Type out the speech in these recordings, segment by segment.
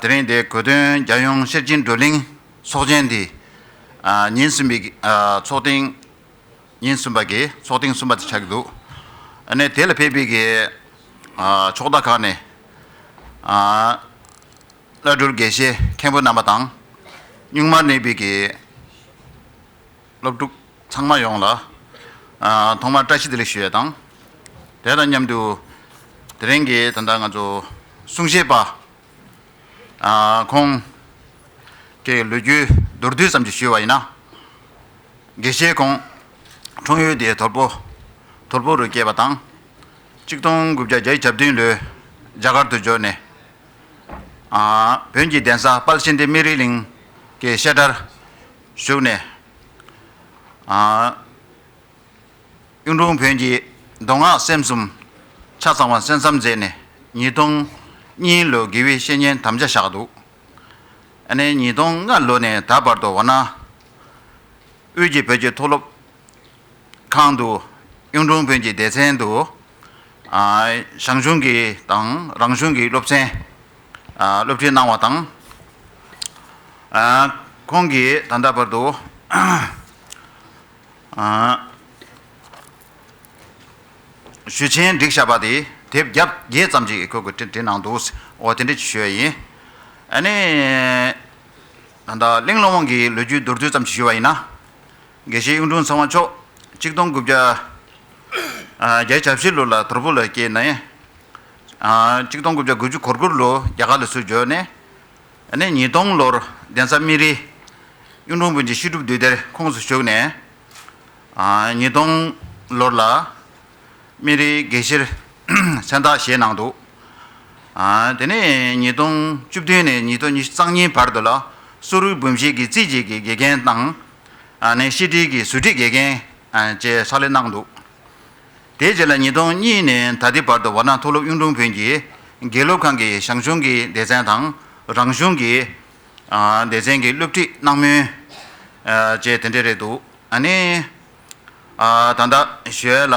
དེ་རིང་འདིའི་གོ་སྟོན་རྒྱལ་ཡོངས་ཤེར་ཕྱིན་བགྲོ་གླེང་ཚོགས་ཆེན་འདི་ཉིན་གསུམ་པའི་ཚོགས་ཐེངས་ཉིན་གསུམ་པ་གི་ཚོགས་ཐེངས་གསུམ་པ་དེ་ཆགས་ཀྱི་འདུག་ནས་དེ་ལ་ཕེབས་པའི་གི་ཕྱོགས་མཐའ་ཁག་ནས་བླ་སྤྲུལ་དགེ་བཤེས་མཁན་པོ་རྣམ་པ་དང། གཉུག་མར་གནས་པའི་གི། སློབ་ཕྲུག་ཚང་མ་ཡོངས་ལ་ཐོག་མར་བཀྲ་ཤིས་བདེ་ལེགས་ཞུ་ཡ་དང། དེ་དང་མཉམ་དུ་དེ་རིང་གི་ད་ལྟ་ང་ཚོ་གསུང་བཤད་པ་ཁོང་གི་ལོ་རྒྱུས་མདོར་བསྡུས་ཙམ་ཞིག་ཞུས་བ་ཡིན་ན། དགེ་བཤེས་ཁོང་འཁྲུངས་ཡུལ་དེ་ཐོར་བུ་ཐོར་བུ་རུ་སྐྱེས་པ་དང། གཅིག་སྟོང་དགུ་བརྒྱ་བརྒྱད་ཅུ་གྱ་བདུན་ལོའི་རྒྱ་གར་དུ་འབྱོར་ནས། བོན་གྱི་གདན་ས་དཔལ་ཆེན་སྡེ་སྨད་རི་གླིང་གི་བཤད་གྲྭར་བཞུགས་ནས། གཡུང་དྲུང་བོན་གྱི་མདོ་སྔགས་སེམས་གསུམ་ཆ་ཚང་བ་གསན་བསམ་མཛད་ནས་ཉིས་སྟོང་གཉིས་ལོའི་དགེ་བའི་བཤེས་གཉེན་དམ་བཅའ་བཞག་འདུག་ཨ་ནེ་ཉིས་སྟོང་ལྔ་ལོ་ནས་ད་བར་དུ་འོ་ན་དབུས་ཀྱི་བོད་ཀྱི་མཐོ་སློབ་ཁང་དུ། གཡུང་དྲུང་བོན་གྱི་སྡེ་ཚན་དུ། ཞང་ཞུང་གི་དང་རང་གཞུང་གི་སློབ་ཚན་སློབ་ཁྲིད་གནང་བ་དང། ཁོང་གིས་ད་ལྟ་བར་དུ། ཞུ་ཆེན་སྒྲིག་བྱ་བ་དེ་དེབ་བརྒྱ་བརྒྱད་ཙམ་ཞིག་ཁོས་བྲིས་གནང་འདུག་འོ་དེ་འདྲ་ཞིག་ཞུ་བ་ཡིན། ཨ་ནི། ད་ལྟ་གླིང་སློང་དབང་གི་ལོ་རྒྱུས་མདོར་བསྡུས་ཙམ་ཞིག་ཞུ་བ་ཡིན་ན། དགེ་བཤེས་གཡུང་དྲུང་ཚང་བ་མཆོག་གཅིག་སྟོང་དགུ་བརྒྱ། བརྒྱད་བྱ་བཞི་ལོ་ལ་དོར་པོ་ལ་སྐྱེས་ནས། གཅིག་སྟོང་དགུ་བརྒྱ་དགུ་བཅུ་གོར་དགུར་ལོ་རྒྱ་གར་ལ་སུ་འབྱོར་ནས། ནས་ཉིས་སྟོང་ལོར་གདན་ས་སྨིན་རིའི་གཡུང་དྲུང་བོན་གྱི་ཤེས་སྒྲུབ་འདུས་སྡེར་ཁོངས་སུ་ཞུགས་ནས། ཉིས་སྟོང་ལོར་ལ་སྨིན་རིའི་དགེ་བཤེར་མཚན་བཏགས་བཞེས་གནང་འདུག། དེ་ནས་ཉིས་སྟོང་བཅུ་བདུན་ནས་ཉིས་སྟོང་ཉི་ཤུ་རྩང་གཉིས་བར་དུ་ལ་སུ་རུའི་བོན་བཞེས་ཀྱི་རྩིས་བྱེད་ཀྱི་དགེ་རྒན་དང། ནས་ཤེས་དྲིལ་གྱི་ཟུར་ཁྲིད་དགེ་རྒན་བཅས་ཕྱག་ལས་གནང་འདུག་དེའི་རྗེས་ལ་ཉིས་སྟོང་གཉིས་ནས་ད་ལྟའི་བར་དུ་བར་སྣང་མཐོ་སློབ་གཡུང་དྲུང་བོན་གྱི་དགེ་སློབ་ཁང་གི་ཞང་ཞུང་གི་སྡེ་ཚན་དང་རང་གཞུང་གི་སྡེ་ཚན་གྱི་སློབ་ཁྲིད་གནང་མུས་བཅས་དེ་འདྲས་རེད་འདུག་ད་ལྟ་བཞོལ་ལ།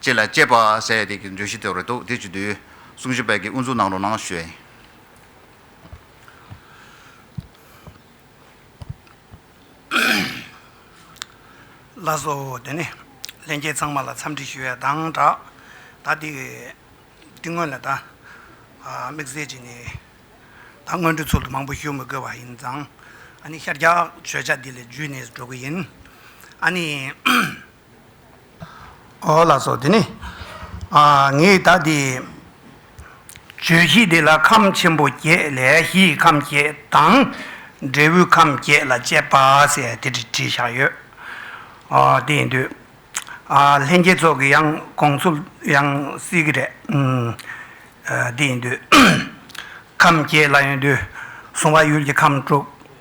ཅེས་ལ་དཔྱད་པ་ཟེར་ཡ་དེ་གི་བརྗོད་གཞི་དེ་རེད་འདུག་དེ་བྱེད་དུས་གསུང་བཤད་དཔལ་གྱི་དབུ་འཛུགས་གནང་རོགས་གནང་ཞུས། ལ་སོ་དེ་ནས་ལྷན་རྒྱས་ཚང་མ་ལ་འཚམས་འདྲི་ཞུ་བའི་གདངས་སྒྲགས། ད་དེ་འདི་སྔོན་ལ་ད་དམིགས་བསལ་གྱི་ནས་ད་སྔོན་འགྲོའི་ཚོགས་འདུ་མང་པོ་ཞུ་མི་དགོས་པ་ཡིན་ཙང་ཨ་ནི་ཤར་རྒྱག་བརྗོད་བྱ་འདི་ལས་བརྒྱུད་ནས་འགྲོ་གི་ཡིན། ཨ་ནི། ཨོ་ལ་སོགས་དེ་ནི། ངས་ད་དེ་བརྗོད་གཞི་འདི་ལ་ཁམས་ཆེན་པོ་བརྒྱད་ལས་གཞི་ཡི་ཁམས་བརྒྱད་དང། འབྲས་བུའི་ཁམས་བརྒྱད་ལ་དཔྱད་པ་ཟེར་དེ་འདྲི་བྲིས་བཞག་ཡོད། དེ་ཡིན་དུས། ལྷན་རྒྱས་ཚོགས་ཀྱི་ཡང་དགོངས་ཚུལ་ཡང་གསལ་གྱི་རེད། དེ་ཡིན་དུས། ཁམས་བརྒྱད་ལ་ཡོད་དུས་གཟུང་བ་ཡུལ་གྱི་ཁམས་དྲུག།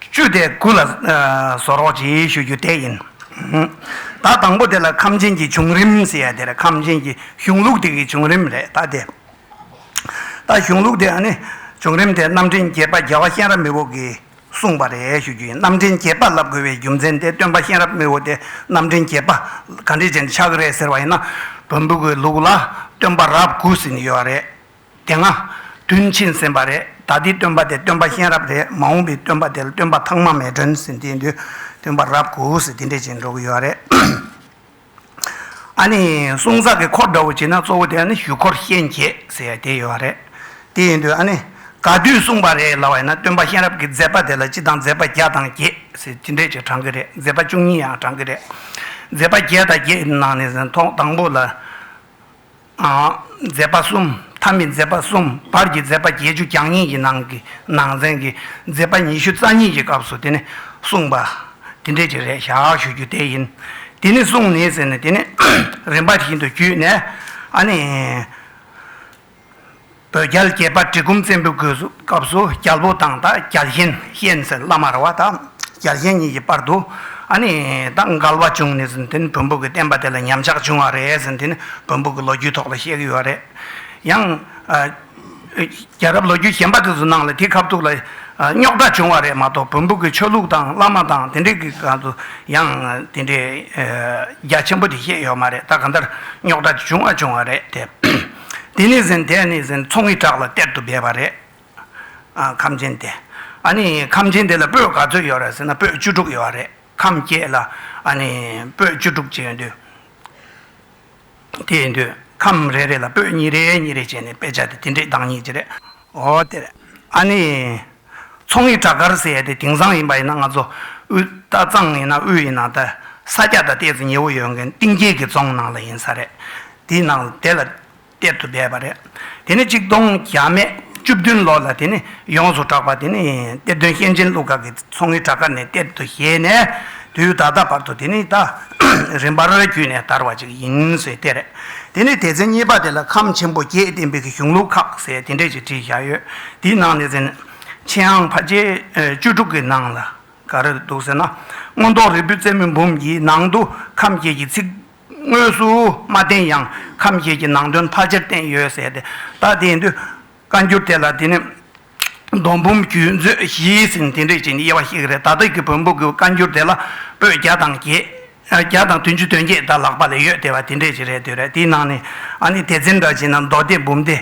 བཅུ་དེ་དགུ་ལ་བཟོ་རོགས་གྱིས་ཞུ་རྒྱུ་དེ་ཡིན། ད་དང་པོ་དེ་ལ་ཁམས་ཆེན་གྱི་བྱུང་རིམ་ཟེར་ཡ་དེ་རེད་ཁམས་ཆེན་གྱི་གཞུང་ལུགས་དེ་གི་བྱུང་རིམ་རེད་ད་དེ། ད་གཞུང་ལུགས་དེ་ནི་བྱུང་རིམ་དེ་རྣམ་འདྲེན་བརྒྱད་པ་རྒྱལ་བ་གཤེན་རབ་མི་བོ་གིས་གསུངས་པ་རེད་ཞུ་རྒྱུ་ཡིན་རྣམ་འདྲེན་བརྒྱད་པ་བསླབ་དགོས་པའི་རྒྱུ་མཚན་དེ་སྟོན་པ་གཤེན་རབ་མི་བོ་དེ་རྣམ་འདྲེན་བརྒྱད་པ་ག་འདྲས་ཅན་ཆགས་རེད་ཟེར་བ་ཡིན་ན། བོན་པོ་གི་ལུགས་ལ་སྟོན་པ་རབས་དགུ་ཟེར་ནི་ཡོད་རེད། དེ་སྔ། དུས་ཕྱིན་ཟིན་པ་རེད་ད་ལྟའི་སྟོན་པ་དེ་སྟོན་པ་གཤེན་རབ་རེད་མ་འོངས་པའི་སྟོན་པ་དེ་ལ་སྟོན་པ་ཐང་མ་མེ་སྒྲོན་ཟེར་དེའི་དུས་སྟོན་པ་རབ་གོ་ཟེར་དེ་འདྲས་བྱས་ནས་འགྲོ་གི་ཡོད་རེད། ཨ་ནི་གསུང་ཟག་གི་འཁོར་འདྲ་བོ་བྱས་ན་གཙོ་བོ་དེ་ཨ་ནི་ཞུ་འཁོར་གཤེན་བརྒྱད་ཟེར་དེ་ཡོད་རེད། དེ་ཡིན་དུས་ཨ་ནི་ག་དུས་གསུངས་པ་རེད་ལབ་བས་ན་སྟོན་པ་གཤེན་རབ་ཀྱི་མཛད་པ་དེ་ལ་སྤྱི་དང་མཛད་པ་བརྒྱ་དང་བརྒྱད་ཟེར་དེ་འདྲས་ཀྱི་བགྲང་གི་རེད་མཛད་པ་བཅུ་གཉིས་ཡང་བགྲང་གི་རེད། མཛད་པ་བརྒྱད་དང་བརྒྱད་ནང་ནས་ཟེར་ཐོག་དང་པོ་ལ། མཛད་པ་གསུམ་མཐའ་མི་མཛད་པ་གསུམ་བར་གྱི་མཛད་པ་བརྒྱད་ཅུ་གྱ་གཉིས་ཀྱི་ནང་གི་ནང་ཚན་གྱི་མཛད་པ་ཉི་ཤུ་རྩ་གཉིས་ཀྱི་སྐབས་སུ་དེ་ནི་གསུངས་པ། དེ་འབྲེལ་གྱི་རེ་བཞག་ཞུ་རྒྱུ་དེ་ཡིན། དེ་ནི་གསུངས་ནི་ཟེར་ནས་དེ་ནི་རིམ་པ་བཞིན་དུ་བརྒྱུད་ནས་ཨ་ནི། བོད་རྒྱལ་དགྱེས་པ་གྲི་གུམ་བཙན་པོའི་དགོས་སྐབས་སུ་རྒྱལ་པོ་དང་དང་རྒྱལ་གཞན་གཤེན་ཟེར་བླ་མར་བ་དང་རྒྱལ་གཞན་གཉིས་ཀྱི་བར་དུ་ཨ་ནི་དང་འགལ་བ་བྱུང་ནས་ཟིན་དེ་ནི་བོན་པོ་གི་བསྟན་པ་དེ་ལ་ཉམས་ཆག་བྱུང་བ་རེད་ཟིན་དེ་ནི་བོན་པོ་གི་ལོ་རྒྱུས་ཐོག་ལ་བཤད་ཀྱི་ཡོད་པ་རེད། ཡང། རྒྱལ་རབས་ལོ་རྒྱུས་གཞན་པ་དེ་ཚོ་ནང་ལ་དེ་ཁ་ཐུག་ལ་རྙོག་དྲ་བྱུང་བ་རེད་མ་གཏོགས་བོན་པོ་གི་ཆོས་ལུགས་དང་བླ་མ་དང་དེ་འདྲས་ཀྱི་སྐབས་སུ་ཡང་དེ་འདྲས་རྒྱ་ཆེན་པོ་དེ་བཤད་ཡོད་མ་རེད་ད་ག་འདིར་རྙོག་དྲ་བྱུང་བ་བྱུང་བ་རེད་དེ། དེ་ནས་ཟིན་དེ་ནས་ཟིན་ཚོང་གི་བྲག་ལ་གཏེར་དུ་སྦས་པ་རེད། ཁམས་ཆེན་དེ། ཨ་ནི་ཁམས་ཆེན་དེ་ལ་སྤོས་ག་ཚོད་ཡོད་རེད་ཟེར་ན་སྤོས་བཅུ་དྲུག་ཡོད་རེད་ཁམས་བརྒྱད་ལ་ཨ་ནི་སྤོས་བཅུ་དྲུག་བྱས་ཡོད་དུས། དེ་ཡིན་དུས་ཁམས་རེ་རེ་ལ་སྤོས་གཉིས་རེ་གཉིས་རེ་བྱས་ནས་དཔེ་ཆ་དེ་དེ་འདྲའི་གདངས་སྙིགས་ཀྱི་རེད། འོ་དེར་ཨ་ནི། མཚོ་ངོས་བྲག་དཀར་ཟེར་ཡ་དེ་དེང་སང་ཡིན་པ་ཡིན་ན་ང་ཚོ་དབུས་རྟ་གཙང་ཡིན་ན་དབུས་ཡིན་ན་དེ་ས་སྐྱ་དང་གཏེར་དུ་ཉེ་བོ་ཡོད་མཁན་གཏིང་སྐྱེས་ཀྱི་རྫོང་ནང་ལ་ཡིན་ས་རེད། དེའི་ནང་དེ་ལ་གཏེར་དུ་སྦས་པ་རེད། དེ་ནས་གཅིག་སྟོང་གྱ་མེད་བཅུ་བདུན་ལོ་ལ་དེ་ནི་ཡོངས་སུ་གྲགས་པ་དེ་ནི་གཏེར་སྟོན་གཤེན་ཆེན་ཀླུ་དགའ་གི་མཚོ་སྔོན་བྲག་དཀར་ནས་གཏེར་དུ་བཞེས་ནས་དུས་ད་ལྟ་བར་དུ་དེ་ནི་ད་རིན་པར་བརྒྱུད་ནས་དར་བ་ཅིག་ཡིན་ཟེར་དེ་རེད། དེ་ནི་དེ་ཚེ་གཉིས་པ་དེ་ལ་ཁམས་ཆེན་པོ་བརྒྱད་བསྟན་པའི་གཞུང་ལུགས་ཁག་ཟེར་དེ་འདྲས་ཅིག་བྲིས་བཞག་ཡོད། དེའི་ནང་ནས་ཟེར་ན། ཆེན་ཨང་བྷ་རྗེ་བཅུ་དྲུག་གི་ནང་ལ་ག་རེ་འདུག་ཟེར་ན། མངོན་རྟོགས་རིལ་བུ་རྩེ་མོ་འབུམ་གྱི་ནང་དུ་ཁམས་བརྒྱད་ཀྱི་ཚིག་དངོས་སུ་མ་བསྟན་ཡང་ཁམས་བརྒྱད་ཀྱི་ནང་དོན་མཐའ་ཅིར་བསྟན་ཡོད་ཟེར་ཏེ། ད་དེའི་འདུས་བཀའ་འགྱུར་དེ་ལ་དེ་ནི་རྡོ་འབུམ་རྒྱུད་མཛོད་བཞིའི་ཟིན་བྲིས་འགྲེལ་བྱེད་ནི་དབྱེ་བ་ཞིག་རེད་ད་ལྟ་གི་བོན་པོ་གི་བཀའ་འགྱུར་དེ་ལ་པོད་བརྒྱ་དང་བརྒྱད་དང་བདུན་ཅུ་དོན་བརྒྱད་དང་ལྷག་པ་ལས་ཡོད་དེ་བ་དེ་འགྲེལ་བྱེད་རེད་འདོད་རེད་དེའི་ནང་ནས་ཨ་ནི་དེ་ཚན་འདྲ་བྱེད་ན་མདོ་སྡེ་འབུམ་སྡེ།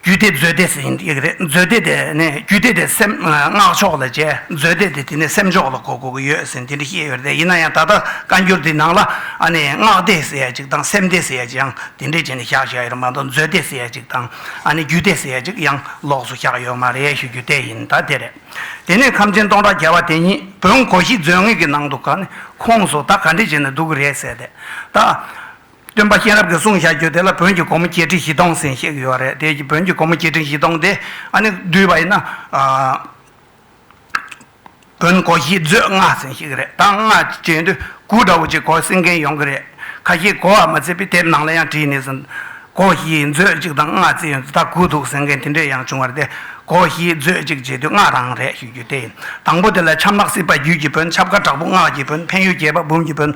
རྒྱུད་སྡེ་མཛོད་སྡེ་ཟིན་ཡིག་རེད་མཛོད་སྡེ་དེ་ནས་རྒྱུད་སྡེ་དེ་སེམས་སྔགས་ཕྱོགས་ལ་བྱས་མཛོད་སྡེ་དེ་དེ་ནས་སེམས་ཕྱོགས་ལ་གོ་དགོས་ཀྱི་ཡོད་ཟིན་དེ་འདྲ་ཤེས་ཡོད་རེད་ཡིན་ན་ཡང་ད་ལྟ་བཀའ་འགྱུར་དེའི་ནང་ལ་ཨ་ནི་སྔགས་སྡེ་ཟེར་ཡ་ཅིག་དང་སེམས་སྡེ་ཟེར་ཡ་ཅིག་ཡང་དེ་འགྲེལ་བྱེད་ནས་བཞག་བཞག་ཡོད་རེད་མ་གཏོགས་མཛོད་སྡེ་ཟེར་ཡ་ཅིག་དང། ཨ་ནི་རྒྱུད་སྡེ་ཟེར་ཅིག་ཡང་ལོགས་སུ་བཞག་ཡོད་མ་རེད་ཞུ་རྒྱུ་དེ་ཡིན་ད་དེ་རེད། དེ་ནས་ཁམས་ཆེན་སྟོང་ཕྲག་བརྒྱ་བ་དེ་ཉིད་བོན་གོ་ཤྲི་མཛོད་ངོས་ཀྱི་ནང་དུ་ག་ནི་ཁོངས་སོ་ད་ག་འདྲི་བྱེད་ནས་འདུག་གི་རེད་ཟེར་ཏེ། ད། སྟོན་པ་གཤེན་རབ་ཀྱི་གསུང་བཞག་རྒྱུ་དེ་ལ་བོན་གྱི་སྒོ་མོ་བརྒྱད་ཁྲི་བཞི་སྟོང་ཟིན་ཤེས་ཀྱི་ཡོད་རེད་དེ་བོན་གྱི་སྒོ་མོ་བརྒྱད་ཁྲི་བཞི་སྟོང་དེ་ཨ་ནི་བསྡུས་པ་ཡིན་ན། དགོན་སྒོ་བཞི་མཛོད་ལྔ་ཟིན་ཞིག་རེད་ད་སྔ་བྱས་འདོད་དགུ་འདྲ་བོ་ཅིག་གོ་སྲིད་མཁན་ཡོང་གི་རེད་ཁ་ཤས་གོ་བ་མ་བརྩིས་པའི་དེབ་ནང་ལ་ཡང་བྲིས་ནས་ཟིན། སྒོ་བཞིའི་མཛོད་གཅིག་དང་ལྔ་བརྩིས་ཡོད་འདུག་ད་དགུ་འདུག་ཟེར་མཁན་དེ་འདྲས་ཡང་བྱུང་བ་རེད་དེ་སྒོ་བཞིའི་མཛོད་གཅིག་བྱས་དུས་ལྔ་རང་རེད་ཞུ་རྒྱུ་དེ་ཡིན་དང་པོ་དེ་ལ་ཆབ་ནག་སྲིད་པ་རྒྱུད་ཀྱི་བོན་ཆབ་ཁ་དྲག་པོ་སྔགས་ཀྱི་བོན་འཕན་ཡུལ་རྒྱལ་བ་འབུམ་གྱི་བོན་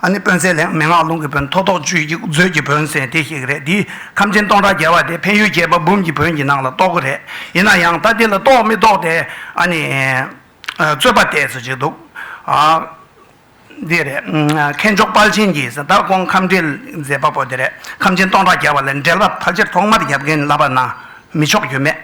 ཨ་ནི་དཔོན་གསས་ལྷན་མེད་སྔགས་ལུང་གི་བོན་ཐོག་ཐོག་ཆུད་ཅིག་མཛོད་ཀྱི་བོན་ཟེར་དེ་ཞིག་རེད་དེའི། ཁམས་ཆེན་སྟོང་ཕྲག་བརྒལ་བ་དེ་འཕན་ཡུལ་རྒྱལ་པ་འབུམ་གྱི་བོན་གྱི་ནང་ལ་གཏོགས་ཀྱི་རེད། ཡིན་ན་ཡང་ད་འདི་ལ་གཏོགས་མི་གཏོགས་དེ་ཨ་ནི། རྩོད་པ་བལྟས་ཟེར་གྱི་འདུག། འདི་རེད། མཁས་མཆོག་དཔལ་ཆེན་གྱི་ཟླ་དགོང་ཁམས་འདྲེ་མཛད་པ་པོ་དེ་རེད། ཁམས་ཆེན་སྟོང་ཕྲག་བརྒལ་བ་ལས་འདྲེ་ལབ་ཕལ་ཆེར་ཐོག་མར་རྒྱབ་རྒན་བསླབ་པ་ན་མི་ཆོག་རྒྱུ་མེད།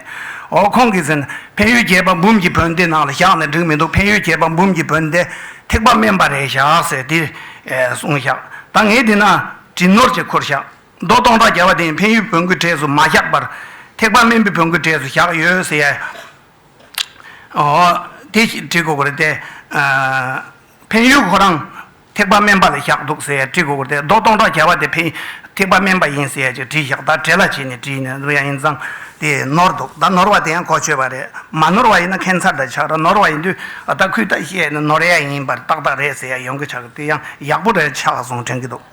འོ་ཁོང་གིས་ཟེར། འཕན་ཡུལ་རྒྱལ་པ་འབུམ་གྱི་བོན་འདི་ནང་ལ་བཞག་ནས་འགྲིག་མི་འདུག་འཕན་ཡུལ་རྒྱལ་པ་འབུམ་གྱི་བོན་དེ་ཐེག་པ་དམན་པ་རེད་བཞག་ཟེར་དེ་གསུངས་བཞག་ད་ངས་འདི་ན་བྲིས་ནོར་གྱི་ཁུར་བཞག། མདོ་སྟོང་ཕྲག་བརྒྱ་པ་དེ་འཕན་ཡུལ་བོན་སྐུའི་གྲས་སུ་མ་བཞག་པར། ཐེག་པ་སྨན་པའི་བོན་སྐུའི་གྲས་སུ་བཞག་ཡོད་ཟེར་ཡ། འོ། དེ་ཞིག་བྲི་དགོས་པ་རེད་དེ། འཕན་ཡུལ་ཁོ་རང་ཐེག་པ་སྨན་པ་ལ་བཞག་འདུག་ཟེར་ཡ་བྲི་དགོས་པ་རེད་དེ། མདོ་སྟོང་ཕྲག་བརྒྱ་པ་དེ་འཕན་ཐེག་པ་སྨན་པ་ཡིན་ཟེར་ཡ་ཅིག་བྲིས་བཞག་ད་བྲེ་ལ་བྱས་ནས་བྲིས་ནས་འདུག་ཡ་ཡིན་ཙང་དེ་ནོར་འདུག་ད་ནོར་བ་དེ་ཡང་གོ་ཆོད་པ་རེད། མ་ནོར་བ་ཡིན་ན་ཁན་མཚར་དང་ཆགས་ར་ནོར་བ་ཡིན་དུས་ཨ་ད་ཁུས་ད་བཤད་ནས་ནོར་ཡ་ཡིན་པར་ཏག་ཏག་རེད་ཟེར་ཡ་ཡོང་གི་ཆགས་གི་དེ་ཡང་ཡག་པོ་རེད་ཆགས་སོང་དྲན་གི་འདུག།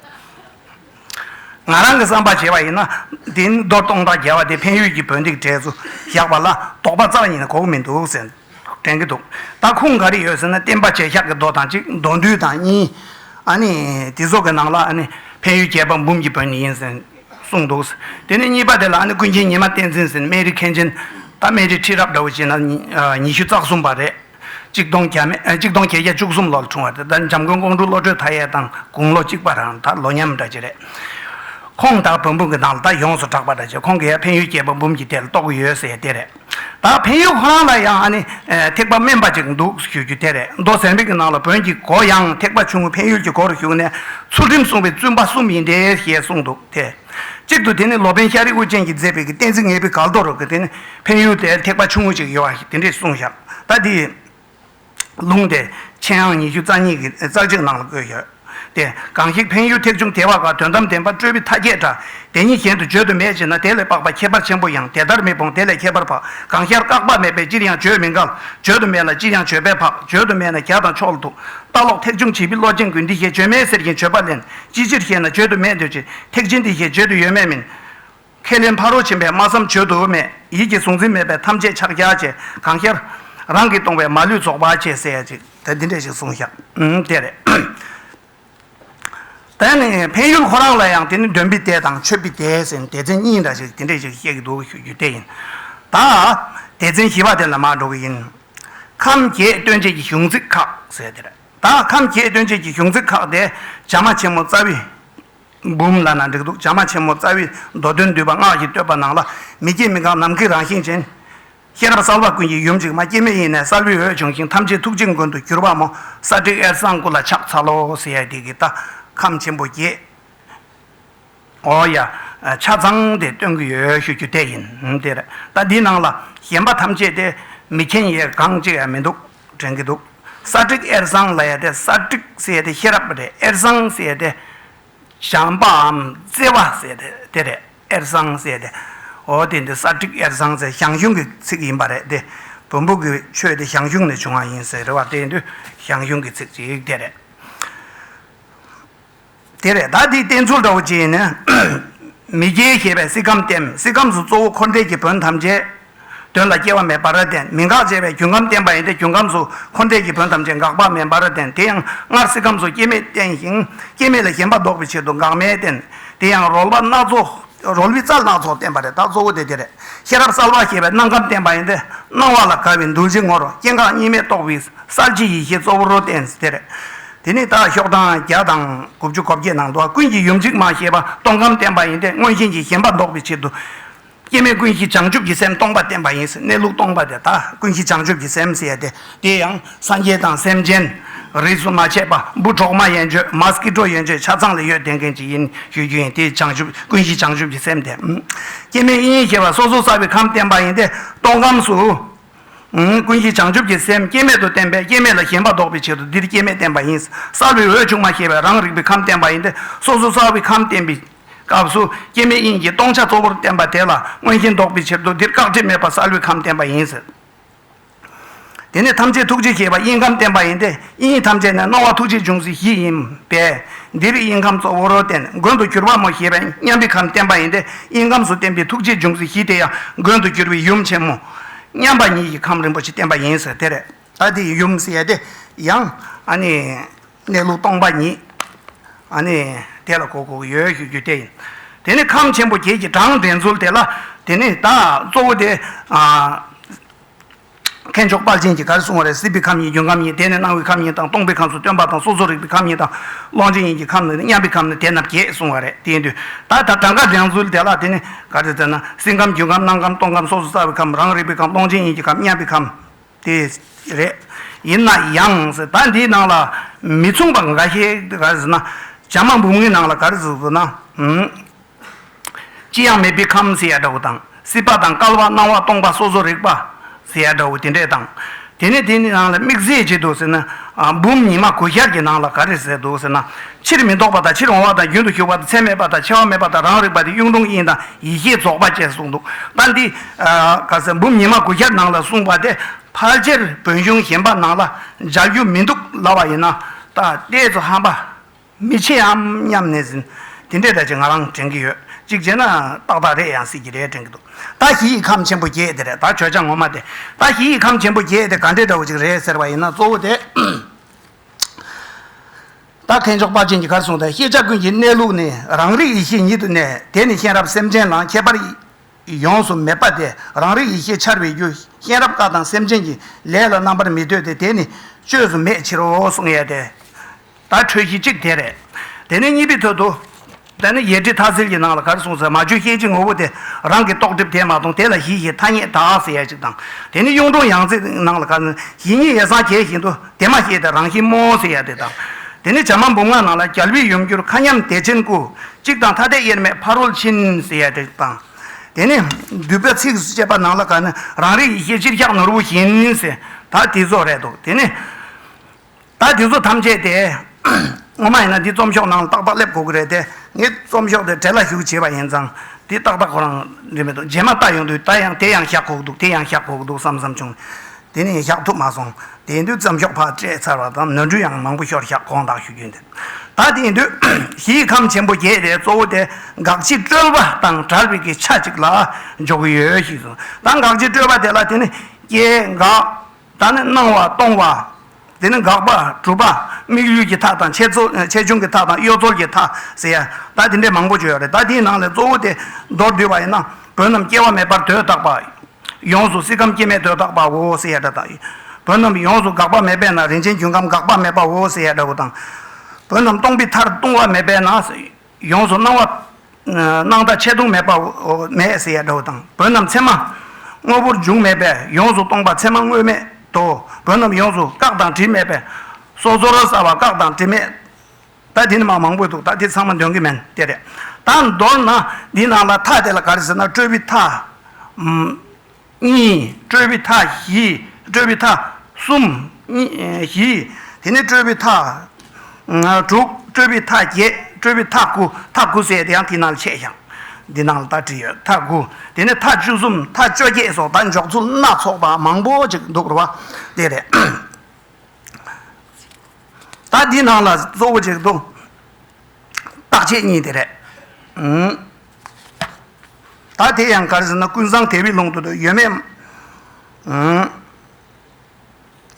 ང་རང་གི་བསམ་པར་བྱས་པ་ཡིན་ན། འདི་ནི་རྡོ་སྟོང་དང་རྒྱལ་བ་སྡེ་འཕན་ཡུལ་གྱི་བོན་སྡིག་གྲལ་དུ་བཞག་པ་ལ་དོགས་པ་རྩ་བ་ཉིད་ནས་གོ་གི་མི་འདུག་ཟེར། དྲན་གྱི་འདུག་ད་ཁུངས་ག་རེ་ཡོད་ཟེར་ན་བསྟན་པ་བྱས་ཤག་གི་རྡོ་དང་གཅིག་མདོ་འདུས་དང་གཉིས། ཨ་ནི་དེ་ཚོ་གི་ནང་ལ་ཨ་ནི་འཕན་ཡུལ་རྒྱལ་བ་འབུམ་གྱི་བོན་ནི་ཡིན་ཟེར་གསུངས་འདུག་དེ་ནས་གཉིས་པ་དེ་ལ་ཨ་ནི་ཀུན་མཁྱེན་ཉི་མ་བསྟན་འཛིན་ཟེར་ནི་སྨན་རིའི་མཁན་ཆེན། ད་སྨན་རིའི་ཁྲི་རབས་འདྲ་བོ་བྱས་ན་ཉི་ཤུ་རྩ་གསུམ་པ་རེད། གཅིག་སྟོང་གྱ་མེད་གཅིག་སྟོང་བརྒྱད་བརྒྱ་བཅུ་གསུམ་ལོར་བྱུང་བ་དེ་ལྟར་འཇམ་མགོན་ཀོང་སྤྲུལ་བློ་གྲོས་མཐའ་ཡས་དང་དགུང་ལོ་གཅིག་པ་རང་ད་ལོ་མཉམ་འདྲ་གཅིག་རེད། ཁོང་དག་བོན་པོ་གི་ནང་ལ་ད་ཡོངས་སུ་གྲགས་པ་འདྲ་གཅིག་ཁོང་གི་ཡང་འཕན་ཡུལ་སྐྱེས་པ་འབུམ་གྱི་ཐད་ལ་གཏོགས་ཀྱི་ཡོད་ཟེར་དེ་རེད། ད་འཕན་ཡུལ་ཁོ་རང་ལ་ཡང་ཧ་ནི་ཐེག་པ་དམན་པ་ཅིག་འདུག་ཞུ་རྒྱུ་དེ་རེད་མདོ་གཟེར་འབེབས་ཀྱི་ནང་ལ་བོན་གྱི་སྒོ་ཡང་ཐེག་པ་ཆུང་ངུ་འཕན་ཡུལ་གྱི་སྒོ་རུ་ཞུགས་ནས་ཚུལ་ཁྲིམས་བསྲུངས་པའི་བཙུན་པ་གསུམ་ཡིན་འདྲེ་ཞེས་གསུངས་འདུག་དེ། གཅིག་ཏུ་དེ་ནི་ལོ་པཎ་ཤ་རི་དབུ་ཅན་གྱིས་མཛད་པའི་གཏན་ཚིགས་ངེས་པའི་གགས་རྡོ་རུ་དེ་ནི་འཕན་ཡུལ་དེར་ཐེག་པ་ཆུང་ངུ་ཞིག་ཡོད་པ་དེ་འདྲས་གསུངས་བཞག་ད་དེའི་ལུང་དེ་མཆན་ཨང་ཉི་ཤུ་རྩ་གཉིས་ཀྱི་ཙག་ཅིག་ནང་ལ་བཀོད་ཡོད་དེ། གང་ཞིག་འཕན་ཡུལ་ཐེག་ཆུང་དེ་བ་ག་དོན་དམ་བདེན་པ་སྤྲོས་པའི་མཐའ་བརྒྱད་འདྲ་དེ་ཉིད་གཞན་དུ་བརྗོད་དུ་མེད་ཅེ་ན་དེ་ལས་དཔག་པ་ཁྱད་པར་ཆེན་པོ་ཡང་དེ་ལྟར་མི་སྤོང་དེ་ལས་ཁྱད་པར་བག་གང་ཤར་བཀག་པ་མེད་པས་ཅིར་ཡང་བརྗོད་མི་འགལ་བརྗོད་དུ་མེད་ལ་ཅིར་ཡང་བརྗོད་པས་བག་བརྗོད་དུ་མེད་ན་གྱ་དང་ཕྱོགས་ལ་ཐུག། ལྟ་ལོག་ཐེག་ཆུང་བྱིས་པའི་བློ་ཅན་ཀུན་འདི་ཞེས་བརྗོད་མེད་ཟེར་གྱིན་བརྗོད་པ་ལན་ཅི་ཕྱིར་ཞེ་ན་བརྗོད་དུ་མེད་འདོད་ཀྱི་ཐེག་ཆེན་འདི་ཞེས་བརྗོད་དུ་ཡོད་མེད་མིན། ཁས་ལེན་ཕ་རོལ་ཕྱིན་པས་སྨྲ་བསམ་བརྗོད་དུ་མེད་ཡིད་ཀྱི་གཟུང་འཛིན་མེད་པས་ཐམས་ཅད་ཕྱག་རྒྱ་བཅས་གང་ཤར། རང་གིས་སྟོང་བས་མ་ལུས་རྫོགས་པ་ཆེས་གསལ་བྱེད་དེ་འདི་འདྲས་ཞིག་གསུངས་ཤག་དེ་རེད། དེ་ནི་འཕན་ཡུལ་ཁོ་རང་ལ་ཡང་དེ་ནི་འདོན་པི་ཏའི་དང་མཆོད་པི་ཏའི་ཟེར་ནས་སྡེ་ཚན་གཉིས་འདྲ་ཞིག་དེ་འདྲས་ཞིག་བཤད་ཀྱི་འདུག་ཞུ་རྒྱུ་དེ་ཡིན། ད་སྡེ་ཚན་བཞི་བ་དེ་ལ་མར་འགྲོ་གི་ཡིན། ཁམས་བརྒྱད་སྟོན་བྱེད་ཀྱི་གཞུང་ཚིག་ཁག་ཟེར་དེ་རེད། དག་ཐམས་ཅད་སྟོན་བྱེད་ཀྱི་གཞུང་ཚིག་ཁག་སྟེ། བྱམས་མ་ཆེན་མོ་རྩ་བའི། འབུམ་བླ་ན་འགྲིག་འདུག་བྱམས་མ་ཆེན་མོ་རྩ་བའི་མདོ་དོན་བསྡུས་པ་སྔགས་ཀྱི་བསྟོད་པ་ནང་ལ། མི་སྐྱེ་མི་འགག་ནམ་མཁའི་རང་བཞིན་ཅན། ཤེས་རབ་གསལ་བ་ཀུན་གྱི་ཡུམ་གཅིག་མ་སྐྱེ་མེད་ཡེ་ནས་གསལ་བའི་འོད་བྱུང་ཞིང་ཐམས་ཅད་ཐུགས་རྗེ་མགོན་དུ་གྱུར་པ་མོ་ས་ཏྲི་ཨེར་གསང་སྐུ་ལ་ཕྱག་འཚལ་ལོ། སེ་ཡ་ཏི་ཀི་ཏཱ། ཁམས་ཆེན་པོ་བརྒྱད། ཨོ་ཡ། ཆ་ཚང་དེ་སྟོན་གྱི་ཡོད་ཞུ་རྒྱུ་དེ་ཡིན། དེ་རེད། ད་འདིའི་ནང་ལ་གཞན་པ་ཐམས་ཅད་དེ་མི་མཁྱེན་ཡས་གང་གཅིག་ཡང་མི་འདུག་དྲན་གྱི་འདུག་གསར་བསྒྲིགས་ཨེར་བཟང་ལ་ཡས་དེ་གསར་བསྒྲིགས་ཟེར་ཡས་དེ་ཤེས་རབ་རེད་ཨེར་བཟང་ཟེར་ཡས་དེ་བྱམས་པའམ་བརྩེ་བ་ཟེར་ཡས་དེ་རེད་ཨེར་བཟང་ཟེར་ཡས་དེ། ཨོ་དེ་འདི་གསར་བསྒྲིགས་ཨེར་བཟང་ཟེར་ཞང་ཞུང་གི་ཚིག་ཡིན་པ་རེད་དེ། བོན་པོ་གྱི་ཆོས་དེ་ཞང་ཞུང་ནས་བྱུང་བ་ཡིན་ཟེར་བ་དེ་འདི་ཞང་ཞུང་གི་ཚིག་ཅིག་དེ་རེད། དེ་རེད་ད་དེའི་བསྟན་ཚུལ་འདྲ་བོ་གཅིག་ཡིན་ནི། མི་སྐྱེ་ཞེས་པའི་སྲིད་ཁམས་བསྟན། སྲིད་ཁམས་སུ་གཙོ་བོ་འཁོར་འདས་ཀྱི་བོན་ཐམས་ཅད། དོན་ལ་སྐྱེ་བ་མེད་པར་བསྟན། མི་འགག་ཅེས་པའི་རྒྱུན་ཁམས་བསྟན་པ་ཡིན་ཏེ་རྒྱུན་ཁམས་སུ་འཁོར་འདས་ཀྱི་བོན་ཐམས་ཅད་འགག་པ་མེད་པར་བསྟན། དེ་ཡང་སྔར་སྲིད་ཁམས་སུ་སྐྱེ་མེད་བསྟན་ཞིང། སྐྱེ་མེད་ལ་ཞེན་པ་བཟློག་པའི་ཕྱིར་དུ་འགག་མེད་བསྟན། དེ་ཡང་རོལ་བ་སྣ་ཚོགས། རོལ་བའི་རྩལ་སྣ་ཚོགས་བསྟན་པ་རེད་ད་གཙོ་བོ་དེ་དེ་རེད། ཤེས་རབ་གསལ་བ་ཞེས་པའི་སྣང་ཁམས་བསྟན་པ་ཡིན་ཏེ། སྣང་བ་ལ་དགའ་བའི་འདུ་བྱེད་ངོར་སྐྱེ་འགག་གཉིས་མེད་རྟོགས་པའི་གསལ་བྱེད་ཡེ་ཤེས་གཙོ་བོར་བསྟན། དེ་རེད། དེ་ནི་དག་ཤོག་ཐང་བརྒྱ་དང་དགུ་བཅུ་གོ་བརྒྱད་ནང་དུ་བ་ཀུན་གྱི་ཡུམ་ཚིག་མ་ཞེས་པ་སྟོང་ཁམས་བསྟན་པ་ཡིན་ཏེ་མངོན་ཞེན་གྱི་ཞེན་པ་བཟློག་པའི་ཕྱིར་དུ། སྐྱེ་མེད་ཀུན་གཞི་བྱང་ཆུབ་ཀྱི་སེམས་སྟོང་པ་བསྟན་པ་ཡིན་ཟེར་གནས་ལུགས་སྟོང་པ་དེ་དག་ཀུན་གཞི་བྱང་ཆུབ་ཀྱི་སེམས་ཟེར་ཏེ། དེ་ཡང་སངས་རྒྱས་དང་སེམས་ཅན། རིས་སུ་མ་ཆད་པ་འབུ་གྲོག་མ་ཡན་ཆོད་མ་སྐྱིད་གྲོག་ཡན་ཆོད་ཆ་ཚང་ལ་ཡོད་བསྡད་མཁན་ཅིག་ཡིན་ཞུ་རྒྱུ་ཡིན་དེ་བྱང་ཆུབ་ཀུན་གཞི་བྱང་ཆུབ་ཀྱི་སེམས་དེ། སྐྱེ་མེད་དབྱིངས་ཞེས་པ་སོ་སོ་བསགས་པའི་ཁམས་བསྟན་པ་ཡིན་ཏེ་སྟོང་ཁམས་སུ། ཀུན་གཞི་བྱང་ཆུབ་ཀྱི་སེམས་སྐྱེ་མེད་དུ་བསྟན་པས་སྐྱེ་མེད་ལ་ཞེན་པ་ཟློག་པའི་ཆེད་དུ་འདིར་སྐྱེ་མེད་བསྟན་པ་ཡིན། གསར་བའི་འོད་ཆུང་མ་ཞེས་པས་རང་རིག་པའི་ཁམས་བསྟན་པ་ཡིན་ཏེ་སོ་སོ་གསར་བའི་ཁམས་བསྟན་པའི་སྐབས་སུ་སྐྱེ་མེད་དབྱིངས་ཀྱི་སྟོང་ཆ་གཙོ་བོར་བསྟན་པ་དེ་ལ་མངོན་ཞེན་ཟློག་པའི་ཕྱིར་དུ་འདིར་བཀག་སྒྲིབ་མེད་པར་གསར་བའི་ཁམས་བསྟན་པ་ཡིན། དེ་ནས་ཐམས་ཅད་ཐུགས་རྗེ་ཞེས་པ་དབྱིངས་ཁམས་བསྟན་པ་ཡིན་ཏེ། དབྱིངས་ཐམས་ཅད་ནས་སྣང་བ་ཐུགས་རྗེ་འབྱུང་ཚུལ་བཞི་ཡིན་པས། འདིར་དབྱིངས་ཁམས་གཙོ་བོར་བསྟན་མགོན་དུ་གྱུར་པ་མོ་ཞེས་པའི་མཉམ་པའི་ཁམས་བསྟན་པ་ཡིན་ཏེ་དབྱིངས་ཁམས་སུ་བསྟན་པའི་ཐུགས་རྗེ་འབྱུང་ཚུལ་བཞི་དེ་ཡང་མགོན་དུ་གྱུར་པའི་ཡུམ་ཆེན་མོ། མཉམ་པ་ཉིད་ཀྱི་ཁམས་རིན་པོ་ཆེ་བསྟན་པ་ཡིན་ཟེར་དེ་རེད། ད་དེའི་ཡུམ་ཞེས་དེ་ཡང། གནས་ལུགས་སྟོང་པ་ཉིད། དེ་ལ་གོ་དགོས་ཡོད་ཞུ་རྒྱུ་དེ་ཡིན། དེ་ནས་ཁམས་ཆེན་པོ་བརྒྱད་ཀྱི་གྲངས་འདྲེན་ཚུལ་དེ་ལ། དེ་ནས་བདག་གཙོ་བོ་དེ། མཁས་མཆོག་དཔའ་ཆེན་གྱིས་ག་རེ་གསུངས་བ་རེད་སྲིད་པའི་ཁམས་ཡིན་རྒྱུན་ཁམས་ཡིན་དེ་ནི་སྣང་བའི་ཁམས་ཡིན་དང་སྟོང་པའི་ཁམས་སུ་སྟོན་པ་དང་སོ་སོར་རིག་པའི་ཁམས་ཡིན་དང་ཀློང་ཆེན་ཡིན་གྱི་ཁམས་ནི་མཉམ་པའི་ཁམས་ནི་དེ་རྣམས་བརྒྱད་གསུངས་བ་རེད་དེའི་དུས་ད་ལྟ་གྲངས་ཀ་སྦྱང་ཚུལ་དེ་ལ་དེ་ནི་ག་རེ་ཟེར་ན་སྲིད་ཁམས་རྒྱུན་ཁམས་སྣང་ཁམས་སྟོང་ཁམས་སོ་སོ་རྩ་བའི་ཁམས་རང་རིག་པའི་ཁམས་ཀློང་ཆེན་ཡིན་གྱི་ཁམས་མཉམ་པའི་ཁམས་དེ་རེད། ཡིན་ན་ཡང་ཟེར་ད་འདིའི་ནང་ལ་མི་མཚུངས་པ་འགའ་ཤས་འདི་ག་རེ་ཟེར་ན་བྱམས་མ་འབུམ་ངའི་ནང་ལ་ག་རེ་ཟེར་ན། ཅི་ཡང་མེད་པའི་ཁམས་ཟེར་ཡ་འདྲ་བོ་དང་སྲིད་པ་དང་བསྐལ་བ་སྣང་བ་སྟོང་པ་སོ་སོ་རིག་པ་ཟེར་ཡ་འདྲ་བོ་དེ་འདྲས་དང། དེ་ནས་དེ་ནི་ནང་ལ་དམིགས་བསལ་བྱས་འདུག་ཟེར་ན། འབུམ་ཉི་མ་གོ་ཤར་གྱི་ནང་ལ་ག་རེ་ཟེར་འདུག་ཟེར་ན། ཕྱིར་མི་ལྡོག་པ་དང་ཕྱིར་འོང་བ་དང་རྒྱུན་དུ་ཞུགས་པ་དང་ཚད་མེད་པ་དང་ཆེ་བ་མེད་པ་དང་རང་རིག་པ་དེ་གཡུང་དྲུང་དབྱིངས་དང་ཡེ་ཤེས་རྫོགས་པ་བཅས་གསུངས་འདུག་ད་འདི། ག་ཟེར་འབུམ་ཉི་མ་གོ་ཤར་ནང་ལ་གསུངས་པ་དེ་ཕལ་ཆེར་བོན་གཞུང་གཞན་པ་ནང་ལ་སྦྱར་རྒྱུ་མི་འདུག་ལབ་པ་ཡིན་ན། ད་ལྟའི་ཚོ་ཧམ་པ་མི་ཆེ་འམ་སྙམ་ནས་ཟིན། དེ་འདྲའི་བརྡ་ཅིག་ང་རང་དྲན་གྱི་ཡོད། གཅིག་བྱས་ན། ཏག་ཏག་རེད་ཡང་སྲིད་ཀྱི་རེད་དྲན་གྱི་འདུག། ད་ཞི་ཡི་ཁམས་ཆེན་པོ་བརྒྱད་དེ་རེད་ད་བྱོ་བྱ་ངོ་མ་དེ། ད་ཞི་ཡི་ཁམས་ཆེན་པོ་བརྒྱད་དེ་ག་འདྲའི་འདྲ་བོ་ཅིག་རེད་ཟེར་བ་ཡིན་ན་གཙོ་བོ་དེ། ད་གན་མཆོག་དཔའ་ཆེན་གྱིས་གར་གསུངས་ལྟར་ཤེས་བྱ་ཀུན་གྱི་གནས་ལུགས་ནི་རང་རིག་ཡེ་ཤེས་ཉིད་དུ་གནས། དེ་ནི་གཤེན་རབ་སེམས་ཅན་ལང་ཁྱད་པར་ཡོངས་སུ་མེད་པ་དེ་རང་རིག་ཡེ་ཤེས་འཆར་བའི་རྒྱུ་གཤེན་རབ་བཀའ་དང་སེམས་ཅན་གྱི་ལས་ལ་རྣམ་པར་མི་ལྟོས་ཏེ་དེ་ནི་བཅོས་སུ་མེད་ཕྱིར་རོ་གསུངས་ཡས་དེ། ད་འཕྲོས་གཞི་གཅིག་དེ་རེད། དེ་ནས་གཉིས་པའི་དོད་དུ། ད་ནི་ཡེ་གྲི་དྷ་སིལ་གྱི་ནང་ལ་གར་སོང་ཟེར་མ་བཅོས་སྐྱེ་འཆི་ངོ་བོ་དེ་རང་གི་རྟོག་སྒྲིབ་དེས་མ་མཐོང་དེ་ལ་གཞི་ཞེས་ཐ་སྙད་དག་ཟེར་ཡ་གཅིག་དང། དེ་ནི་གཡུང་དྲུང་ཡང་རྩེའི་ནང་ལ་གར་སོང་གཞི་ཉིད་ཡེ་སངས་རྒྱས་བཞིན་དུ་དེ་མ་ཤེས་ཏེ་རང་བཞིན་རྨོངས་འོང་ཟེར་ཡ་དེ་དང། དེ་ནི་བྱམས་མ་འབུམ་ལྔ་ནང་ལ་རྒྱལ་བུའི་ཡུམ་གྱུར་མཁའ་མཉམ་བདེ་ཆེན་སྐུ། གཅིག་དང་ཐ་དད་དབྱེར་མེད་ཕ་རོལ་ཕྱིན་ཟེར་ཡ་དེ་དང། དེ་ནི་བསྡུས་པའི་ཚིགས་སུ་བཅད་པ་ནང་ལ་གར་ནི་རང་རིག་ཡེ་ཤེས་སྤྱིར་ཤ་ནོར་བུ་བཞིན་ཟེར་ད་དེ་ཚོ་རེད་འདུག་དེ་ནི། ད་དེ་ཚོ་ཐམས་ཅད་དེ། ངོ་མ་ཡིན་ན་འདི་རྩོམ་ཤོག་ནང་ཏག་ཏག་སླེབས་དགོས་ཀྱི་རེད་དེ། ངས་རྩོམ་ཤོག་དེ་གྲལ་ལ་བཞུགས་བྱས་པ་ཡིན་ཙང། འདི་ཏག་ཏག་ཁོ་རང་འབྲི་མི་ཐུབ་རྗེས་མ་ལྟ་ཡོང་དུས་ད་ཡང་དེ་ཡང་བཞག་གོ་གི་འདུག་དེ་ཡང་བཞག་གོ་གི་འདུག་བསམ་བསམ་བྱུང། དེ་ནས་བཞག་ཐུབ་མ་སོང། དེ་དུས་རྩོམ་ཤོག་ཕར་སྤྲད་ཚར་བ་དང་ནོར་འཁྲུལ་ཡང་མང་པོ་ཤོར་ཤག་དགོངས་དག་ཞུ་རྒྱུ་འདུག་ད་དེ་དུས། གཞི་ཡི་ཁམས་ཆེན་པོ་བརྒྱད་དེ་གཙོ་བོ་དེ་དགག་བྱའི་སྤྲོས་པ་དང་དྲག་རིག་གི་ཆ་གཅིག་ལ་འཇོག་གི་ཡོད་ཞིག་གསུངས། ད་དགག་བྱའི་སྤྲོས་པ་དེ་ལ་དེ་ནི་སྐྱེ་འགག། ད་ནི་སྣང་བ་སྟོང་བ། དེ་ནི་འགག་པ་གྲུབ་པ། དམིགས་ཡུལ་གྱི་མཐའ་དང་ཆེད་རྩོལ་ཆེ་ཆུང་གི་མཐའ་དང་གཡོ་རྩོལ་གྱི་མཐའ་ཟེར་ཡ། ད་དེ་འདྲའི་མང་པོ་བརྗོད་ཡོད་རེད་ད་དེའི་ནང་ལས་གཙོ་བོ་དེ་མདོར་བསྡུས་པ་ཡིན་ན་བོན་རྣམས་སྐྱེ་བ་མེད་པར་དོས་བཏགས་པ། ཡོངས་སུ་སྲིད་ཁམས་སྐྱེ་མེད་དོས་བཏགས་པའོ་ཟེར་ཡ་འདྲ་དང། བོན་རྣམས་ཡོངས་སུ་འགག་པ་མེད་པས་ན་རིན་ཆེན་རྒྱུན་ཁམས་འགག་པ་མེད་པའོ་ཟེར་ཡ་འདྲ་བོ་དང། བོན་རྣམས་སྟོང་པའི་མཐར་ལྟུང་བ་མེད་པས་ན། ཡོངས་སུ་སྣང་བ། སྣང་མཐའ་ཆད་ལྟུང་མེད་པ། མེད་ཟེར་ཡ་འདྲ་བོ་དང། བོན་རྣམས་མཚན་མ། དངོས་པོར་འཇུག་མེད་པས་ཡོངས་སུ་སྟོང་པ་མཚན་མ་དངོས་མེད་དོ། བོན་རྣམས་ཡོངས་སུ་བཀག་དང་དྲི་མེད་པས། སྲོག་རྩོལ་རོ་གསལ་བ་བཀག་དང་དྲི་མེད། ད་དེ་ནི་མང་མང་པོ་འདུག་ད་དེ་ཚང་མ་འདོན་གི་མིན་དེ་རེད། ད་མདོར་ན། འདི་ནང་ལ་མཐའ་དེ་ལ་ག་རེ་ཟེར་ན་སྤྲོས་པའི་མཐའ། གཉིས། སྤྲོས་པའི་མཐའ་བཞི། སྤྲོས་པའི་མཐའ། གསུམ། བཞི། དེ་ནས་སྤྲོས་པའི་མཐའ། དྲུག། སྤྲོས་པའི་མཐའ་བརྒྱད། སྤྲོས་པའི་མཐའ་དགུ། མཐའ་དགུ་བསྲེས་དེ་ཡང་དེ་ནང་ཕྱེད་ཞིང། འདི་ནང་ལ་ད་བྲིས་ཡོད། མཐའ་དགུ། དེ་ནས་མཐའ་བཅུ་གསུམ། མཐའ་བཅོ་བརྒྱད་སོགས་ད་འཇོག་ཚུལ་སྣ་ཚོགས་པ་མང་པོ་ཅིག་འདུག་རེད་བ། དེ་རེད། ད་འདི་ནང་ལ་གཙོ་བོ་ཅིག་འདུག། རྟག་ཆད་གཉིས་དེ་རེད། ད་དེ་ཡང་གར་ཟེར་ན་ཀུན་བཟང་དེ་བས་ལུང་དུ་དུ་ཡོད་མེད།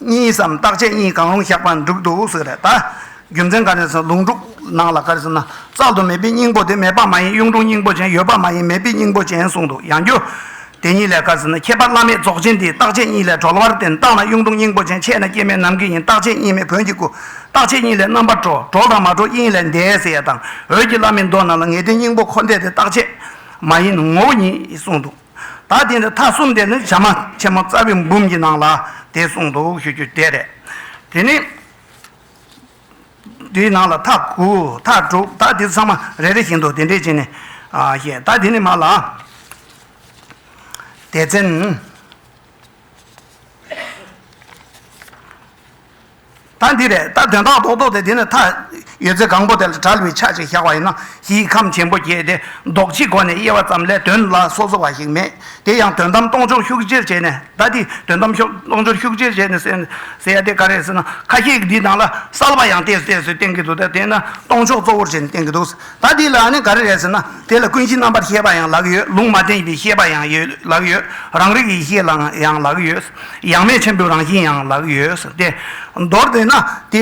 གཉིས་སམ་རྟག་ཆད་གཉིས་གང་རུང་བཞག་པ་འགྲུབ་འདུག་ཟེར་རེད་ད། རྒྱུ་མཚན་ག་རེ་ཟེར་ན་ལུང་དྲུག་ནང་ལ་གར་ཟེར་ན་རྩལ་དུ་མེད་པའི་སྙིང་པོ་དེ་མེད་པ་མ་ཡིན་གཡུང་དྲུང་སྙིང་པོ་ཅན་ཡོད་པ་མ་ཡིན་མེད་པའི་སྙིང་པོ་ཅན་གསུངས་འདུག་ཡང་རྒྱུ། དེ་ཉིད་ལས་བཀའ་ཟེར་ན་ཁྱད་པར་བླ་མེད་རྫོགས་ཆེན་དེའི་རྟག་ཆད་གཉིས་ལས་གྲོལ་བར་བརྟེན་རྟགས་ན་དབྱུང་ལྡོང་སྙིང་པོ་ཅན་ཆད་ན་སྐྱེ་མེད་ནམ་མཁའི་དབྱིངས་རྟག་ཆད་གཉིས་མེད་བོན་གྱི་སྐུ། རྟག་ཆད་གཉིས་ལས་རྣམ་པར་གྲོལ། གྲོལ་དང་མ་གྲོལ་དབྱིངས་ལས་འདས་ཟེར་ཡ་དང་འོད་ཀྱི་བླ་མེད་མདོ་རྣམས་ལ་ངེས་དོན་སྙིང་པོ་འཁོར་འདས་ཏེ་རྟག་ཆད་མ་ཡིན་ནོ་ངོ་བོ་ཉིད་གསུངས་འདུག་ད་དེ་འདྲ་མཐའ་གསུམ་དེ་ནི་བྱམས་མ་ཆེན་མོ་རྩ་བའི་འབུམ་གྱི་ནང་ལ་དེ་གསུངས་འདུག་ཞུ་རྒྱུ་དེ་རེད། དེ་ནས། དེའི་ནང་ལ་མཐའ་དགུ་མཐའ་དྲུག་དག་དེ་ཚང་མ་རེ་རེ་བཞིན་དུ་དེ་འདྲའི་བྱས་ནས་བཤད། ད་དེ་ནི་མ་ལགས། དེ་ཚན། ད་འདི་རེད་ད་དོན་དག་རྡོག་རྡོག་དེ་དེ་ནི་མཐའ་ཡོད་ཚད་གང་པོ་དེ་ལ་དྲལ་བའི་ཆ་ཞིག་བཞག་པ་ཡིན་ན་གཞིའི་ཁམས་ཆེན་པོ་བརྒྱད་དེ་རྡོག་གཅིག་གོ་ནས་དབྱེ་བ་ཙམ་ལས་དོན་ལ་སོ་སོ་བ་ཞིག་མེད། དེ་ཡང་དོན་དམ་སྟོང་ཕྱོགས་ཤུགས་བསྐྱེད་བྱས་ནས་ད་དེ་དོན་དམ་ཕྱོགས་སྟོང་ཕྱོགས་ཤུགས་བསྐྱེད་བྱས་ནས་ཟེར་ཟེར་ཡ་དེ་ག་རེ་ཟེར་ན་ཁ་ཤས་འདིའི་ནང་ལ་གསལ་བ་ཡང་བལྟས་བལྟས་སུ་བསྟན་གྱི་འདུག་ད་དེ་ན་སྟོང་ཕྱོགས་གཙོ་བོར་བྱས་ནས་བསྟན་གྱི་འདུག་ཟེར་ད་དེ་ལ་ནི་ག་རེ་རེད་ཟེར་ན་དེ་ལ་ཀུན་གཞི་རྣམ་པར་ཤེས་པ་ཡང་ལག་ཡོད་ལུང་མ་བསྟན་པའི་ཤེས་པ་ཡང་ཡོད་ལག་ཡོད་རང་རིག་ཡེ་ཤེས་ལ་ཡང་ལག་ཡོད་ཡང་མེད་ཆེན་པོའི་རང་བཞིན་ཡང་ལག་ཡོད་ཟེར་ཏེ་མདོར་བསྟན་ན་དེ་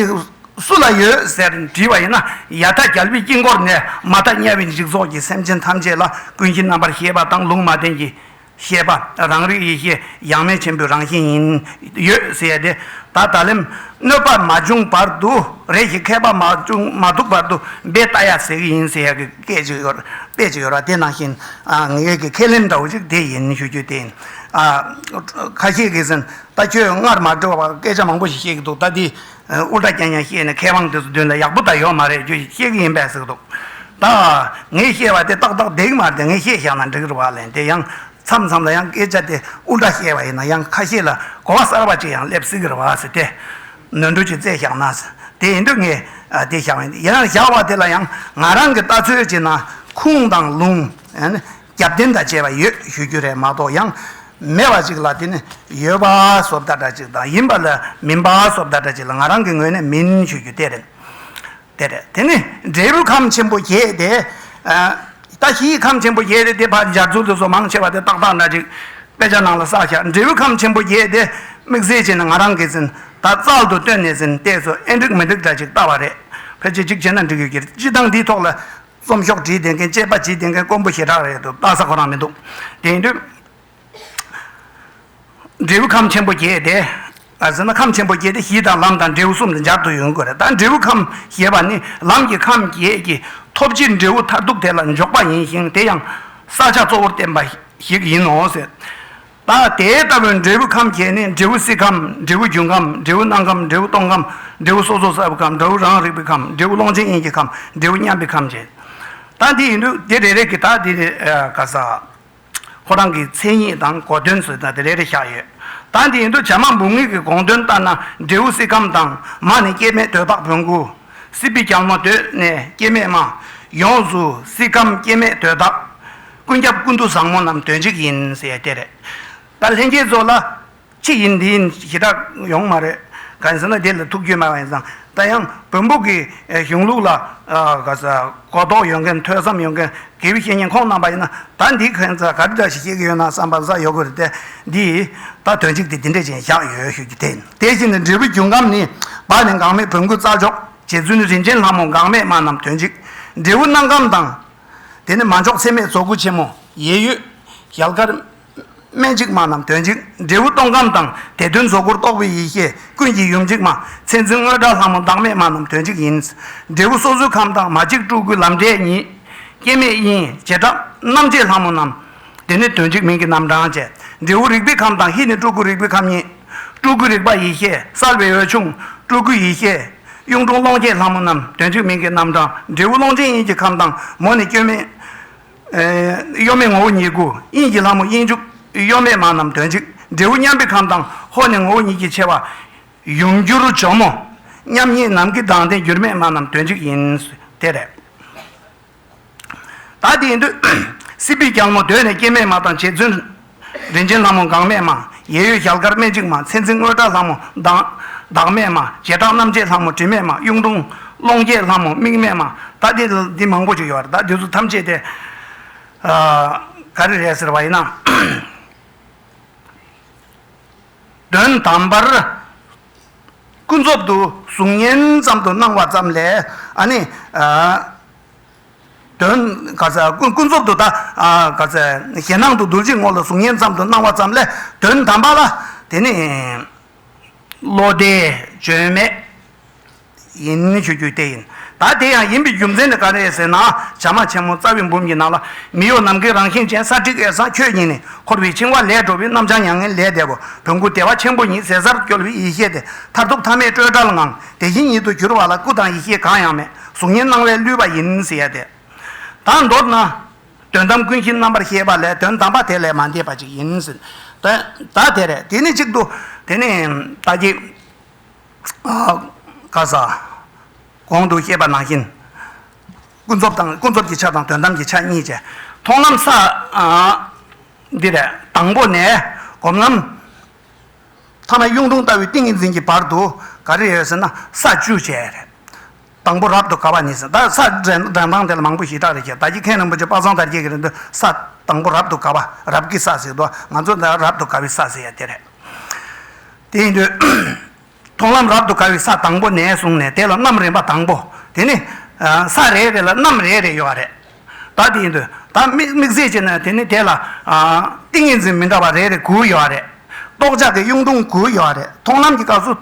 སུ་ལ་ཡོད་ཟེར་འདྲི་བ་ཡིན་ན་ཡ་ཐ་རྒྱལ་པོའི་དཀྱིལ་འཁོར་ནས་མ་ཐ་དམྱལ་བའི་འཇིག་ཚོགས་ཀྱི་སེམས་ཅན་ཐམས་ཅད་ལ་ཀུན་གྱི་རྣམ་པར་ཤེས་པ་དང་ལུང་མ་བསྟན་གྱི་ཤེས་པ་རང་རིག་ཡེ་ཤེས་ཡང་མེད་ཆེན་པོའི་རང་བཞིན་ཡིན། ཡོད་ཟེར་ཏེ། ད་ད་ལན་གནོད་པ་མ་བྱུང་བར་དུ་རེ་ཞིག་མཁས་པ་མ་བྱུང་མ་ཐུག་བར་དུ་འབད་ལྟ་ཡ་ཟེར་གྱི་ཡིན་ཟེར་གྱི་སྐད་ཅིག་ཡོད་དཔེ་ཅིག་ཡོད་ར་དེ་ནང་བཞིན་ངེད་ཀྱི་ཁས་ལེན་འདྲ་བོ་ཞིག་དེ་ཡིན་ཞུ་རྒྱུ་དེ་ཡིན། ཁ་ཤས་གིས་ཟིན་ད་ཁྱོད་སྔར་མ་བྲོས་པར་སྐད་ཆ་མང་པོ་ཞིག་བཤད་ཀྱི་འདུག་ད་དེ་དབུ་སྐྲ་གྱེན་གྱེན་བཤད་ནས་མཁས་དབང་དེ་ཚོ་མདུན་ལ་ཡག་པོ་ད་ཡོད་མ་རེད་ཁྱོད་ཀྱིས་བཤད་གི་ཡིན་པས་ཟེར་གི་འདུག་ད། ངས་བཤད་པ་དེ་ཏག་ཏག་བསྡད་ཀྱི་མ་རེད་དེ་ངས་བཤད་བཞག་ན་འགྲིག་རེད་བ་ལན་དེ་ཡང་མཚམས་མཚམས་ལ་ཡང་སྐད་ཆ་དེ་དབུ་སྐྲ་བཤད་པ་ཡིན་ན་ཡང་ཁ་ཤས་ལ་གོ་བ་གསར་བ་ཅིག་ཡང་སླེབས་སྲིད་གི་རེད་བ་ཟེར་ཏེ། ནོར་འཁྲུལ་ཅིག་བཙལ་བཞག་ན། དེ་ཡིན་དུས་ངས་དེ་བཞག་ཡིན་ཡིན་ན་བཞག་བ་དེ་ལ་ཡང་ང་རང་གི་ལྟ་ཚུལ་བྱས་ན་ཁུངས་དང་ལུང། རྒྱབ་རྟེན་དང་བཅས་པ་ཡོད་ཞུ་རྒྱུ་རེད་མ་གཏོགས་ཡང་མེད་པ་ཅིག་ལ་དེ་ནི་ཡོད་པ་སོབ་ད་ད་ཅིག་དང་ཡིན་པ་ལ་མིན་པ་སོབ་ད་ད་ཅིག་ལ་ང་རང་གི་ངོས་ནས་མིན་ཞུ་རྒྱུ་དེ་རེད། དེ་རེད་དེ་ནི་འབྲས་བུ་ཁམས་ཆེན་པོ་བརྒྱད་དེ། ད་ཞི་ཡི་ཁམས་ཆེན་པོ་བརྒྱད་དེ་དེ་ཕར་འབྱར་ཚུལ་དུ་སོ་མང་ཆེ་བ་དེ་ཏག་ཏག་འདྲ་ཅིག་དཔེ་ཆ་ནང་ལ་བསགས་བཞག་འབྲས་བུ་ཁམས་ཆེན་པོ་བརྒྱད་དེ་དམིགས་བསལ་བྱས་ནས་ང་རང་གིས་ཟིན་ད་རྩལ་དུ་བཏོན་ནས་ཟིན་ལྟས་སུ་ཨེ་འགྲིག་མི་འགྲིག་འདྲ་ཅིག་ལྟ་བ་རེད། ཕལ་ཆེར་གཅིག་བྱས་ན་འགྲིག་ཡོད་ཀྱི་རེད་སྤྱི་བཏང་འདིའི་ཐོག་ལ་རྩོམ་ཤོག་བྲིས་བསྡད་མཁན་དཔྱད་པ་བྱས་བསྡད་མཁན་དཀོན་པོ་ཞེ་དྲག་རེད་འདུག་བལྟ་ས་གོ་རང་མི་འདུག་དེང་དུས། འབྲས་བུ་ཁམས་ཆེན་པོ་བརྒྱད་དེ། ཟེར་ན་ཁམས་ཆེན་པོ་བརྒྱད་དེ་གཞི་དང་ལམ་དང་འབྲས་བུ་གསུམ་དུ་སྦྱར་དུ་ཡོང་གི་རེད་ད་འབྲས་བུ་ཁམས་ཞེས་པ་ནི་ལམ་གྱི་ཁམས་བརྒྱད་ཀྱི་ཐོབ་བྱའི་འབྲས་བུ་མཐར་ཐུག་དེ་ལ་འཇོག་པ་ཡིན་ཞིང་དེ་ཡང་ས་ཆ་གཙོ་བོར་བརྟེན་པ་ཞིག་ཡིན་ནོ་ཟེར། ལ། དེ་ལྟ་བུའི་འབྲས་བུ་ཁམས་བརྒྱད་ནི་འབྲས་བུ་སྲིད་ཁམས་འབྲས་བུ་རྒྱུན་ཁམས་འབྲས་བུ་སྣང་ཁམས་འབྲས་བུ་སྟོང་ཁམས་འབྲས་བུ་སོ་སོར་གསལ་བའི་ཁམས་འབྲས་བུ་རང་རིག་པའི་ཁམས་འབྲས་བུ་ཀློང་ཆེན་དབྱིངས་ཀྱི་ཁམས་འབྲས་བུ་མཉམ་པའི་ཁམས་བརྒྱད། དག་འདི་ཡིན་དུས་དེ་རེ་རེ་གི་དག་འདི་ནི་ག་ས། ཁོ་རང་གི་མཚན་ཉིད་དང་གོ་དོན་སོགས་དག་འདི་རེ་རེ་བཞག་ཡོད། དག་འདི་ཡིན་དུས་བྱ་མ་འབུམ་ངེས་ཀྱི་དགོངས་དོན་ལྟར་ན་འབྲས་བུ་སྲིད་ཁམས་དང་མ་ནི་སྐྱེ་མེད་དོས་དཔག་བོན་སྐུ། སྲིད་པའི་རྒྱལ་མོ་དོས་ནས་སྐྱེ་མེད་མ། ཡོངས་སུ་སྲིད་ཁམས་སྐྱེ་མེད་དོས་དག། ཀུན་སྐྱབས་ཀུན་ཏུ་བཟང་མོ་རྣམས་དོན་གཅིག་ཡིན་ཟེར་ཡ་དེ་རེད། ད་ལྷན་སྐྱེས་རྫོགས་ལ། ཅི་ཡིན་འདི་ཡིན་ཞེ་དྲག་ཡོང་མ་རེད། ག་རེ་ཟེར་ན་དེ་ལ་ཐུགས་རྒྱུས་མེད་པ་ཡིན་ཙང་ད་ཡང་བོན་པོ་གི་གཞུང་ལུགས་ལ། གོ་རྟོགས་ཡོད་མཁན་ཐོས་བསམ་ཡོད་མཁན་དགེ་བའི་བཤེས་གཉེན་ཁོང་རྣམས་པ་ཡིན་ན་ད་འདིའི་ཁན་ཚ་ག་རེ་འདྲ་ཞིག་བཤད་ཀྱི་ཡོད་ན་བསམ་པ་ས་ཡོད་དགོས་རེད་དེ། འདི་ད་དོན་གཅིག་དེ་འདི་འདྲས་ཅན་བཞག་ཡོད་ཤོད་རྒྱུ་དེ་ཡིན། དེ་བཞིན་དུ་འབྲས་བུ་རྒྱུན་ཁམས་ནི་བར་ནས་འགག་མེད་བོན་སྐུ་རྩ་འཇོག་བྱེད་ཚུལ་ནི་རིན་ཆེན་ལྷ་མོ་འགག་མེད་མ་རྣམས་དོན་གཅིག་འབྲས་བུ་སྣང་ཁམས་དང། དེ་ནི་མ་འཇོག་ཚད་མེད་རྫོགས་སྐུ་ཆེན་མོ། ཡེ་ཡོད། ཞལ་དཀར། སྨན་གཅིག་མ་རྣམས་དོན་གཅིག། འབྲས་བུ་སྟོང་ཁམས་དང་དེ་དོན་རྫོགས་སྐུར་རྟོགས་པའི་ཡེ་ཤེས་ཀུན་གྱི་ཡུམ་གཅིག་མ། མཚན་འཛིན་དངོས་བཀྲ་ལྷ་མོ་བདག་མེད་མ་རྣམས་དོན་གཅིག་ཡིན། འབྲས་བུ་སོ་སོའི་ཁམས་དང་མ་གཅིག་སྤྲུལ་སྐུ་ལམ་འབྲས་ཉིད། སྐྱེ་མེད་དབྱིངས། བྱེ་བྲག། རྣམ་བཅས་ལྷ་མོ་རྣམས། དེ་ནི་དོན་གཅིག་མིང་གི་རྣམ་གྲངས་བཅས། འབྲས་བུ་རིག་པའི་ཁམས་དང་ཧི་ནི་སྤྲུལ་སྐུ་རིག་པའི་ཁམས་གཉིས། སྤྲུལ་སྐུའི་རིག་པ་ཡེ་ཤེས་གསར་བའི་འོད་ཆུང། སྤྲུལ་སྐུའི་ཡེ་ཤེས། གཡུང་དྲུང་ཀློང་རྒྱས་ལྷ་མོ་རྣམས་དོན་གཅིག་མིང་གི་རྣམ་གྲངས། འབྲས་བུ་ཀློང་ཆེན་དབྱིངས་ཀྱི་ཁམས་དང་མོ་ནི་སྐྱོན་མེད། གཡོ་མེད་ངོ་བོ་ཉིད་སྐུ་དབྱིངས་ཀྱི་ལྷ་མོ་དབྱིངས་ཕྱུག། གཡོ་མེད་མ་རྣམས་དོན་གཅིག་འབྲས་བུ་མཉམ་པའི་ཁམས་དང་ཧོ་ནི་ངོ་བོ་ཉིད་ཀྱི་ཆེ་བ། ཡུམ་གུ་རུ་ཇོ་མོ། མཉམ་ཉིད་ནམ་མཁའི་མདངས་ལྡན་འགྱུར་མེད་མ་རྣམས་དོན་གཅིག་ཡིན། དེ་རེད། ད་དེའི་དུས། སྲིད་པའི་རྒྱལ་མོ་གདོད་ནས་སྐྱེ་མེད་མ་དང་རྗེ་བཙུན། རིན་ཆེན་ལྷ་མོ་འགག་མེད་མ། ཡེ་ཡོད་རྒྱལ་དཀར་སྨད་གཅིག་མ་མཚན་འཛིན་དངོས་བཀྲ་ལྷ་མོ། བདག་མེད་མ། བྱེ་བྲག་རྣམ་བཅད་ལྷ་མོ་དྲི་མེད་མ་གཡུང་དྲུང། ཀློང་རྒྱས་ལྷ་མོ་མིག་མེད་མ། ད་དེ་འདི་མང་པོ་ཅིག་ཡོད་ད་འདི་ཚོ་ཐམས་ཅད་དེ། ག་རེ་རེད་ཟེར་བ་ཡིན་ན། དོན་དམ་པར་ཀུན་རྫོབ་ཏུ་གཟུགས་བརྙན་ཙམ་དུ་སྣང་བ་ཙམ་ལས་ནི། དོན། ཀུན་རྫོབ་ཏུ་གཞན་སྣང་དུ་རྡུལ་གྱི་ངོ་ལ་གཟུགས་བརྙན་ཙམ་དུ་སྣང་བ་ཙམ་ལས་དོན་དམ་པ་ལ་དེ་ནི། བློ་བདེ་བརྗོད་མེད་ཡིན། མཆོད་རྒྱུའི་ལྟས་ཡིན། ད་དེ་ཡང་ཡིན་པའི་རྒྱུ་མཚན་ནི་ག་རེ་ཡིན་ཟེར་ན། བྱ་མ་ཆེན་མོ་རྩ་བའི་འབུམ་གྱི་ནང་ལ། མི་གཡོ་ནམ་མཁའི་རང་བཞིན་ཅན་ས་ཏྲིག་ཨེ་ས་ཁྱོད་ཉིད་ནས། འཁོར་བའི་འཆིང་བ་ལས་གྲོལ་བའི་རྣམ་བྱང་མྱ་ངན་ལས་འདས་པ། བོན་སྐུ་དེ་བ་ཆེན་པོ་ཉིད་ཟད་སར་སྐྱོལ་བའི་ཡེ་ཤེས་དེ། མཐར་ཐུག་ཐ་མའི་སྤྲོས་བྲལ་ངང། དེ་བཞིན་ཉིད་དུ་གྱུར་བ་ལ་སྐུ་དང་ཡེ་ཤེས་གང་ཡང་མེད། གཟུགས་བརྙན་སྣང་བས་བསླུས་པ་ཡིན་ཟེར་ཡ་དེ། དང་མདོར་ན། དོན་དམ་ཀུན་གཞི་རྣམ་པར་ཤེས་པ་ལས་དོན་དམ་པ་དེ་ལས་མ་འདས་པ་ཅིག་ཡིན། ད་དེ་རེད། དེ་ནི་གཅིག་ཏུ། དེ་ནི། ད་ཀྱི། བཀའ་ས། གོང་དུ་བཤད་པ་ནང་བཞིན། ཀུན་རྫོབ་དང་ཀུན་རྫོབ་ཀྱི་ཆ་དང་དོན་དམ་གྱི་ཆ་གཉིས་ཀྱི་མཐོང་ལམ་ས། འདི་ལས་དང་པོ་ནས་སྒོམ་ལམ། ཐ་ན་གཡུང་དྲུང་ལྟ་བུའི་ཏིང་ངེ་འཛིན་གྱི་བར་དུ་ག་རེ་ཡོད་ཟེར་ན་ས་བཅུ་བཅས་རེད། དང་པོ་རབ་ཏུ་དགའ་བ་ནི་ཟ། ས་བྲན་དང་ཐང་དེ་ལ་མང་པོ་ཞེས་གྲགས་རེ་བྱས། ད་ཀྱི་མཁན་རིན་པོ་ཆེ་དཔག་བསམ་དར་རྒྱས་ཀྱི་རིང་དུ་ས། དང་པོ་རབ་ཏུ་དགའ་བ། རབ་ཀྱི་ས་ཟེར་དུ། ང་ཚོ་འདི་རབ་ཏུ་དགའ་བའི་ས་ཟེར་ཡ་དེ་རེད། དེ་ཡིན་དུས། མཐོང་ལམ་རབ་ཏུ་དགའ་བའི་ས་དང་པོ་ནས་བཟུང་ནས་དེ་ལ་རྣམ་རིམ་པ་དང་པོ། དེ་ནི། ས་རེ་རེ་ལ་རྣམ་རེ་རེ་ཡོད་རེད། བདག་དེ་ཡིན་དུ་བདག་དམིགས་བཟས་བྱས་ན་དེ་ནི་དེ་ལ། ཏིང་ངེ་འཛིན་མི་འདྲ་བ་རེ་རེ་དགུ་ཡོད་པ་རེད། རྟོག་བྱ་གི་གཡུང་དྲུང་དགུ་ཡོད་པ་རེད་མཐོང་ལམ་གྱི་སྐབས་སུ།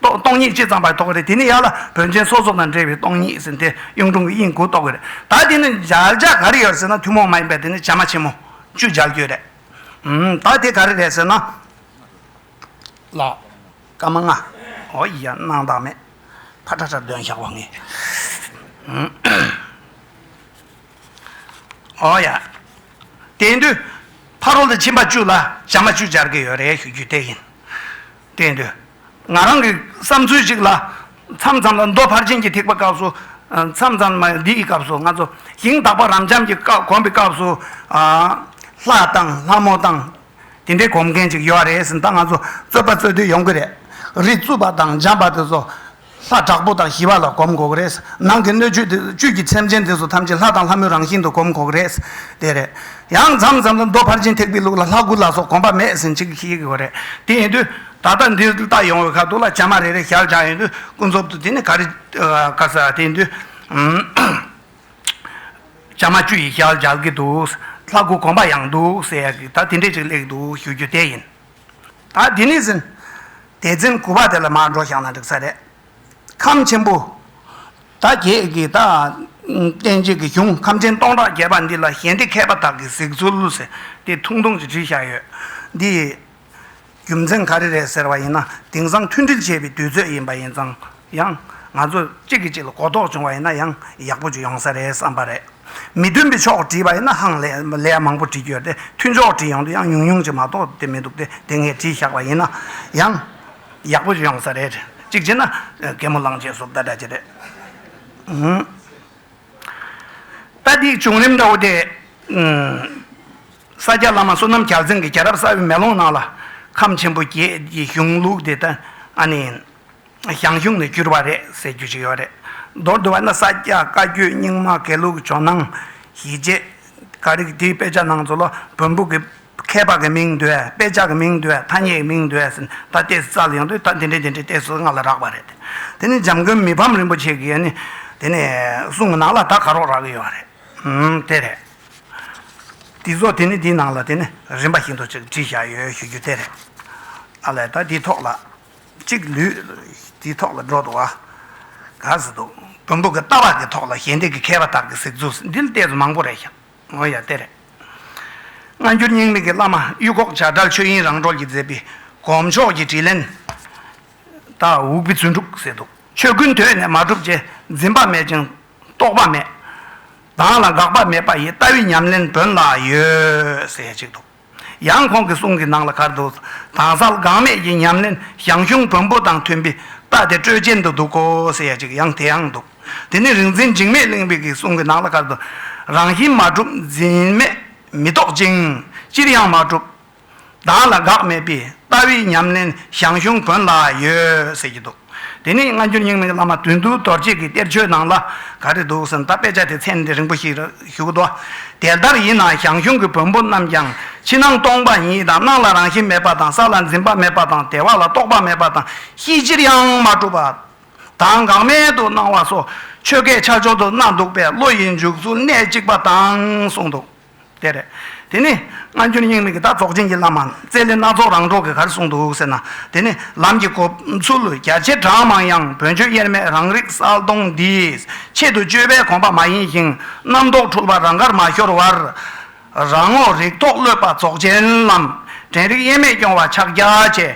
སྟོང་ཉིད་སྤྱི་ཙམ་པར་རྟོགས་རེད་དེ་ནི་ཡར་ལ་བོན་ཆེན་སོ་སོ་དང་འབྲེལ་བའི་སྟོང་ཉིད་ཟིན་ཏེ་གཡུང་དྲུང་གི་དབྱིངས་དགུ་རྟོགས་རེད་ད་དེ་ནི་སྦྱར་བྱ་ག་རེ་ཡོད་ཟེར་ན་ཐུན་མོང་མ་ཡིན་པའི་དེ་ནི་བྱེ་སྨྲ་ཆེན་མོ་བཅུ་སྦྱར་རྒྱུ་རེད། ད་དེ་ག་རེ་རེད་ཟེར་ན། ལ། བཀའ་མ་མངག། འོ་ཡིག་ཡང་སྣང་བདག་མེད། ཕ་ཁྲ་ཁྲ་འདོན་བཞག་བ་ངས། འོ་ཡ། དེ་འདུལ། ཕ་རོལ་ཏུ་ཕྱིན་པ་བཅུ་ལ་བྱམས་པ་བཅུ་སྦྱར་གྱི་ཡོད་རེད་ཞུ་རྒྱུ་དེ་ཡིན། དེ་འདུལ། ང་རང་གི་བསམ་ཚུལ་ཅིག་ལ། མཚམས་མཚམས་ལ་མདོ་ཕར་ཕྱིན་གྱི་ཐེག་པ་སྐབས་སུ། མཚམས་མཚམས་ལ་འདི་ཡི་སྐབས་སུ་ང་ཚོ་ཞིང་དག་པ་རབ་འབྱམས་ཀྱི་བསྐོར་བའི་སྐབས་སུ། ལྷ་དང་ལྷ་མོ་དང་དེ་འདྲའི་གོམས་མཁན་ཅིག་ཡོད་རེད་ཟེར་ད་ང་ཚོ་རྩོད་པ་རྩོད་དུས་ཡོང་གི་རེད། རི་བཙུགས་པ་དང་འཇམ་པ་དེ་ཚོ། ལྷ་དྲག་པོ་དང་ཞི་བ་ལ་གོམས་དགོས་གི་རེད། ནང་གི་སྣོད་བཅུད་དེ་ཚོ་བཅུད་ཀྱི་ཚད་མཆན་དེ་ཚོ་ཐམས་ཅད་ལྷ་དང་ལྷ་མོའི་རང་བཞིན་དུ་གོམས་དགོས་གི་རེད། དེ་རེད། ཡང་མཚམས་མཚམས་ལ་མདོ་ཕར་ཕྱིན་ཐེག་པའི་ལུགས་ལ་ལྷ་དགུ་ལ་སོགས་གོམས་པ་མེད་ཟིན་ཅིག་ཤེས་དགོས་རེད། དེ་ཡིན་དུས་ད་ལྟ་འདིར་བལྟ་ཡོང་བའི་ཁ་ཐུག་ལ་བྱ་མ་རེ་རེ་ཞར་བཞག་ཡིན་དུས་ཀུན་རྫོབ་ཏུ་དེ་ནི་ག་རེ། དེ་ཡིན་དུས། ལྕང་མ་བཅུ་ཡིས་ཤར་སྦྱར་གྱི་འདུག། ལྷ་སྐུ་བསྒོམ་པ་ཡང་འདུག་ཟེར་ཡ་གི་ད་དེ་འདྲས་ཅིག་ལེགས་འདུག་ཞུ་རྒྱུ་དེ་ཡིན། ད་དེ་ནས་ཟིན། དེ་ཚེ་མགུ་བ་དེ་ལ་མར་འགྲོ་བཞག་ན་འགྲིག་ས་རེད། ཁམས་ཆེན་པོ། ད་ཁྱེད་ཀྱིས་ད། བསྟན་བཅོས་ཀྱི་གཞུང་ཁམས་ཆེན་སྟོང་ཕྲག་བརྒྱད་པ་འདི་ལ་གཞན་སྡེ་མཁས་པ་དག་གིས་གཟིགས་ཚུལ་ལོས་དེ་ཐུང་ཐུང་ཅིག་བྲིས་བཞག་ཡོད། འདི། རྒྱུ་མཚན་ག་རེ་རེད་ཟེར་བ་ཡིན་ན་དེང་སང་མཐུན་སྒྲིལ་བྱེད་པའི་དུས་ཚོད་ཡིན་པ་ཡིན་ཙང་ཡང། ང་ཚོ་གཅིག་གིས་གཅིག་ལ་གོ་རྟོགས་བྱུང་བ་ཡིན་ན་ཡང་ཡག་པོ་ཅིག་ཡོང་ས་རེད་བསམ་པ་རེད། མི་མཐུན་པའི་ཕྱོགས་བྲིས་པ་ཡིན་ན་ཧང་ལས་མང་པོ་བྲིས་རྒྱུ་ཡོད་དེ་མཐུན་ཕྱོགས་བྲིས་ཡོང་དུས་ཡང་ཉུང་ཉུང་ཅིག་མ་གཏོགས་དེ་མི་འདུག་དེ་དེ་ངས་བྲིས་བཞག་པ་ཡིན་ན་ཡང། ཡག་པོ་ཅིག་ཡོང་ས་རེད། གཅིག་བྱས་ན་གད་མོ་བླངས་རྗེས་ཟོབ་ད་འདྲ་ཅིག་རེད། ལྟ་འདིའི་བྱུང་རིམ་འདྲ་བོ་དེ། ས་སྐྱ་བླ་མ་བསོད་ནམས་བརྒྱ་རྩིང་གི་རྒྱལ་རབས་གསར་བའི་མེ་ལོང་ནང་ལ། ཁམས་ཆེན་པོ་བརྒྱད་ཀྱི་གཞུང་ལུགས་དེ་དག་ནི། ཞང་ཞུང་ནས་བསྐྱུར་བ་རེད་ཟེར་རྒྱུ་ཞིག་ཡོད་རེད། མདོར་བསྡུ་བ་ན་ས་སྐྱ་བཀའ་བརྒྱུད་རྙིང་མ་དགེ་ལུགས་ཇོ་ནང་གཞིས་བྱེས་འགའ་རེས་དེའི་དཔེ་ཆ་ནང་ཚུར་ལོ་བོན་པོ་གི་མཁས་པ་གི་མིང་འདོད་དཔེ་ཆ་གི་མིང་འདོད་ཐ་སྙད་ཀྱི་མིང་འདོད་ཟེར་ནས་ད་ལྟའི་རྩ་ལ་ཡོང་དུས་ད་དེ་འདྲའི་དེ་འདྲའི་ལྟས་སུ་ང་ལ་རག་པ་རེད། དེ་ནི་འཇམ་མགོན་མི་ཕམ་རིན་པོ་ཆེ་གིས་ནི་དེ་ནི་གསུངས་ནང་ལ་ད་ག་རོགས་རག་གི་ཡོད་རེད། དེ་རེད། འདི་ཚོ་དེ་ནི་འདིའི་ནང་ལ་དེ་ནི་རིམ་པ་བཞིན་དུ་ཅིག་བྲིས་བཞག་ཡོད་ཞུ་རྒྱུ་དེ་རེད། ཨ་ལས་ད་འདིའི་ཐོག་ལ་ཅིག་ལུས། འདིའི་ཐོག་ལ་འགྲོ་འདུག་ཨ། ག་ཟེར་འདུག་བོན་པོ་གི་ལྟ་བ་གི་ཐོག་ལ་ཞལ་འདེབས་ཀི་མཁས་པ་དག་གི་གཟིགས་ཚུལ་འདི་ལ་བལྟས་ཚུལ་མང་པོ་རེད་བཞག་ངོ་ཡ་དེ་རེད། སྔ་འགྱུར་རྙིང་མིག་གི་བླ་མ་གཡུ་ཁོག་བྱ་བྲལ་ཆོས་དབྱིངས་རང་གྲོལ་གྱིས་མཛད་པའི་གོམས་ཕྱོགས་ཀྱི་དྲིས་ལན། དྭོགས་པའི་བརྩོན་འགྲུས་ཟེར་འདུག་ཆོས་ཀུན་དོན་ནས་མ་གྲུབ་ཅེས་འཛིན་པ་མེད་ཅིང། རྟོག་པ་མེད། བདག་ལ་དགག་པ་མེད་པ་ཡི་ལྟ་བའི་ཉམས་ལེན་བོན་ལ་ཡོད་ཟེར་གཅིག་འདུག་ཡང་ཁོང་གི་གསུང་གི་ནང་ལ་གར་དུ་དྭངས་གསལ་དགག་མེད་ཀྱི་ཉམས་ལེན་ཞང་ཞུང་བོན་པོ་དང་མཐུན་པའི་རྟ་དེ་སྤྲོས་ཅན་དུ་འདུག་གོ་ཟེར་ཡ་གཅིག་ཡང་དེའང་འདུག་དེ་ནི་རིག་འཛིན་འཇིགས་མེད་གླིང་པའི་གི་གསུང་གི་ནང་ལ་གར་དུ་རང་བཞིན་མ་གྲུབ་འཛིན་མེད་མི་རྟོག་ཅིང་ཅིར་ཡང་མ་གྲུབ། བདག་ལ་དགག་མེད་པའི་ལྟ་བའི་ཉམས་ལེན་ཞང་ཞུང་དགོན་ལ་ཡོད་ཟེར་གྱི་འདུག་དེ་ནས་སྔ་འགྱུར་རྙིང་མའི་བླ་མ་དོན་འདུལ་རྡོ་རྗེས་ཀྱི་གཏེར་ཆོས་ནང་ལ་ག་རེ་འདུག་ཟེར་ན་ད་དཔེ་ཆ་དེ་མཚན་དེ་རིང་པོ་ཞིག་བཞུགས་འདུག་དེ་ལྟར་ཡིན་ན་ཞང་ཞུང་གི་བོན་པོ་རྣམས་ཀྱང་ཕྱི་ནང་སྟོང་པ་ཉིད་དང་སྣང་ལ་རང་བཞིན་མེད་པ་དང་ས་ལ་འཛིན་པ་མེད་པ་དང་དལ་བ་ལ་རྟོག་པ་མེད་པ་དང་གཤིས་ཅིར་ཡང་མ་གྲུབ་པ་དང་འགག་མེད་དུ་སྣང་བ་སོགས་ཆོས་སྐད་ཆ་འཇོག་ཏུ་གནང་འདུག་པས་བློ་ཡི་འཇུག་ཚུལ་གནད་གཅིག་པ་དང་གསུངས་འདུག། དེ་རེད། དེ་ནས་སྔ་འགྱུར་རྙིང་མིག་གི་བརྡ་རྫོགས་ཅན་གྱི་བླ་མ་རྩེ་ལེ་སྣ་ཚོགས་རང་གྲོགས་ཀྱི་གར་གསུངས་འདུག་ཟེར་ན་དེ་ནི་ལམ་གྱི་གོ་ཚུལ་རྒྱ་ཆེ་གྲངས་མང་ཡང་བོན་ཆོས་དབྱེར་མེད་རང་རིག་གསལ་སྟོང་འདིས་ཆེད་དུ་བཅོས་པའི་གོམས་པ་མ་ཡིན་ཞིང་རྣམ་རྟོག་འཁྲུལ་པ་རང་གར་མ་ཤོར་བར། རང་ངོ་རིག་ཐོག་ཀློད་པ་རྫོགས་ཆེན་ལམ། དྲན་རིག་དབྱེར་མེད་སྐྱོང་བ་ཕྱག་རྒྱ་ཆེ།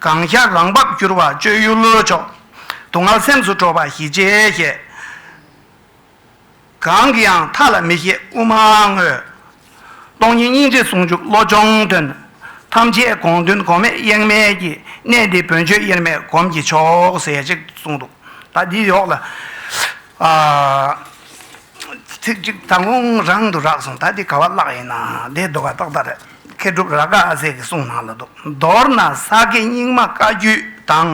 གང་ཤར་རང་བབས་བསྐྱུར་བ་སྤྱོད་ཡུལ་མཆོག། དུག་ལྔ་སེམས་སུ་སྤྲོ་བ་ཞི་བྱེད་ཞེས། གང་གིས་ཡང་མཐའ་ལ་མི་ཤེས་དབུ་མ་དངོས། སྟོང་ཉིད་སྙིང་རྗེ་ཟུང་འཇུག་བློ་སྦྱོང་དོན། ཐམས་ཅད་དགོངས་དོན་གོ་མེད་གཡེང་མེད་ཀྱི། གནད་འདི་བོན་ཆོས་དབྱེར་མེད་སྒོམ་གྱི་མཆོག། ཟེར་ཅིག་གསུངས་འདུག་ད་འདི་ཡོག་ལ། ཚིག་གཅིག་ད་ངོ་རང་དུ་རག་སོང་ད་འདི་ག་བ་བཀླགས་ཡིན་ན་འདི་ཟློ་ག་ཏོག་ད་རེད། མཁས་གྲུབ་རཱ་ག་ཨ་ཟས་ཀྱི་གསུང་ནང་ལ་འདུག་མདོར་ན་ས་དགེ་རྙིང་མ་བཀའ་བརྒྱུད་དང་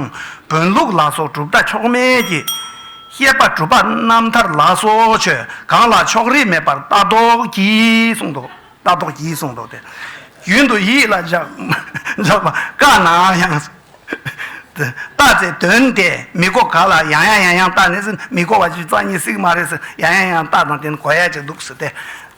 བོན་ལུགས་ལ་སོགས་གྲུབ་མཐའ་ཕྱོགས་མེད་ཀྱི། བཤད་པ་གྲུབ་པ་རྣམ་ཐར་ལ་སོགས་ཆོས་གང་ལ་ཕྱོགས་རིས་མེད་པར་ལྟ་རྟོག་གྱིས་གསུངས་འདུག་ལྟ་རྟོག་གྱིས་གསུངས་འདུག་སྟེ། རྒྱུན་དུ་ཡིད་ལ་འཇགས་པ་དཀའ་ན་ཡང། བཏགས་ཚེ་དོན་དེ་མི་གོ་ག་ལ་ཡང་ཡང་ཡང་ཡང་བཏགས་ནས་སུ་མི་གོ་བ་ཅིག་རྩ་གཉིས་སྲིག་མ་རེད་ཟེར་ཡང་ཡང་ཡང་བཏགས་དང་དེ་ནི་གོ་ཡ་གཅིག་འདུག་ཟེར་ཏེ།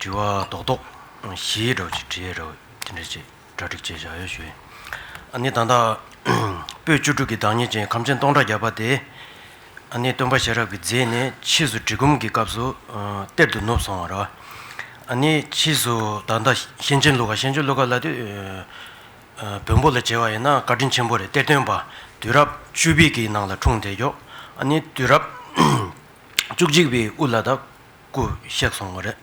དྲི་བ། རྡོག་རྡོག། བཞིའི་སྒྲ་བརྗོད་དྲི་ཡའི་སྒྲ་འོད་དེ་འདྲ་བྱེད་སྒྲ་སྒྲིག་བྱེད་བྱ་ཡོད་ཞུ། ཨ་ནི་དང་དང། པོད་བཅུ་དྲུག་གི་བདག་ཉིད་ཅན་ཁམས་ཅན་སྟོང་ཕྲག་བརྒྱ་པ་དེ། ཨ་ནི་སྟོན་པ་ཤེས་རབ་ཀྱི་རྫས་ནི་ཕྱིས་སུ་གྲི་གུམ་གྱི་སྐབས་སུ་གཏེར་དུ་ནུབ་སོང་བ་ར། ཨ་ནི་ཕྱིས་སུ་ད་ལྟ་གཤེན་ཆེན་ཀླུ་ཁ་གཤེན་ཆེན་ཀླུ་ཁ་ལ་དུས་བོན་པོ་ལ་བྱེད་པ་ཡིན་ན་བཀའ་དྲིན་ཆེན་པོ་རེད་གཏེར་སྟོན་པ་དུས་རབས་བཅུ་བི་གི་ནང་ལ་འཁྲུངས་དེ་མགྱོགས་ཨ་ནི་དུས་རབས་བཅུ་གཅིག་བི་དབུ་ལ་ད་སྐུ་གཤེགས་སོང་བ་རེད།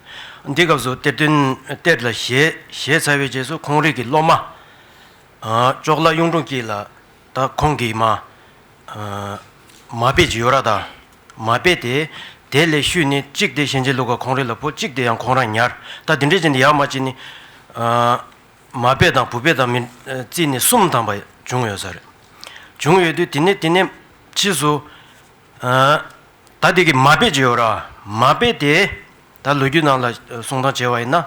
འདི་སྐབས་སུ་གཏེར་སྟོན་གཏེར་ལ་བཞེས་བཞེས་ཚར་བའི་རྗེས་སུ་ཁོང་རིགས་ཀྱི་སློབ་མ། ཅོག་བླ་གཡུང་དྲུང་སྐྱིད་ལ་ད་ཁོང་གིས་མ། མ་དཔེ་ཇི་ཡོད་ར་དང་མ་སྤེལ་ཏེ། དེ་ལས་ཤུལ་ནི་གཅིག་དེ་གཤེན་རྗེ་ལུགས་ཀ་ཁོང་རིགས་ལ་བུ་གཅིག་དེ་ཡང་ཁོང་རང་ཉར་ད་དེ་འདྲའི་ཅན་དེ་ཡར་མ་གཅིག་ནི། མ་སྤེལ་དང་བུ་སྤེལ་དང་མི་རྩིས་ནི་གསུམ་དང་པ་བྱུང་ཡོད་ས་རེད། བྱུང་ཡོད་དུས་དེ་ནས་དེ་ནས་ཕྱིས་སུ། ད་དེ་གི་མ་དཔེ་བྱས་ཡོད་ར། མ་དཔེ་དེས་ད་ལོ་རྒྱུས་ནང་ལ་གསུང་སྟངས་བྱས་བ་ཡིན་ན།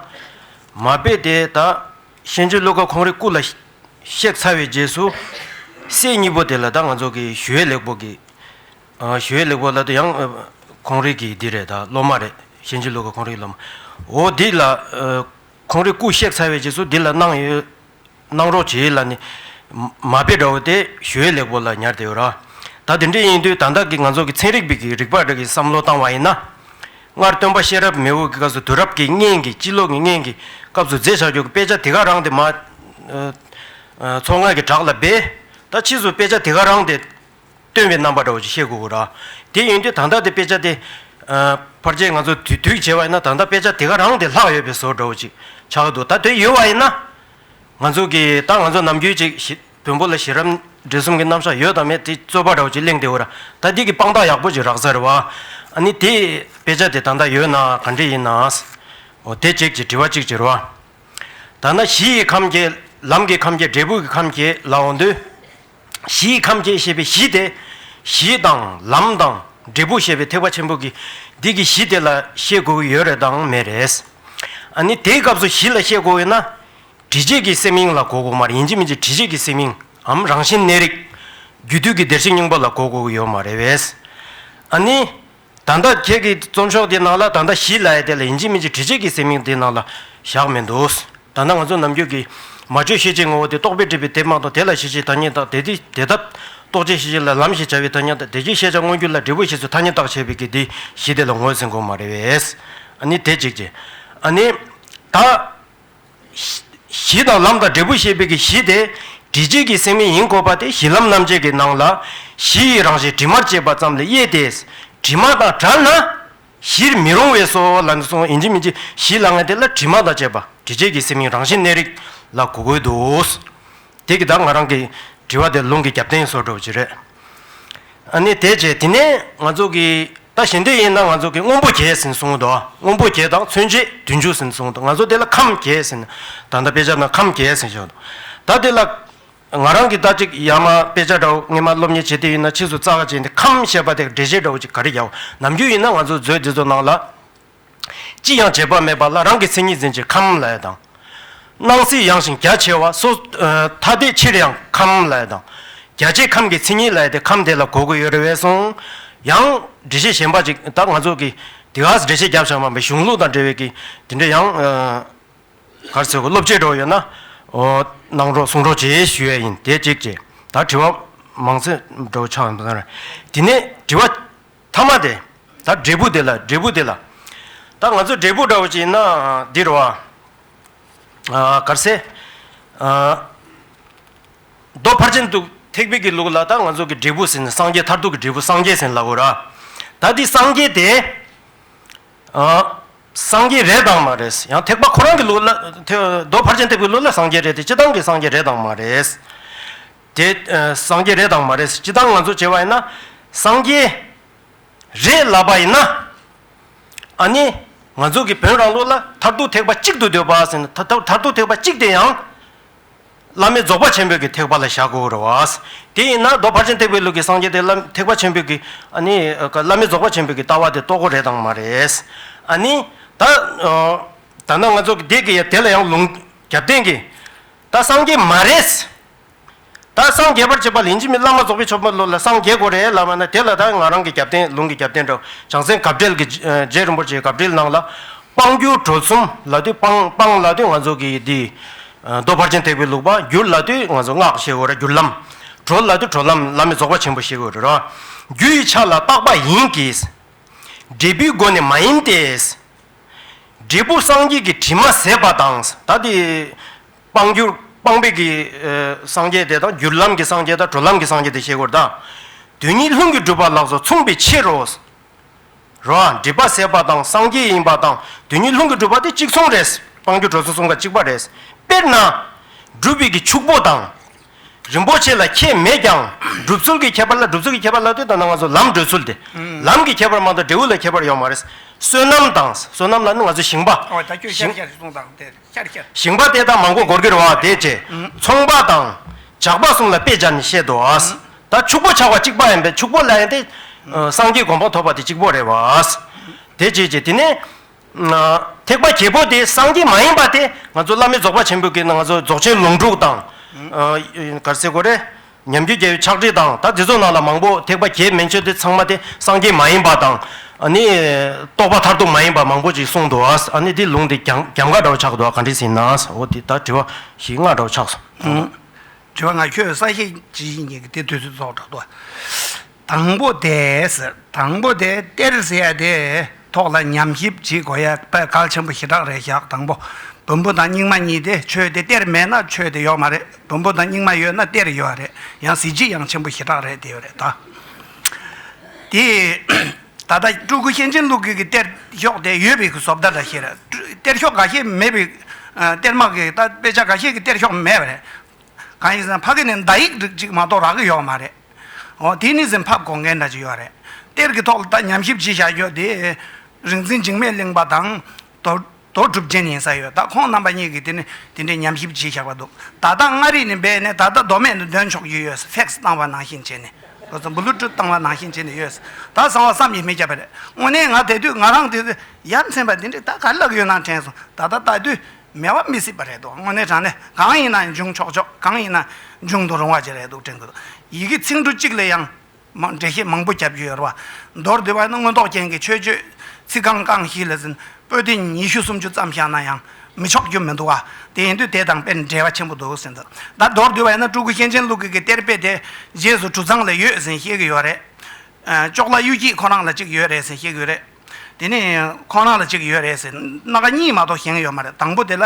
མ་དཔེ་དེས་ད་གཤེན་རྗེ་བློ་དགའ་ཁོང་རེ་སྐུ་ལ་གཤེགས་ཚར་བའི་རྗེས་སུ། སྲས་གཉིས་པོ་དེ་ལ་ད་ང་ཚོ་གི་ཞུ་ཡས་ལེགས་པོ་གི། ཞུ་ཡས་ལེགས་པོ་ལ་ད་ཡང་ཁོང་རེ་གི་འདི་རེ་ད་སློབ་མ་རེ་གཤེན་རྗེ་བློ་དགའ་ཁོང་རེ་གི་སློབ་མ། འོ་འདི་ལ་ཁོང་རེ་སྐུ་གཤེགས་ཚར་བའི་རྗེས་སུ་འདི་ལ་གནང་ཡོད། གནང་རོགས་བྱས་ལ་ནི། མ་དཔེ་འདྲ་བོ་དེ་ཞོའི་ལེགས་པོ་ལ་ཉར་དེ་ཡོད་ར། ད་དེ་འདྲས་ཡིན་དུས་ད་ལྟ་གི་ང་ཚོ་གི་ཚན་རིག་པས་གི་རིག་པ་འདྲ་གི་བསམ་བློ་བཏང་བ་ཡིན་ན། སྔར་སྟོན་པ་ཤེས་རབ་མེ་འོད་གི་སྐབས་སུ་དུས་རབས་ཀྱི་སྙན་གི་སྤྱི་ལོ་གི་སྙན་གི་སྐབས་སུ་མཛེས་བྱ་རྒྱུ་གི་དཔེ་ཆ་དེ་ག་རང་དེ་མ། ཚོགས་སྔགས་ཀྱི་བྲག་ལ་སྦས། ད་ཕྱིས་སུ་དཔེ་ཆ་དེ་ག་རང་དེ། སྟོན་པའི་རྣམ་པ་འདྲ་བོ་ཞིག་བཤད་དགོས་གོ། དེ་ཡིན་དུས་ད་ལྟ་དེ་དཔེ་ཆ་དེ། ཕར་ཆེར་ང་ཚོ་དུས་དུས་བྱས་པ་ཡིན་ན་ད་ལྟ་དཔེ་ཆ་དེ་ག་རང་དེ་ལྷག་ཡོད་པའི་བཟོ་འདྲ་བོ་ཅིག་ཆགས་ཀྱི་འདུག་ད་དེ་ཡོད་པ་ཡིན་ན། ང་ཚོ་གི་ད་ང་ཚོ་ནམ་རྒྱུན་ཅིག་བོན་པོ་ལ་ཤེས་རབ་འབྲས་གསུམ་གྱི་རྣམ་གཞག་ཡོད་དམ་མེད་དེ་རྩོད་པ་འདྲ་བོ་ཅིག་གླེང་བསྡད་འོ། ད་འདི་གི་དཔང་རྟགས་ཡག་པོ་ཅིག་རགས་ས་རེད་བ། ཨ་ནི་དེ་དཔེ་ཆ་དེ་ད་ལྟ་ཡོད་ན་ག་འདྲས་ཡིན་ནའང། འོ་དེ་ཅིག་ཅེས་དྲི་བ་གཅིག་བྱེད་རོགས། ད་ནངས་གཞི་ཡི་ཁམས་ཀྱི་ལམ་གྱི་ཁམས་ཀྱི་འབྲས་བུ་གྱི་ཁམས་ཀྱི་ལ་འོང་དུས། གཞིའི་ཁམས་སྐྱེ་ཞེས་པའི་གཞི་དེ། གཞི་དང་ལམ་དང་འབྲས་བུ་ཞེས་པའི་ཐེག་པ་ཆེན་པོ་གི་འདི་གི་གཞི་དེ་ལ་ཤེས་དགོས་ཀྱི་ཡོད་རེད་དང་མེད་རེད། ཨ་ནི་དེའི་སྐབས་སུ་གཞི་ལ་ཤེས་དགོས་ཡོད་ན། དྲི་བྱེད་ཀྱི་སེམས་དབྱིངས་ལ་གོ་དགོས་མ་རེད་ཡིན་གཅིག་མིན་གཅིག་དྲི་བྱེད་ཀྱི་སེམས་དབྱིངས་འམ་རང་བཞིན་གནས་རིགས། རྒྱུ་དུས་ཀྱི་བདེར་གཤེགས་སྙིང་པོ་ལ་གོ་དགོས་ཀྱི་ཡོད་མ་རེད། ཨ་ནི། ད་ལྟ་ཁྱེད་ཀྱི་རྩོམ་ཤོག་དེའི་ནང་ལ་ད་ལྟ་བཞི་ལ་ཡེ་དེ་ལ་ཡིན་གཅིག་མིན་གཅིག་དྲི་བྱེད་ཀྱི་སེམས་གཡེང་དེའི་ནང་ལ་བཞག་མེད་འདུག་ད་ལྟ་ང་ཚོ་ནམ་རྒྱུན་གྱི་མ་བཅོས་ཤེས་བྱའི་ངོ་བོ་དེ་རྟོག་པས་བསྒྲིབས་པའི་དེབ་མང་དང་དེ་ལ་ཤེས་བྱའི་ཐ་སྙད་དག་དེ་དེ་དེ་ཐབས་རྟོག་བྱའི་ཤེས་བྱ་ལ་ལམ་ཞེས་བྱ་བའི་ཐ་སྙད་དག་དེ་ཀྱི་ཤེས་བྱ་མངོན་གྱུར་ལ་འབྲས་བུ་ཞེས་སུ་ཐ་སྙད་བཏགས་བྱས་པའི་གི་དེ་བཞི་དེ་ལ་ངོས་ཟིན་དགོས་མ་རེད། ཨ་ནི་དེ་གཅིག་རྗེས་ཨ་ནི། ད། གཞི་དང་ལམ་དང་འབྲས་བུ་ཤེས་པའི་གི་གཞི་དེ། དྲི་བྱེད་ཀྱི་སེམས་མེ་ཡིན་འཁོར་བ་དེ་གཞི་ལམ་རྣམ་བཅད་ཀྱི་ནང་ལ། གཞི་ཡི་རང་བཞིན་དྲི་མར་བཅད་པ་ཙམ་ལས་དབྱེ་སྟེ། དྲི་མ་དང་བྲལ་ན། གཞིར་མི་རུང་བས་སོ། ལ་ནི་སོང་ཨིན་ཇི་མིན་ཅི། གཞི་ལ་ངེས་དེ་ལ་དྲི་མ་དང་བཅས་པ་དྲི་བྱེད་ཀྱི་སེམས་ཡིན་རང་བཞིན་གནས་རིགས་ལ་གོ་དགོས་དོ། དེ་གི་བདག་ང་རང་གི་དྲི་བ་དེ་རླུང་གི་རྒྱབ་རྟེན་སོགས་འགྲོ་བ་ཅི་རེད། ཨ་ནི་དེ་རྗེས་དེ་ནས་ང་ཚོ་གི་ད་ཞེ་འདི་ཡིན་ན་ང་ཚོ་གི་སྔོན་པོ་རྒྱས་ཟིན་གསུངས་དོ། སྔོན་པོ་རྒྱས་དང་མཚོན་བྱེད་དུས་འཇུག་ཟིན་གསུངས་དོ་ང་ཚོ་དེ་ལ་ཁམས་རྒྱས་ཟིན། ད་ལྟ་དཔེ་ཆ་ན་ཁམས་རྒྱས་ཟིན་བྱུང། ད་དེ་ལ་ང་རང་གི་ད་ཅིག་ཡ་མ་དཔེ་ཆ་འདྲ་བོ་སྔས་མ་སློབ་གཉེར་བྱེད་དེ་ཡིན་ན་ཕྱིས་སུ་རྩ་བ་ཅན་དེ་ཁམས་ཞེས་པ་དེ་འགྲེལ་བྱེད་འདྲ་བོ་ཅིག་ག་རེ་རྒྱག་འོ་ནམ་རྒྱུ་ཡིན་ན་ང་ཚོ་མཛོད་འདི་ཚོ་ནང་ལ། ཅི་ཡང་བྱེད་པ་མེད་པ་ལ་རང་གི་མཚན་ཉིད་འཛིན་ཕྱིར་ཁམས་ལ་ཡོད་དང། སྣང་སྲིད་ཡངས་ཤིང་རྒྱ་ཆེ་བ་སོ། ཐ་དད་ཕྱིར་ཡང་ཁམས་ལ་ཡོད་དང། རྒྱ་ཆེའི་ཁམས་ཀྱི་མཚན་ཉིད་ལ་ཡོད་དེ་ཁམས་དེ་ལ་གོ་དགོས་ཡོད་རེ་བས་སོང། ཡང། འགྲེལ་བཤད་གཞན་པ་ཅིག་ད་ང་ཚོ་གིས་དེ་གར་འགྲེལ་བཤད་རྒྱབ་བཞག་མ་པའི་གཞུང་ལུགས་དང་འབྲེལ་བའི་གིས་དེ་འདྲ་ཡང། གར་ཚོད་སློབ་བྱེད་གྲོགས་ཡོད་ན། གནང་རོགས་གསུང་རོགས་བྱེད་ཞུ་ཡས་ཡིན་དེ་གཅིག་བྱས། ད་དྲི་བ་མང་ཚོད་འགྲོ་འཆག་ཡོང་དོན་རེད། དེ་ནས་དྲི་བ། ཐ་མ་དེ། ད་འབྲས་བུ་དེ་ལ་འབྲས་བུ་དེ་ལ། ད་ང་ཚོ་འབྲས་བུ་འདྲ་བོ་ཅིག་ཡིན་ན་འདི་རུ་ཨ། གར་སེ། རྡོ་ཕར་ཕྱིན་འདུག་ཐེག་པེ་ཀི་ལུགས་ལ་ད་ང་ཚོ་གི་འབྲས་བུ་ཟིན་ནས་སངས་རྒྱས་མཐར་ཐུག་གི་འབྲས་བུ་སངས་རྒྱས་ཟིན་ལ་གོ་ར། ད་འདི་སངས་རྒྱས་དེ། སངས་རྒྱས་རེད་དང་མ་རེད། ཡང་ཐེག་པ་ཁོ་རང་གི་ལུགས་ལ། རྡོ་ཕར་ཕྱིན་ཐེག་པའི་ལུགས་ལ་སངས་རྒྱས་རེད་དེ་སྤྱི་བཏང་གི་སངས་རྒྱས་རེད་དང་མ་རེད། དེ་སངས་རྒྱས་རེད་དང་མ་རེད་སྤྱི་བཏང་ང་ཚོ་བྱས་པ་ཡིན་ན། སངས་རྒྱས་རེད་ལབ་པ་ཡིན་ན། ཨ་ནི་ང་ཚོ་གི་བོན་རང་ལུགས་ལ་མཐར་ཐུག་ཐེག་པ་གཅིག་ཏུ་འདོད་པ་ཟེར་ན་ད་མཐར་ཐུག་ཐེག་པ་གཅིག་དེ་ཡང། བླ་མེད་རྫོགས་པ་ཆེན་པོའི་གི་ཐེག་པ་ལ་བཞག་དགོས་རེད་བ། དེ་ཡིན་ན་རྡོ་ཕར་ཕྱིན་ཐེག་པའི་ལུགས་གི་སངས་རྒྱས་དེ་བླ་ཐེག་པ་ཆེན་པོའི་གི་ཨ་ནི་བླ་མེད་རྫོགས་པ་ཆེན་པོའི་གི་ལྟ་བ་དེ་རྟོགས་གོ་རེད་དང་མ་རེད། ཨ་ནི་ད། ད་ནང་ང་ཚོ་གི་དེ་གི་ཡ་དེ་ལ་ཡང་ལུང་རྒྱབ་བརྟེན་གི། ད་སངས་རྒྱས་མ་རེད། ད་སངས་རྒྱས་པར་བྱེད་པ་ལིན་ཅི་མི་བླ་མ་རྫོགས་པའི་ཆོ་འཕང་ལོ་ལ་སངས་རྒྱས་དགོས་རེད་ལབ་པ་ན་དེ་ལ་ད་ང་རང་གི་རྒྱབ་རྟེན་ལུང་གི་རྒྱབ་རྟེན་དུ་བྱང་སེམས་གབ་སྦྲེལ་གྱི་རྗེ་རིན་པོ་ཆེའི་གབ་སྦྲེལ་གནང་ལ། དཔང་བསྒྱུར་གྲོལ་གསུམ་ལ་དུས་དཔང་དཔང་ལ་དུས་ང་ཚོ་གི་འདི། རྡོ་ཕར་ཆེན་ཐེག་པའི་ལུགས་དཔང་བསྒྱུར་ལ་དུས་ང་ཚོ་སྔགས་བཤད་དགོས་ར་བསྒྱུར་ལམ། གྲོལ་ལ་དུས་གྲོལ་ལམ་བླ་མེད་རྫོགས་པ་ཆེན་པོ་བཤད་དགོས་རེད་ར། རྒྱུ་ཡི་ཆ་ལ་རྟག་པ་ཡིན་གྱིས། འབྲས་བུའི་སྒོ་ནས་མ་ཡིན་ཏེ། འབྲས་བུ་སངས་རྒྱས་ཀྱི་དྲི་མ་ཟད་པ་དང། ད་དེ། སྤང་རྒྱུ། སྤངས་པའི་གི། སངས་རྒྱས་དེ་དང་རྒྱུ་ལམ་གྱི་སངས་རྒྱས་དང་གྲོལ་ལམ་གྱི་སངས་རྒྱས་དེ་ཤེས་དགོས་དང། དོན་གཉིས་ལྷུན་གྱིས་གྲུབ་པ་ལགས་སོ་མཚུངས་པའི་ཕྱིར་རོ། རོ། སྒྲིབ་པ་ཟད་པ་དང་སངས་རྒྱས་ཡིན་པ་དང་དོན་གཉིས་ལྷུན་གྱིས་གྲུབ་པ་དེ་གཅིག་མཚུངས་རེད། སྤང་རྒྱུ་གྲོལ་སོ་གསུམ་ཀ་གཅིག་པ་རེད། དཔེར་ན། སྒྲུབ་པའི་གི་ཕྱུག་པོ་དང། རིན་པོ་ཆེ་ལ་ཁྱད་མེད་ཀྱང་སྒྲུབ་ཚུལ་གྱི་ཁྱད་པར་ལ་སྒྲུབ་ཚུལ་གྱི་ཁྱད་པར་ལ་ལྟོས་དང་ན་ང་ཚོ་ལམ་བགྲོད་ཚུལ་དེ། ལམ་གྱི་ཁྱད་པར་མ་གཏོགས་འབྲས་བུ་ལ་ཁྱད་པར་ཡོད་མ་རེད། བསོད་ནམས་དང། བསོད་ནམས་ལ་ནི་ང་ཚོ་ཞིང་པ། ཨོ་ད་ཁྱོད་ཤར་ཤར་ཞིག་གཏོང་དང་དེར། ཞིང་པ་དེ་དག་མང་པོ་སྒོར་གྱི་རོ་བ་དེ་བཅས་ཚོང་པ་དང། ཇག་པ་གསུམ་ལ་དཔེ་སྦྱར་ནས་བཤད་དོ། ད་ཕྱུག་པོ་ཆགས་པ་གཅིག་པ་ཡིན་པས་ཕྱུག་པོ་ལ་ཡིན་ཏེ། སངས་རྒྱས་གོམ་པ་ཐོབ་པ་དེ་གཅིག་པོ་རེད་བ། དེ་བྱས་ཀྱི་དེ་ནས། ཐེག་པ་གྱེས་པོ་དེ་སངས་རྒྱས་མ་ཡིན་པ་དེ་ང་ཚོ་བླ་མེད་རྫོགས་པ་ཆེན་པོའི་གེགས་ན་ང་ཚོ་རྫོགས་ཆེན་ལུང་དྲུག་དང། གར་སའི་གོ་རེ། ཉམས་རྒྱུད་རྒྱལ་བའི་ཕྱག་བྲིས་དང་ད་དེ་ཚོ་ནང་ལ་མང་པོ་ཐེག་པ་གྱེས་མན་ཆོད་དེ་ཚང་མ་དེ་སངས་རྒྱས་མ་ཡིན་པ་དང་ནི་རྟོགས་པ་མཐར་ཐུག་མ་ཡིན་པ་མང་པོ་ཅིག་གསུངས་འདུག་ཨ་ནི་དེ་ལུང་དེ་གྱང་གྱམ་ག་འདྲ་བོ་ཆགས་འདུག་ག་འདྲས་ཟིན་ན་འོ་དེ་ད་དྲི་བ་ཞིག་སྔ་འདྲ་བོ་ཆགས་སོང། དྲི་བ་ང་ཁྱོད་ས་ཞེས་ཇི་བཞིན་ཉིད་ཀྱི་དེ་དུས་སུ་རྫོགས་དྲག་ཏུ། དང་པོ་དེས་དང་པོ་དེ་སྟེར་ཟེར་ཡ་དེ་ཐོག་ལ་ཉམས་ཞིབ་བྱེད་དགོས་ཡ་པད་གལ་ཆེན་པོ་ཞེ་དྲག་རེད་བཞག་དང་པོ་བོན་པོ་དང་རྙིང་མ་གཉིས་དེ་ཆོས་དེ་སྟེར་མེད་ན་ཆོས་དེ་ཡོག་མ་རེད་བོན་པོ་དང་རྙིང་མ་ཡོད་ན་སྟེར་ཡོད་རེད་ཡང་གཟི་བརྗིད་ཡང་ཆེན་པོ་ཞེ་དྲག་རེད་དེ་ཡོད་རེད་ད། དེ་ད་ལྟ་སྤྲུལ་སྐུ་གཤེན་ཆེན་ཀླུ་སྒེར་གྱི་སྟེར་ཤོག་དེ་ཡོད་པའི་བཟོ་བདར་འདྲ་ཞིག་རེད་སྟེར་ཤོག་འགའ་ཤས་མེད་པའི་སྟེར་མ་གི་ད་དཔེ་ཆ་འགའ་ཤས་ཀྱི་སྟེར་ཤོག་མེད་པ་རེད་གང་ཡིན་ཟེར་ན་ཕ་གི་ནས་མདའ་ཡིག་རིགས་གཅིག་མ་གཏོགས་རག་གི་ཡོག་མ་རེད། ཨོ། དེ་ནི་ཟིན་ཕབ་གོ་མཁན་འདྲ་ཅིག་ཡོད་རེད། གཏེར་གྱི་ཐོག་ལ་ད་ཉམས་ཞིབ་ཅིག་བྱ་རྒྱུ་དེ། རིག་འཛིན་འཇིགས་མེད་གླིང་པ་དང། དོ། དོ་གྲུབ་རྒྱན་ཡིན་ས་ཡོད་ད་ཁོང་རྣམ་པ་གཉིས་ཀྱིས་དེ་ནི་དེ་འདྲའི་ཉམས་ཞིབ་བྱས་བཞག་པ་འདུག་ད་ལྟ་མངའ་རིས་ནས་སྦས་ནས་ད་ལྟ་མདོ་སྨད་དུ་འདོན་ཆོག་རྒྱུ་ཡོད་ཕེག་སི་བཏང་བ་ནང་བཞིན་བྱས་ནས། ལོ་ཙཱ་འབུ་ལུ་ཀྲུ་བཏང་བ་ནང་བཞིན་བྱས་ནས་ཡོད། ད་བཟང་བ་བསམ་ཡས་མི་ཁྱབ་པ་རེད་དངོས་གནས་ང་དད་དུས་ང་རང་དེ། ཡ་མཚན་པ་དེ་འདྲས་ད་ག་ལ་ལག་ཡོད་ནང་དྲན་སོང་ད་ལྟ་ལྟ་དུས། མེད་པ་མི་སྲིད་པ་རེད་འདུག་དངོས་གནས་དྲང་གནས་གང་ཡིན་ན་འབྱུང་ཆོག་ཆོག་གང་ཡིན་ན་འབྱུང་དུ་རུང་བ་ཅིག་རེད་འདུག་དྲན་གི་འདུག་ཡི་གེ་ཚིག་འབྲུ་གཅིག་ལས་ཡང་འགྲེལ་བཤད་མང་པོ་རྒྱབ་རྒྱུ་ཡོད་རེད་བ། མདོར་བསྡུས་པ་ནི་མངོན་རྟོགས་ཅན་གྱི་ཆོས་སྤྱོད་ཚིག་རྐང་རྐང་ཞིག་ལས་ཟིན་པོ་ཏི་ཉི་ཤུ་སུམ་ཅུ་ཙམ་བཞག་ན་ཡང་མི་ཆོག་རྒྱུ་མི་འདུག་བ། དེ་ཡིན་དུས་དེ་དང་དཔེར་འབྲེལ་བ་ཆེན་པོ་འདུག་ཟིན་ད་མདོར་བསྡུས་པ་ཡིན་ན་སྤྲུལ་སྐུ་གཤེན་ཆེན་ཀླུ་དགེ་གི་གཏེར་དཔེ་དེ་རྗེས་སུ་གྲུ་ཚང་ལ་ཡོད་ཟིན་བཤད་གི་ཡོད་རེད། ཅོག་ལ་གཡུ་སྐྱིད་ཁོ་རང་ལ་ཅིག་ཡོད་རེད་ཟིན་བཤད་གི་ཡོད་རེད། དེ་ནས་ཁོང་རང་ལ་གཅིག་ཡོད་རེད་ཟེར་སྣ་ཁ་གཉིས་མ་གཏོགས་གཞན་ཡོད་མ་རེད་དང་པོ་དེ་ལ་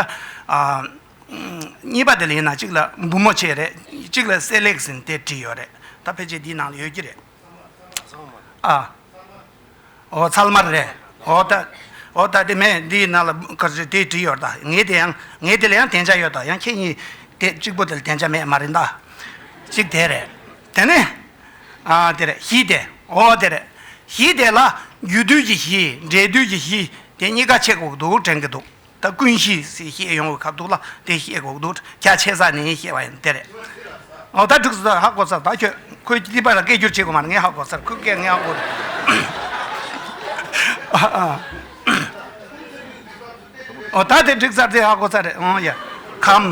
གཉིས་པ་དེ་ལ་ཡིན་ན་གཅིག་ལ་འབུ་མོ་ཆེ་རེད་གཅིག་ལ་སྲེ་ལེགས་ཟིན་དེ་བྲིས་ཡོད་རེད་ད་ཕལ་ཆེར་འདིའི་ནང་ལ་ཡོད་ཀྱི་རེད། ཨ། ཨོ་ཚལ་མར་རེད་ཨོ་ད་ཨོ་ད་དེ་མེད་འདིའི་ནང་ལ་དེ་བྲིས་ཡོད་ད་ངའི་དེ་ཡང་ངའི་དེ་ལ་ཡང་དན་ཆ་ཡོད་ད་ཡང་ཁྱེད་གཉིས་དེ་གཅིག་པོ་དེ་ལ་དན་ཆ་མེད་མ་རེད་ད་གཅིག་དེ་རེད་དེ་ནས་གཞི་དེ། འོ་དེ་རེད། གཞི་དེ་ལ་རྒྱུ་དུས་ཀྱི་གཞི། འབྲས་དུས་ཀྱི་གཞི། དེ་གཉིས་ཀ་ཆེ་གོག་འདུག་དྲན་གི་འདུག་ད་ཀུན་གཞི་ཞེས་བཤད་ཡོང་བའི་ཁ་ཐུག་ལ་དེ་བཤད་གོག་འདུག་རྒྱ་ཆེ་ས་ནས་བཤད་པ་ཡིན་དེ་རེད། འོ་ད་འགྲིགས་སོ་ཧ་གོ་ས་ད་ཁྱོད་ཁོའི་ལྟི་པ་ལ་སྐད་སྒྱུར་བྱེད་དགོས་མ་རེད་ངས་ཧ་གོ་ས་རེད་ཁོའི་སྐད་ངས་ཧ་གོ་རེད། འོ་ད་དེ་འགྲིགས་ས་དེ་ཧ་གོ་ས་རེད། ཨོང་ཡ། ཁམ།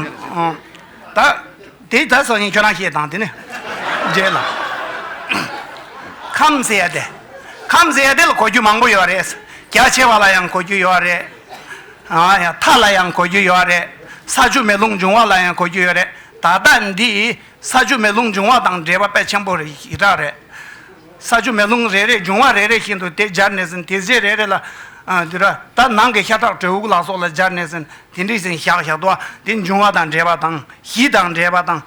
ད། དེ་ད་སོ་ཡིན་ཁྱོད་རང་ཤེས་དང་དེ་ནི། རྗེས་ལ། ཁམས་ཟེར་ཏེ། ཁམས་ཟེར་དེ་ལ་གོ་རྒྱུ་མང་པོ་ཡོད་རེད། རྒྱ་ཆེ་བ་ལ་ཡང་གོ་རྒྱུ་ཡོད་རེད། ཨ་ཡ་ཐ་ལ་ཡང་གོ་རྒྱུ་ཡོད་རེད། ས་ཆུ་མེ་རླུང་འབྱུང་བ་ལ་ཡང་གོ་རྒྱུ་ཡོད་རེད། ད་ལྟ་འདི་ས་ཆུ་མེ་རླུང་འབྱུང་བ་དང་འབྲེལ་བ་དཔེ་ཆེན་པོ་རེ་ཞིག་གྲགས་རེད། ས་ཆུ་མེ་རླུང་རེ་རེ་འབྱུང་བ་རེ་རེ་བཞིན་དུ་དེ་སྦྱར་ནས་ཟིན་དེ་རྫས་རེ་རེ་ལ། དུད་ར་དང་ནང་གི་ཤ་ཁྲག་དྲོད་དབུགས་ལ་སོགས་ལ་སྦྱར་ནས་ཟིན་དེ་འདྲིས་ཟིན་ཞག་ཞག་ཏུ་དེ་འབྱུང་བ་དང་འབྲེལ་བ་དང་གཞི་དང་འབྲེལ་བ་དང།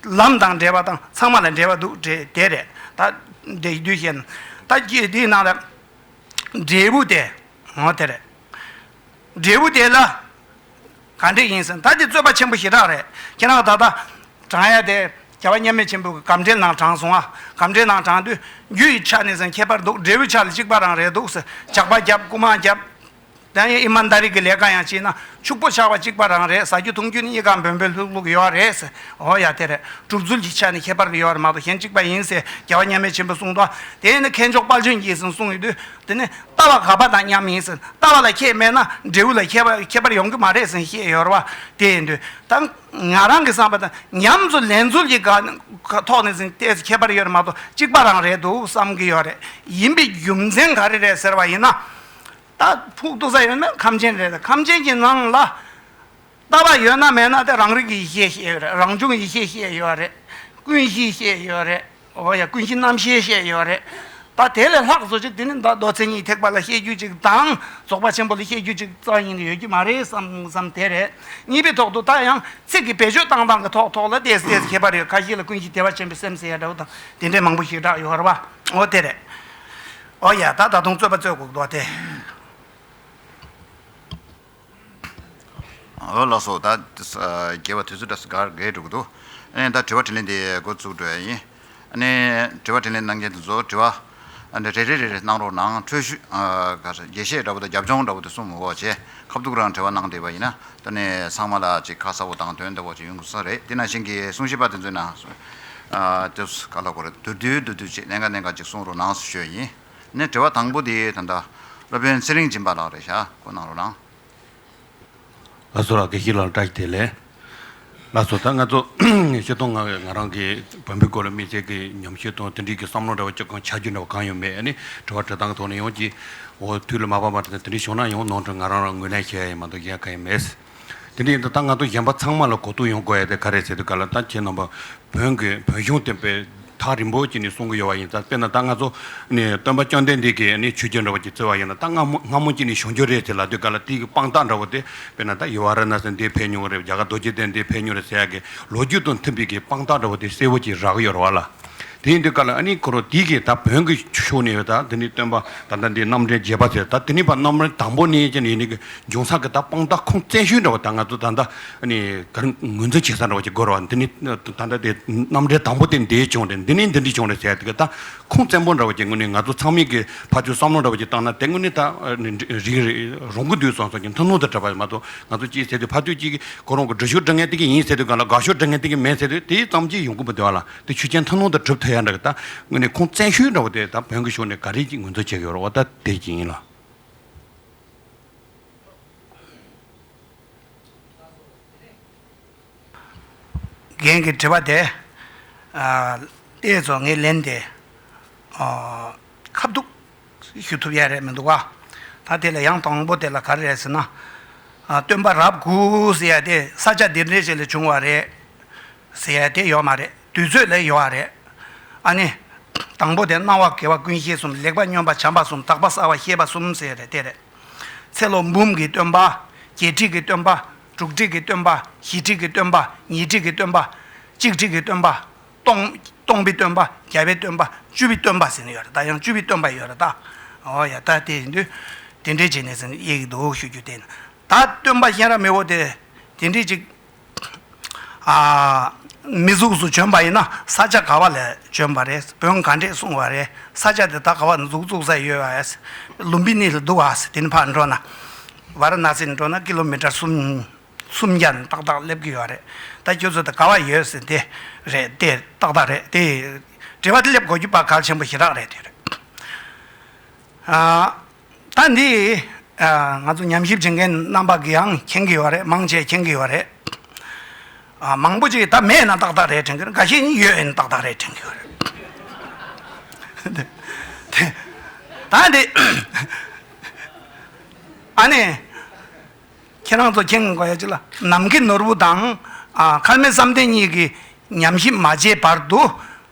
ལམ་དང་འབྲེལ་བ་དང་ཚང་མ་ལ་འབྲེལ་བ་འདུག་དེ་དེ་རེད་ད། འདི་བཞི་དུས་བཞིན་ད་ཀྱི་དེའི་ནང་ལ། འབྲས་བུ་དེ་འོ་དེ་རེད། འབྲས་བུ་དེ་ལ། གང་འདྲས་ཡིན་ཟེར་ད་འདི་རྩོད་པ་ཆེན་པོ་ཞེ་དྲག་རེད་ཁྱེད་རང་ད་ལྟ། བགྲང་ཡ་དེ། རྒྱལ་བ་མཉམ་མེད་ཆེན་པོའི་གི་གམ་འགྲེལ་ནང་དྲངས་སོང་ཨ། གམ་འགྲེལ་ནང་དྲངས་དུས། རྒྱུ་ཡི་ཆ་ནས་ཟེར་ཁྱད་པར་འདུག་འབྲས་བུའི་ཆ་ལ་གཅིག་པ་རང་རེད་འདུག་ཟེར་ཇག་པ་རྒྱབ་རྐུ་མ་རྒྱབ། དེ་ཡང་ཨི་མཱན་དཱ་རི་གི་ལས་ཀ་ཡང་བྱས་ན་ཕྱུག་པོ་ཆགས་པ་གཅིག་པ་རང་རེད་ཟ་རྒྱུ་འཐུང་རྒྱུ་ནི་གཉིས་ཀ་འབོལ་འབོལ་ལྷུག་ལྷུག་ཡོད་བ་རེད་ཟེར་འོ་ཡ་དེ་རེད་གྲུབ་ཚུལ་གྱི་ཆ་ནས་ཁྱད་པར་གི་ཡོད་བ་རེད་མ་གཏོགས་གཞན་གཅིག་པ་ཡིན་ཟེར་རྒྱལ་བ་མཉམ་མེད་ཆེན་པོས་གསུངས་ཏོ། དེ་ཡིན་ན་མཁས་མཆོག་དཔལ་ཆོས་འགྱེད་ཟིན་གསུངས་ཡོད་དུས། དེ་ནི་ལྟ་བ་ག་པ་དང་མཉམ་ཡིན་ཟེར། ལྟ་བ་ལ་ཁྱད་མེད་ན་འབྲས་བུ་ལ་ཁྱད་པ་ཁྱད་པར་ཡོང་གི་མ་རེད་ཟེར་བཤད་ཡོད་རེད་བ། དེ་ཡིན་དུས་ད་ང་རང་གི་བསམ་པ་ད་ཉམས་སུ་ལེན་ཚུལ་གྱི་ག་ཐོག་ནས་ཟིན་ལྟས་སུ་ཁྱད་པར་ཡོད་རེད་མ་གཏོགས་གཅིག་པ་རང་རེད་འདུག་བསམ་གྱི་ཡོད་རེད། ཡིན་པའི་རྒྱུ་མཚན་ག་རེ་རེད་ཟེར་བ་ཡིན་ན། ད་ཕུགས་གཏུགས་ས་ཡོད་ན་ཁམས་ཆེན་རེད་ཟེར་ཁམས་ཆེན་གྱི་ནང་ལ། ལྟ་བ་ཡོད་ན་མེད་ན་དེ་རང་རིག་གི་ཡེ་ཤེས་ཤེས་ཡོད་རེད་རང་བྱུང་ཡེ་ཤེས་ཤེས་ཡོད་རེད། ཀུན་གཞི་ཤེས་ཡོད་རེད་འོ་ཡ་ཀུན་གཞི་རྣམ་ཤེས་ཤེས་ཡོད་རེད། ད་དེ་ལས་ལྷག་བཟོ་བྱེད་དེ་ནི་མདོ་མདོ་མཚན་ཉིད་ཐེག་པ་ལ་བཤད་རྒྱུ་ཅིག་དང་རྫོགས་པ་ཆེན་པོ་ལ་བཤད་རྒྱུ་ཅིག་རྩ་གཉིས་ནི་ཡོད་ཀྱི་མ་རེད་བསམ་བསམ་དེ་རེད། གཉིས་པའི་ཐོག་ཏུ་ད་ཡང་ཚིག་གི་བེད་སྤྱོད་བཏང་སྟངས་ཀྱི་ཐོག་ཐོག་ལ་བལྟས་བལྟས་སུ་ཁྱད་པར་ཡོད་ཁ་ཤས་ལ་ཀུན་གཞི་བདེ་བ་ཆེན་པོའི་སེམས་ཟེར་ཡ་འདྲ་བོ་དང་དེ་འདྲའི་མང་པོ་ཞིག་བསྒྲགས་ཡོད་རེད་བ་འོ་དེ་རེད། འོ་ཡ་ད་ད་དུང་རྩོད་པ་རྩོད་དགོས་ཀྱི་འདུག་བ་དེ། འོད་ལགས་སོ། ད་རྒྱལ་བ་དུས་ཚོད་འདྲ་ས་གར་བརྒལ་འགྲོ་གི་འདུག་ཨ་ནས་ད་དྲི་བ་དྲིས་ལན་དེ་འགོ་བཙུགས་འགྲོ་ཡ་ཡིན། ཨ་ནས་དྲི་བ་དྲིས་ལན་གནང་མཁན་དེ་ཚོ་དྲི་བ་རེ་རེ་རེ་རེ་གནང་རོགས་གནང་འཕྲོད་ཞུ། དགེ་བཤེས་འདྲ་པོ་དང་རྒྱབ་ལྗོངས་འདྲ་པོ་དེ་གསུམ་འོག་བྱས་ཁ་བསྡུག་རང་དྲི་བ་གནང་བསྡད་པ་ཡིན་ན་ད་ནས་ཚང་མ་ལ་ཅིག་ཁ་གསལ་བོ་དང་དོན་དག་པོ་ཅིག་ཡོང་དགོས་ས་རེད་དེ་ནང་བཞིན་གྱི་གསུང་བཤད་པ་དེ་ཚོའི་ནང། ཨ། དེ་ཚོ་ག་ལ་གོ་རེད་བསྡུར་དུས་བསྡུར་དུས་ཅིག་གནད་འགག་གནད་འགག་ཅིག་གསུང་རོགས་གནང་ཞུ་ཡ་ཡིན། ནས་དྲི་བ་དང་པོ་དེ་ད། སློབ་དཔོན་ཚེ་རིང་སྦྱིན་པ་ལགས་རེད་བཞག་གོ་གནང་རོགས་གནང། ལ་སོ་ར་གེ་ཤི་ལ་འདྲ་དེ་ལས། ལ་སོ་ད་ང་ཚོ་ཤེས་སྟོང་ང་བས་ང་རང་གི་བོན་པོའི་སྐོར་ལ་དམིགས་བསལ་གི་ཉམས་ཤེས་དང་དེ་འབྲེལ་གྱི་བསམ་བློ་འདྲ་བ་ཅི་གང་ཆ་རྒྱུས་འདྲ་བ་གང་ཡང་མེད་ནི་དྲི་བ་དྲི་སྟངས་ཐོག་ནས་ཡོང་གི་འོ་དུས་ལ་མ་བབས་པ་དེ་འདྲ་ཞུ་ན་ཡང་ནང་ཁྲོལ་ང་རང་རང་ངོས་ལེན་བྱས་ཡ་ཡིན་མ་འདུག་གཞན་གང་ཡང་མེད། དེ་འདྲ་ཡིན་དུས་ད་ང་ཚོ་གཞན་པ་ཚང་མ་ལ་གོ་རྟོགས་ཡོང་དགོས་ཡ་དེ་ག་རེ་བྱས་དུས་ག་ལ་ད་ཁྱེད་རྣམ་པ་བོན་གི་བོན་གཞུང་དེ་པའི་ཐག་རིང་པོ་ཅིག་ནས་གསུང་གི་ཡོད་བ་ཡིན་ད་དཔེར་ན་ད་ང་ཚོ་ནས་སྟོན་པ་བཅོ་ལྡན་འདས་ཀྱིས་ནས་ཆོས་རྒྱལ་འདྲ་བ་ཅིག་བརྩི་བ་ཡིན་ན་ད་སྔ་མོ་སྔ་མོ་ཅིག་ནས་བྱུང་རྒྱུ་རེད་ཅེས་ལབ་དུས་ག་ལ་དེ་ཡི་དཔང་རྟགས་འདྲ་བོ་དེ་དཔེར་ན་ད་ཡི་བ་ར་ན་སི་འདི་ཕེབས་མྱོང་རེད་རྒྱ་གར་རྡོ་རྗེ་གདན་འདི་ཕེབས་མྱོང་རེད་ཟེར་ཡག་གི་ལོ་རྒྱུས་དང་མཐུན་པའི་གི་དཔང་རྟགས་འདྲ་བོ་དེ་གསལ་བོ་ཅིག་རག་གི་ཡོད་རེད་བ་ལ། དེའི་འདི་ག་ལ་ཨ་ནི་ཀོ་རོ་ཏི་གིས་ད་བོན་གྱི་ཤུགས་ནི་ཡོད་ད་དེ་ནི་སྟོན་པ་ད་ལྟ་འདི་རྣམ་འགྲེལ་རྒྱས་པ་ཟེར་ད་དེ་ནི་བ་རྣམ་རོལ་དང་པོ་ནི་ཅི་ནི་ཡིན་ནི་གི་འབྱུང་ས་གི་ད་དཔང་རྟགས་ཁུངས་བཙན་ཤོས་འདྲ་བ་ད་ང་ཚོ་ད་ལྟ་ཨ་ནི་ག་རེ་ངོས་འཛིན་བྱེད་ས་འདྲ་བ་ཅིག་དགོས་རོགས་འདི་ནི་ད་ལྟ་དེ་རྣམ་འགྲེལ་དང་པོ་དེ་འདི་བྱུང་རེད་འདི་ནི་འདི་འདི་བྱུང་རེད་ཟེར་ཏེ་གི་ད་ཁུངས་བཙན་པོ་འདྲ་བ་ཅིག་ངོས་ནས་ང་ཚོ་ཚང་མིག་གི་ཕ་ཆོས་བསམ་བློ་འདྲ་བ་ཅིག་བཏང་ན་དེ་ངོས་ནས་ད་ཨ་ནི་རིག་རེད་རང་གི་དུས་སོང་སོང་གི་མཐུན་ལུང་དུ་བྲིས་པ་མ་གཏོགས་ང་ཚོ་ཅིག་ཟེར་དུས་ཕ་ཆོས་ཅིག་གི་ཁོ་རང་གི་འབྲུ་ཤོག་འབྲི་ངེས་ཏེ་གི་ཡིན་ཟེར་དུས་ག་ལ་དགའ་ཤོག་འབྲི་ངེས་ཏེ་གི་མེད་ཟེར་དུས་དེ་ཙམ་གྱིས་ཡོང་གི་མི་འདུག་ལ། དེ་ཆུ་ཆེན་ཐང་ནོར་དང་གྲུབ་ཐོད་ཡར་འདྲ་གི་ད་དངོས་ནས་ཁོང་བཙན་ཤོས་འདྲ་བོ་དེ་ད་བོན་གྱི་ཕྱོགས་ནས་ག་རེ་གྱིས་ངོས་འཛུགས་བྱེད་ཀྱི་ཡོད་ར་བ་ད་དེ་གྱིས་ཡིན་ལ། རྒན་གྱི་དྲི་བ་དེ་ཨ་ཨེ་ཚོ་ངས་ལན་དེ་ཁ་བསྡུགས་ཞུ་ཐུབ་ཡས་རེད་མི་འདུག་ག། ད་དེ་ལ་ཡང་དང་པོ་དེ་ལ་ག་རེ་རེད་ཟེར་ན། སྟོན་པ་རབས་དགུ་ཟེར་ཡས་དེ་ས་ཆ་འདི་འདྲའི་ཞིག་ལས་བྱུང་བ་རེད། ཟེར་ཡས་དེ་ཡོད་མ་རེད་དུས་ཚོད་ལས་ཡོད་རེད། ཨ་ནི། དང་པོ་དེ་སྣང་བ་དགེ་བ་ཀུན་ཤེས་གསུམ་ལེགས་པ་སྨྱོན་པ་བྱམས་པ་གསུམ་དག་པ་གསར་བ་ཤེས་པ་གསུམ་ཟེར་ཡས་རེད་དེ་རེད། ཚེ་ལོ་འབུམ་གྱི་སྟོན་པ། བརྒྱད་ཁྲི་གི་སྟོན་པ། དྲུག་ཁྲི་གི་སྟོན་པ། བཞི་ཁྲི་གི་སྟོན་པ། ཉིས་ཁྲི་གི་སྟོན་པ། གཅིག་ཁྲི་གི་སྟོན་པ། སྟོང། སྟོང་པའི་སྟོན་པ། བརྒྱད་པའི་སྟོན་པ། བཅུ་པའི་སྟོན་པ་ཟེར་ནི་ཡོད་རེད་ད་ཡང་བཅུ་པའི་སྟོན་པ་ཡོད་རེད་ད། ཨོ་ཡ་ད་དེ་ཡིན་དུས། དེ་འདྲའི་རྗེས་ནས་ཟེར་ནི་ཡག་གི་འདུག་ཞུ་རྒྱུ་དེ་ཡིན། ད་སྟོན་པ་གཤེན་རབ་མི་བོ་དེ། དེ་འདྲའི་ཅིག། ཨ། མི་གཟུགས་སུ་བྱོན་པ་ཡིན་ན་ས་ཆ་ག་བ་ལས་བྱོན་པ་རེད་བོན་ག་འདྲས་གསུངས་བ་རེད་ས་ཆ་དེ་ད་ག་བ་གཟུགས་བཙུགས་ས་ཡོད་ཨ། ལུམ་པི་ནི་ལ་འདུག་ཨ། དེ་ནི་ཕར་འགྲོ་ན། བ་ར་ན་སི་ནས་འགྲོ་ན་ཀི་ལོ་མི་ཀྲ་གསུམ། གསུམ་བརྒྱ་ནི་ཏག་ཏག་སླེབས་ཀྱི་ཡོད་རེད་ད་ཁྱོད་ཚོ་དང་དགའ་བ་ཡོད་ཟེར་དེ་རེད་དེ་ཏག་ཏག་རེད་དེ་དྲི་བ་དེ་སླེབས་དགོས་རྒྱུ་པ་གལ་ཆེན་པོ་ཞེ་དྲག་རེད་དེ་རེད། ད་འདི་ང་ཚོ་ཉམས་ཞིབ་བྱེད་མཁན་རྣམ་པ་གིའང་མཁྱེན་གྱི་ཡོད་རེད་མང་ཆེ་མཁྱེན་གྱི་ཡོད་རེད། མང་པོ་ཅིག་ད་མེད་ན་ཏག་ཏག་རེད་དྲན་གྱི་རེད་འགའ་ཤས་ནི་ཡོད་ཡིན་ཏག་ཏག་རེད་དྲན་གྱི་ཡོད་རེད། ད་འདི་ཨ་ནེ། ཁྱེད་རང་ཚོ་མཁྱེན་དགོས་ཡ་གཅིག་ལ་ནམ་མཁའི་ནོར་བུ་དང་མཁར་མའི་བསམ་གཏན་གཉིས་ཀྱི་ཉམས་ཞིབ་མ་བྱས་བར་དུ་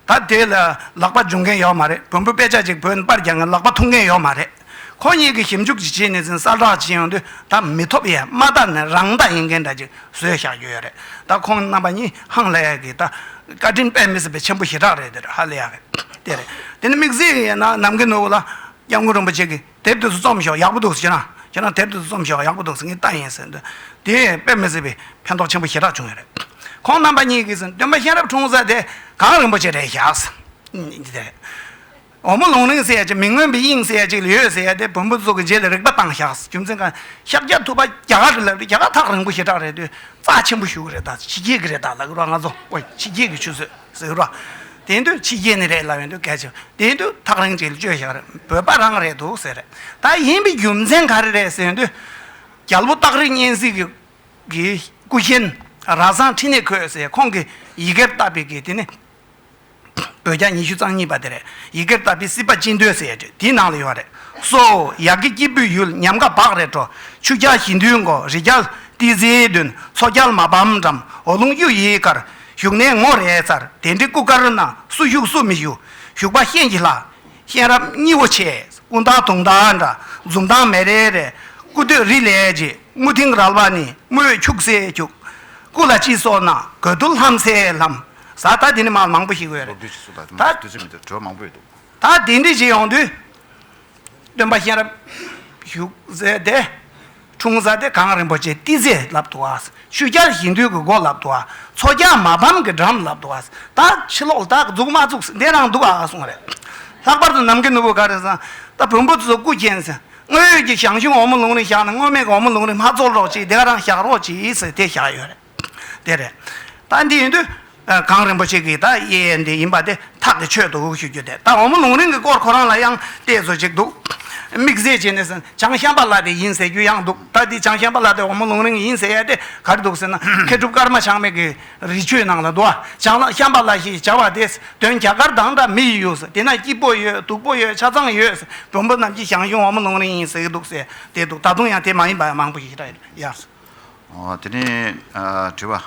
ད་དེ་ལ་ལག་པ་འཇུ་མཁན་ཡོད་མ་རེད་བོན་པོ་དཔེ་ཆ་གཅིག་བོད་པར་རྒྱག་མཁན་ལག་པ་འཐུང་མཁན་ཡོད་མ་རེད་ཁོ་གཉིས་ཀྱི་ཞིབ་འཇུག་བྱས་ནས་ཟིན་གསར་བསྒྲགས་བྱས་ཡོང་དུས་ད་མི་ཐོབ་ཡས་མ་ད་ནི་རང་བདག་ཡིན་མཁན་འདྲ་གཅིག་བཟོས་བཞག་རྒྱུ་ཡོད་རེད་ད་ཁོང་རྣམ་པ་གཉིས་ཧང་ལེ་ཡ་གི་ད་བཀའ་དྲིན་དཔལ་མི་སྲིད་པའི་ཆེན་པོ་ཞེ་དྲག་རེད་དེ་རེད་ཧ་ལེ་ཡ་རེད་དེ་རེད་དེ་ནི་དམིགས་བསལ་ཡས་ན་ནམ་མཁའི་ནོར་བུ་ལ་སྐྱབས་མགོན་རིན་པོ་ཆེ་གི། དེབ་དེ་ཚོ་བརྩམས་ཞོག་ཡག་པོ་འདུག་ཟེར། ཁྱེད་རང་དེབ་དེ་ཚོ་བརྩམས་ཞོག་ཡག་པོ་འདུག་ཟེར་ངས་ལྟ་ཡིན་ཟེར། དེས་དཔེ་མི་སྲིད་པའི་ཕན་ཐོགས་ཆེན་པོ་ཞེ་དྲག་བྱུང་ཡོད་རེད། ཁོང་རྣམ་པ་གཉིས་ཀྱིས་ཟེར། སྟོན་པ་གཤེན་རབ་འཁྲུངས་ས་དེ་གངས་རིན་པོ་ཆེ་རེད་ཞག་ཟེར། འདི་དེ་རེད། འོ་མོ་ལུང་རིང་ཟེར་ཡ་ཅིག་མི་མངོན་པའི་དབྱིངས་ཟེར་ཡ་ཅིག་ཡོད་ཟེར་ཡ་དེ་བོན་པོ་ཚོ་གི་རྗེས་ལ་རིག་པ་བཏང་ཞག་རྒྱུ་མཚན་གང་ཤཱཀྱ་ཐུབ་པ་རྒྱ་གར་གྱི་ལབ་རེད་རྒྱ་གར་ཐག་རིང་པོ་ཞེ་དྲག་རེད་དུས་རྩ་ཆེན་པོ་ཞུ་གི་རེད་ད་ཕྱི་རྒྱལ་གྱི་རེད་ད་ལ་ཀི་རོ་ང་ཚོ་ཀོ་ཕྱི་རྒྱལ་གྱི་ཆུ་ཚོད། ཟེར་རོ། དེ་འདོད་ཕྱི་རྒྱལ་ནས་རེད་ལབ་ཡོང་དུས་སྐད་ཆ་དེ་འདོད་ཐག་རིང་ཅིག་ལ་བཅོས་བཞག་རེད་བོད་པ་རང་རེད་འདུག་ཟེར་རེད་ད་ཡིན་པའི་རྒྱུ་མཚན་ག་རེ་རེད་ཟེར་དུས། རྒྱལ་པོ་སྟག་རི་གཉན་གཟིགས་ཀྱི་གི་སྐུ་གཤེན་ར་བཟང་ཁྲི་ནས་འཁོད་ཟེར་ཁོང་གིས་ཡི་གེར་བཏབ་པའི་གི་དེ་ནི། བོད་རྒྱ་ཉི་ཤུ་རྩང་གཉིས་པ་དེ་རེད་ཡི་གེར་བཏབ་པའི་སྲིད་པ་ཅི་འདོད་ཟེར་དུས་དེའི་ནང་ལ་ཡོད་རེད་སོ། ཡག་གི་སྐྱིད་པོའི་ཡུལ་ཉམས་དགའ་བག་རེ་བྲོ་ཆུ་སྐྱ་ཞི་འདུལ་མགོ་རི་རྒྱལ་ཏི་ཟེའི་མདུན་མཚོ་རྒྱལ་མ་བམ་འགྲམ་འོ་ལུང་གཡུ་ཡི་གར་བཞུགས་གནས་ངོ་རེ་རྩར་གདན་ཁྲི་སྐུ་དཀར་ན་སུ་བཞུགས་སུ་མི་བཞུགས་བཞུགས་པ་གཤེན་གྱི་ལྷ། གཤེན་རབ་སྙི་བོ་ཆེ་སྐུ་མདངས་དུང་ཟླ་འདྲ་འཛུམ་མདངས་མེ་རེ་རེ། སྐུ་སྟོད་རི་ལས་རྗེ་དམུ་དིང་རལ་པ་ནི་དམུས་འཁྱུག་སེ་འཁྱུག། སྐུ་ལ་སྤྱི་སོགས་ན་གོས་རྡུལ་ལྷམ་སེ་ལྷམ། བཟའ་ཟླ་དེ་ནི་མ་མང་པོ་ཞིག་ཡོད་རེད། ད་གདན་ཁྲི་ཆེ་ཡོང་དུས་སྟོན་པ་གཤེན་རབ་བཞུགས་ཟེར་ཏེ། འཁྲུངས་གཟའ་བདེ་གང་རིན་པོ་ཆེ་ཏི་ཛེ་ལབ་ཏུ་བ། ཤུལ་བསྐྱར་གཞིས་འདུས་ཀྱི་སྒོ་ལབ་ཏུ་བ། མཚོ་རྒྱ་མ་ཕམ་གྱི་འགྲམ་ལབ་ཏུ་བ། ད་ཕྱི་ལོག་ད་འཛུགས་མ་བཙུགས་འདས་རང་འདུག་ཨ་གསུང་རེད། ལྷག་པར་དུ་ནམ་མཁའི་ནུ་བོ་ག་རེ་ཟང། ད་བོན་པོ་ཚོ་སྐུ་མཁྱེན། སྔོན་ཡོད་ཀྱི་ཞང་ཞུང་འོ་མ་ལུང་རིང་བཞག་ནས་སྔོན་མེད་ཀྱི་འོ་མ་ལུང་རིང་མ་བཙོར་རོགས་གྱིས་དེ་ག་རང་བཞག་རོགས་གྱིས་ཟེར་དེ་བཞག་ཡོད་རེད། དེ་རེད། ད་འདི་ཡིན་དུས། གངས་རིན་པོ་ཆེ་གིས་ད་དབྱེ་ཡས་འདི་ཡིན་པ་དེ་ཐག་གིས་ཆོད་འདུག་ཞུ་རྒྱུ་དེ་ད་འོ་མོ་ལུང་རིང་གི་སྐོར་ཁོ་རང་ལ་ཡང་བལྟས་བཟོ་བྱེད་འདུག་དམིགས་བསལ་བྱས་ནས་བྱང་ཤམ་པ་ལགས་དེ་ཡིན་ཟེར་རྒྱུ་ཡང་འདུག་ད་འདི་བྱང་ཤམ་པ་ལགས་དེ་འོ་མོ་ལུང་རིང་ཡིན་ཟེར་ཡས་དེ་ག་རེ་འདུག་ཟེར་ན་མཁས་གྲུབ་ཀརྨ་ཆགས་མེད་ཀྱི་རི་ཆོས་ནང་ལ་འདུག་བྱང་ཤམ་པ་ལགས་ཞེས་བྱ་བ་དེས་དོན་རྒྱ་གར་དང་འདྲ་མི་ཡི་ཡོད་དེ་ན་སྐྱིད་པོ་ཡོད་སྡུག་པོ་ཡོད་ཆ་ཚང་ཡོད་མགྲོན་པོ་རྣམས་ཀྱིས་ཞང་ཞུང་འོ་མོ་ལུང་རིང་ཡིན་ཟེར་གྱི་འདུག་ཟེར་བསྡད་འདུག་ད་དུང་ཡང་དེ་མ་ཡིན་པ་མང་པོ་ཞིག་རེད་ཡ། དེ་ནས་དྲི་བ།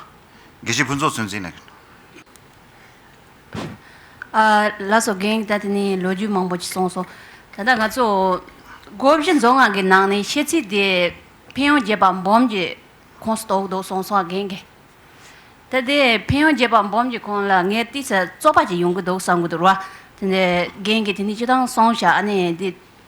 དགེ་བཤེས་ཕུན་ཚོགས་ཚོད་འཛིན་ལགས། ལགས་སོ་རྒན་ད་དེ་ནས་ལོ་རྒྱུས་མང་པོ་ཞིག་གསུངས་སོང། ད་ལྟ་ང་ཚོ་སྒོ་བཞི་མཛོ་ལྔ་གི་ནང་ནས་ཤེས་ཚིག་དེ་ཕན་ཡོན་རྒྱས་པ་འབུམ་གྱི་ཁོངས་སུ་གཏོགས་འདུག་གསུངས་སོང་རྒན་གྱིས། ད་དེ་ཕན་ཡོན་རྒྱས་པ་འབུམ་གྱི་ཁོངས་ལ་ངས་བལྟས་ཚེ་བཙོག་པ་ཅིག་ཡོང་གི་འདུག་བསམ་གྱི་འདུག་ར། དེ་ནས་རྒན་གྱིས་དེ་ནི་ཅི་ཐང་སོང་ཞག་ཨ་ནེ་དེ།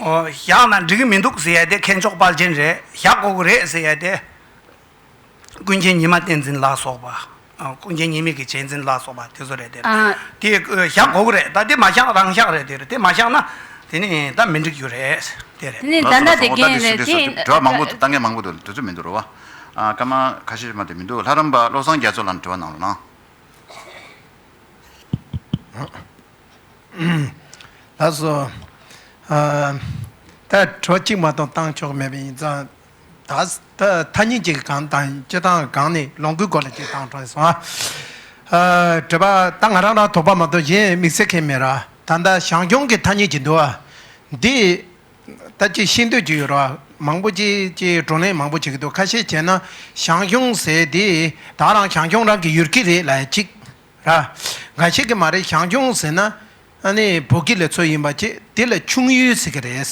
བཞག་ན་འགྲིག་གི་མི་འདུག་ཟེར་ཡས་དེ་མཁས་མཆོག་དཔལ་རྒྱན་རེད་བཞག་དགོས་ཀྱི་རེད་ཟེར་ཡས་དེ། ཀུན་མཁྱེན་ཉི་མ་བསྟན་འཛིན་ལགས་སོགས་པ། ཀུན་མཁྱེན་ཉེས་དམིགས་ཀྱི་བྱས་འཛིན་ལགས་སོགས་པ་དེ་ཚོ་རེད་དེ། དེ་བཞག་དགོས་ཀྱི་རེད་ད་དེ་མ་བཞག་རང་བཞག་རེད་དེ་དེ་མ་བཞག་ན། དེ་ནི་ད་མི་འགྲིག་རྒྱུ་རེད་དེ་རེད། ལགས་སོ་ལགས་སོ་འོ་ད་དེ་ཞུ་དེ་ཟོ་དེ་དྲི་བ་མང་པོ་ལྟ་མཁན་མང་པོ་འདུག་དེ་ཚོ་མི་འདུག་རོ་བ། སྐར་མ་ཁ་ཤས་མ་དེ་མི་འདུག་ལྷ་རམས་པ་བློ་བཟང་རྒྱ་མཚོ་ལ་དྲི་བ་གནང་རོགས་གནང། ད་གཟོད། ད་གྲོ་གཅིག་མ་གཏོགས་བཏང་ཆོག་མེད་པ་ཡིན་ཙང། ད་ཐ་སྙད་ཅིག་གང་དང་ཅི་བཏང་གང་ནི་ལོངས་སྐུའི་སྐོར་ལ་ཅིག་བཏང་དྲགས་སོང་ཨ། དྲི་བ། ད་ང་རང་རང་དོགས་པ་མ་གཏོགས་གཞན་དམིགས་བསལ་མཁན་མེད་ར་ད་ད་ཞང་སྐྱོང་གི་ཐ་སྙད་ཅིག་འདུག་ཨ། འདི། ད་ཅིག་ཤེས་འདོད་ཅིག་ཡོད་ར་མང་པོ་ཅིག་ཅེས་བགྲོ་གླེང་མང་པོ་བྱེད་ཀྱི་འདུག་ཁ་ཤས་བྱས་ན་ཞང་སྐྱོང་ཟེར་དེ་ད་རང་ཞང་སྐྱོང་རང་གི་ཡུལ་གྱི་རེད་ལ་ཅིག། ར། འགའ་ཞིག་གིས་མ་རེད་ཞང་ཞུང་ཟེར་ན་ནི་བོད་སྐད་ལས་ཚོད་ཡིན་པ་ཅི་དེ་ལ་ཆུང་ཡུལ་ཟེར་གི་རེད།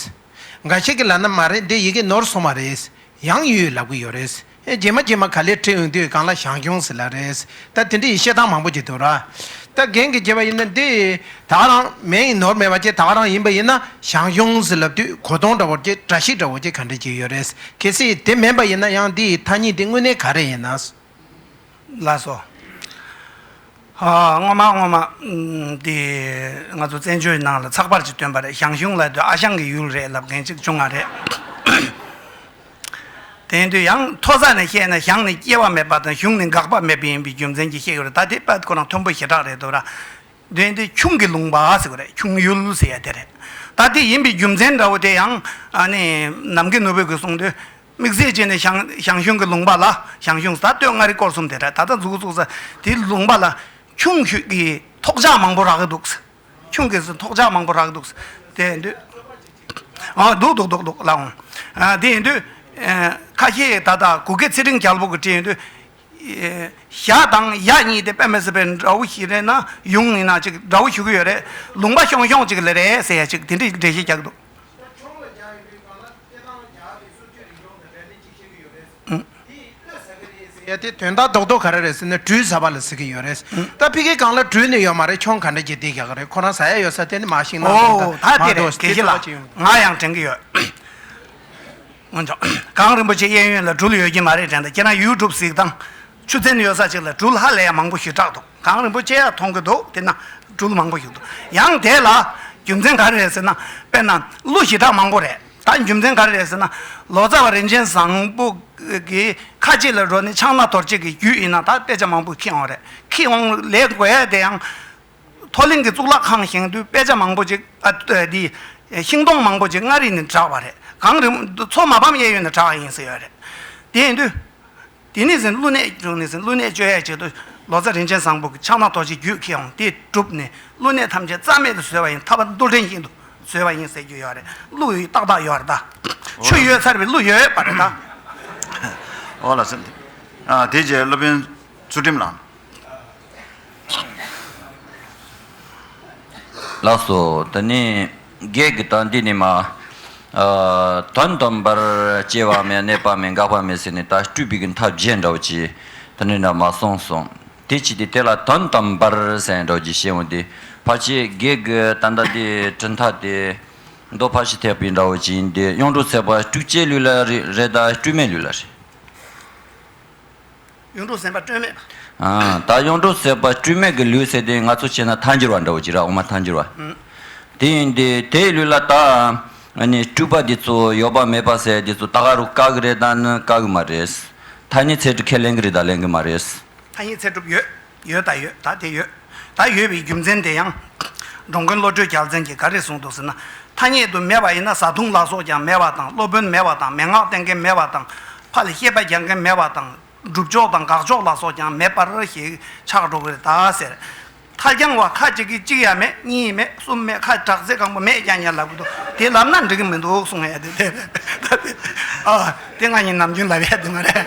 འགའ་ཞིག་གིས་ལ་ན་མ་རེད་འདི་ཡི་གེ་ནོར་སོང་བ་རེད་ཡང་ཡོད་ལབ་གི་ཡོད་རེད། རྗེས་མ་རྗེས་མ་ག་ལེར་བྲིས་འོང་དུས་གང་ལ་ཞང་ཞུང་ཟེར་ལ་རེད། ད་དེ་འདྲ་ཡི་བཤད་སྟངས་མང་པོ་ཅིག་འདུག་ར། ད་རྒན་གྱིས་བྱས་པ་ཡིན་ན་འདི་ད་ག་རང་མེད་ཡིན་ནོར་མེད་པ་ཅི་ད་ག་རང་ཡིན་པ་ཡིན་ན་ཞང་ཞུང་ཟེར་ལབ་དུས་གོ་སྟོང་འདྲ་བོར་ཅི་བཀྲ་ཤིས་འདྲ་བོ་ཅི་ག་འདྲ་ཅིག་ཡོད་རེད། གལ་སྲིད་དེ་མིན་པ་ཡིན་ན་ཡང་འདི་ཡི་ཐ་སྙད་འདི་དངོས་གནས་ག་རེ་ཡིན་ན། ལགས་སོ། སྔོན་མ་སྔོན་མ། དེ་ང་ཚོ་བཙན་བྱོལ་ནང་ལ་ཚགས་པར་ཅིག་བཏོན་པ་རེད་ཞང་ཞུང་ལ་དེ་ཨ་ཞང་གི་ཡུལ་རེད་ལབ་མཁན་ཅིག་བྱུང་བ་རེད། དེ་དུས་ཡང་མཐོ་ས་ནས་བཤད་ན་ཞང་ནི་སྐྱེ་བ་མེད་པ་དང་ཞུང་ནི་འགག་པ་མེད་པ་ཡིན་པའི་རྒྱུ་མཚན་གྱིས་བཤད་ཀྱི་རེད་ད་དེ་དཔལ་ཁོ་རང་མཐོན་པོ་ཞེ་དྲག་རེད་འདུག་ར། དེ་དུས་ཁྱུང་གི་ལུང་པ་ཟེར་བ་རེད་ཁྱུང་ཡུལ་ཟེར་ཡ་དེ་རེད། ད་དེ་ཡིན་པའི་རྒྱུ་མཚན་འདྲ་བོ་དེ་ཡང་ཨ་ནི་ནམ་མཁའི་ནོར་བུས་གིས་གསུངས་དུས། དམིགས་བསལ་བྱས་ནས་ཞང་ཞུང་གི་ལུང་པ་ལ་ཞང་ཞུང་ས་སྟོད་མངའ་རིས་སྐོར་གསུམ་དེ་དག་ད་ལྟ་འཛུགས་འགོ་བཙུགས་ས་དེའི་ལུང་པ་ལ་ཁྱུང་ཁྱུད་ཀྱི་ཐོག་ཆག་མང་པོ་རག་གི་འདུག་ཁྱུང་གི་ཐོག་ཆག་མང་པོ་རག་གི་འདུག་དེ་འདུག་འདུག་འདུག་འདུག་འདུག་ལགས་འོང་དེ་ཡིན་དུས་ཁ་ཤས་ད་ལྟ་གུ་གེ་ཚེ་རིང་རྒྱལ་པོ་གི་བཀྲིན་དུས་ཞག་དང་ཡག་གཉིས་དེ་དཔེ་མི་སྲིད་པའི་འདྲ་བོ་ཞིག་རེད་ན་ཡོང་ངེས་ན་ཅིག་འདྲ་བོ་ཞུ་གི་ཡོད་རེད་ལུང་པ་ཤོང་ཤོང་ཅིག་ལེ་རེད་ཟེར་ཡ་ཅིག་དེ་འདྲའི་འགྲེལ་བཤད་རྒྱག་གི་འདུག། ཡ་དེ་དོན་དག་རྡོག་རྡོག་ག་རེ་རེད་ཟེར་ན་སྦྲུལ་ཟ་བ་ལ་ཟེར་གྱི་ཡོད་རེད། ད་ཕི་གི་སྒང་ལ་སྦྲུལ་ནི་ཡོད་མ་རེད་ཁྱོང་ག་འདྲ་གྱིས་བསྡད་ཀྱི་ག་རེད་ཁོ་རང་ཟ་ཡ་ཡོད་ས་དེ་ནི་མ་ཤིང་ནང་དོང་དང་མ་རྡོ་ཟེར་དེ་ལྟ་བ་ཅི་ཡོང་གི། ང་ཡང་དྲན་གྱི་ཡོད། སྔོན་བྱུང། གངས་རིན་པོ་ཆེ་གཡས་གཡོན་ལ་སྦྲུལ་ཡོད་ཀྱི་མ་རེད་དྲན་ད་ཁྱེད་རང་ཡུལ་གྲུབ་གཟིགས་དང། ཆུ་ཚན་ཡོད་ས་ཅིག་ལ་སྦྲུལ་ཧ་ལས་ཡག་མང་པོ་ཞིག་སྐྲག་འདུག་གངས་རིན་པོ་ཆེ་ཡག་མཐོང་གི་འདུག་དེ་ན་སྦྲུལ་མང་པོ་ཞིག་འདུག་ཡང་དེ་ལ་རྒྱུ་མཚན་ག་རེ་རེད་ཟེར་ན་དཔེར་ན་གླུ་ཞི་དྲག་མང་པོ་རེད་ད་རྒྱུ་མཚན་ག་རེ་རེད་ཟེར་ན་ལོ་ཙཱ་བ་རིན་ཆེན་བཟང་པོ་གི་ཁ་ལྕེ་ལ་རོ་ནི་ཆང་སྣ་དོར་བྱེད་ཀྱི་རྒྱུ་ཡིན་ན་ད་དཔེ་ཆ་མང་པོ་ཁྱི་འོང་རེད་ཁྱི་འོང་ལས་དགོས་ཡ་དེ་ཡང་མཐོ་གླིང་གི་གཙུག་ལག་ཁང་བཞེངས་དུས་དཔེ་ཆ་མང་པོ་ཅིག་ཨ་འདི་ཤིང་སྡོང་མང་པོ་ཅིག་མངའ་རིས་ནས་བསྒྲགས་པ་རེད་གངས་རིན་མཚོ་མ་ཕམ་གཡས་གཡོན་ནས་བསྒྲགས་ཡིན་ཟེར་ཡོད་རེད་དེ་ཡིན་དུས། དེ་ནས་ཟིན་བསླུ་གནས་བྱུང་ནས་ཟིན་བསླུ་གནས་བཅོ་ཡས་བྱེད་དུ་ལོ་ཙཱ་རིན་ཆེན་བཟང་པོ་གི་ཕྱག་ན་རྡོ་རྗེ་རྒྱུད་ཁེ་འོང་དེས་གྲུབ་ནས་བསླུ་གནས་ཐམས་ཅད་རྩ་མེད་དུ་བཟོས་པ་ཡིན་ཐར་པ་མདོ་འགྲེལ་ཞིག་ཏུ་བཟོས་པ་ཡིན་ཟེར་རྒྱུ་ཡོད་རེད་བསླུ་ཡི་ཏག་ཏག་ཡོད་རེད་ད། ཆུ་ཡོད་ཚར་བའི་བསླུ་ཡོད་པ་རེད་ད། འོ་ལ་སེམས་ཨ་དེ་རྗེས་སློབ་དཔོན་ཚུལ་ཁྲིམས་ལགས། ལགས་སོ་ད་ནི། བགེགས་ཀྱི་དོན་འདི་ནི་མ། དོན་སྟོན་པར་སྐྱེ་བ་མེད་གནས་པ་མེད་འགག་པ་མེད་ཟེར་ནས་ད་སྤྲུལ་པའི་མཐའ་བརྒྱད་འདྲ་བོ་ཅི། དོན་འདི་འདྲ་མ་གསུངས་གསུངས། དེ་ཅི་སྟེ་དེ་ལ་དོན་སྟོན་པར་ཟེར་ནས་འགྲོ་ཅི་ཞེས་འོན་ཏེ། ཕར་ཆེ་བགེགས་ཀྱི་དོན་དང་དེའི་གྲུབ་མཐའ་སྟེ། མདོ་ཕར་ཕྱིན་ཐེག་པའི་འདྲ་བོ་ཅི་ཡིན་ཏེ་གཡུང་དྲུང་ཚེ་དཔག་སྤྲུལ་སྐྱེས་ལུས་ལ་རེ་ད་སྤྲུལ་མའི་ལུས་ལ་རེ། གཡུང་དྲུང་སེམས་དཔའ་སྤྲོས་མེད་པ། ད་གཡུང་དྲུང་སེམས་དཔའ་སྤྲོས་མེད་ཀྱི་ལུས་ཟེར་དེ་ང་ཚོ་བྱས་ན་ཐཱན་འགྱུར་བ་འདྲ་བོ་ཅི་ར་འོ་མ་ཐཱན་འགྱུར་བ། དེ་ཡིན་དེ་དེའི་ལུས་ལ་ད་ནི་སྤྲུལ་པ་འདི་ཚོ་ཡོད་པ་མེད་པ་ཟེར་དེ་ཚོ་ད་ག་རུ་བཀག་གི་རེད་ད་ནི་བཀག་གི་མ་རེད། ཐཱན་གཉིས་ཚད་གྲུབ་ཁས་ལེན་གི་རེད་ད་ལེན་གི་མ་རེད། ཐཱན་གཉིས་ཚད་གྲུབ་ཡོད་ཡོད་ད་ཡོད་ད་དེ་ཡོད། ད་ཡོད་པའི་རྒྱུ་མཚན་དེ་ཡང། འགྲོ་མགོན་བློ་གྲོས་རྒྱལ་མཚན་གྱིས་ག་རེ་གསུངས་འདུག་ཟེར་ན། ཐ་སྙད་དུ་མེད་པ་ཡིན་ན་བཟའ་བཏུང་ལག་སོགས་ཀྱང་མེད་པ་དང་སློབ་དཔོན་མེད་པ་དང་མན་ངག་བསྟན་མཁན་མེད་པ་དང། ཕ་ལས་སྐྱེས་པ་རྒྱག་མཁན་མེད་པ་དང། སྒྲུབ་ཕྱོགས་དང་དགག་ཕྱོགས་ལ་སོགས་ཀྱང་མེད་པར་ཞེས་ཆགས་འགྲོ་གི་རེད་ད་ཟེར། མཐའ་རྒྱང་བ་ཁ་ཅིག་གིས་གཅིག་ཡ་མེད་གཉིས་ཡི་མེད་གསུམ་མེད་ཁ་དྲག་ཚེ་གང་པོ་མེད་ཀྱང་ཡང་ལབ་གི་འདུག་དེ་ལབ་ན་འགྲིག་གི་མི་འདུག་གསུངས་ཡས་དེ་རེད། ཨ་དེ་ང་ཡིན་ནམ་རྒྱུན་ལབ་ཡས་དེ་མ་རེད།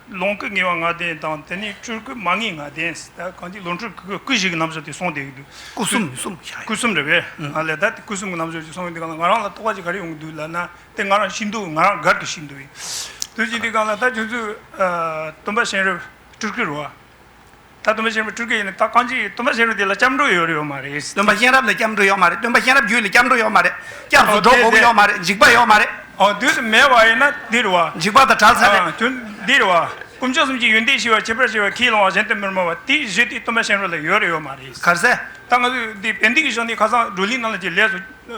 ལོངས་སྐུ་ངེས་པ་ང་བདེན་དང་དེ་ནས་སྤྲུལ་སྐུ་མ་ངེས་ང་བདེན། གང་ཅི་ལོངས་སྤྲུལ་སྐུ་སྐུ་བཞི་གི་རྣམ་གཞག་དེ་སོང་སྟེ། སྐུ་གསུམ་མི་གསུམ་བཞག་ཡོད། སྐུ་གསུམ་རེད་པས། ང་ལས་ད་དེ་སྐུ་གསུམ་གི་རྣམ་གཞག་ཅིག་སོང་ཡོད་དེ་གང་ལ་ང་རང་ལ་རྟོག་པ་ཅིག་ག་རེ་ཡོང་གི་འདུག་ལབ་ན་དེ་ང་རང་ཤི་འདུག་ང་རང་དགར་དུ་ཤི་འདུག་ཡིན། དེ་བཞིན་དུ་གང་ལ་ད་ཁྱོད་ཚོས་སྟོན་པ་གཤེན་རབ་སྤྲུལ་སྐུ་རུ། ད་སྟོན་པ་གཤེན་རབ་སྤྲུལ་སྐད་ཡིན་ནི་ད་གང་ཅི་ཡིན་སྟོན་པ་གཤེན་རབ་དེ་ལ་སྐྱབས་འགྲོ་ཡོད་རེད་ཡོད་མ་རེད། སྟོན་པ་གཤེན་རབ་ལ་སྐྱབས་འགྲོ་ཡོད་མ་རེད་སྟོན་པ་གཤེན་རབ་རྒྱུད་ལ་སྐྱབས་འགྲོ་ཡོད་མ་རེད་སྐྱབས་འགྲོ་འགྲོ་འོང་ཡོད་མ་རེད་འཇིགས་པ་ཡོད་མ་རེད། འོ་དུས་སུ་མེད་བ་ཡིན་ན་འདི་རུ་བ། འཇིགས་པ་དང་བྲལ་ཚར་རེད། དུས་འདི་རུ་བ། དཀོན་མཆོག་གསུམ་གྱི་ཡོན་ཏན་ཞི་བ་ཁྱད་པར་ཅན་བ་ཁྱིའི་ལོང་བ་གཞན་དུ་མི་སྨྲ་བ་དེའི་གཞི་དེ་སྟོན་པ་གཤེན་རབ་ལ་ཡོད་རེད་ཡོད་མ་རེད། གར་སེ། ད་ང་ཚོས་འདི་བན་དེ་གི་ཞོ་འདི་ཁ་སང་བགྲོ་གླིང་ནང་ལ་གྱི་ལས་སུ།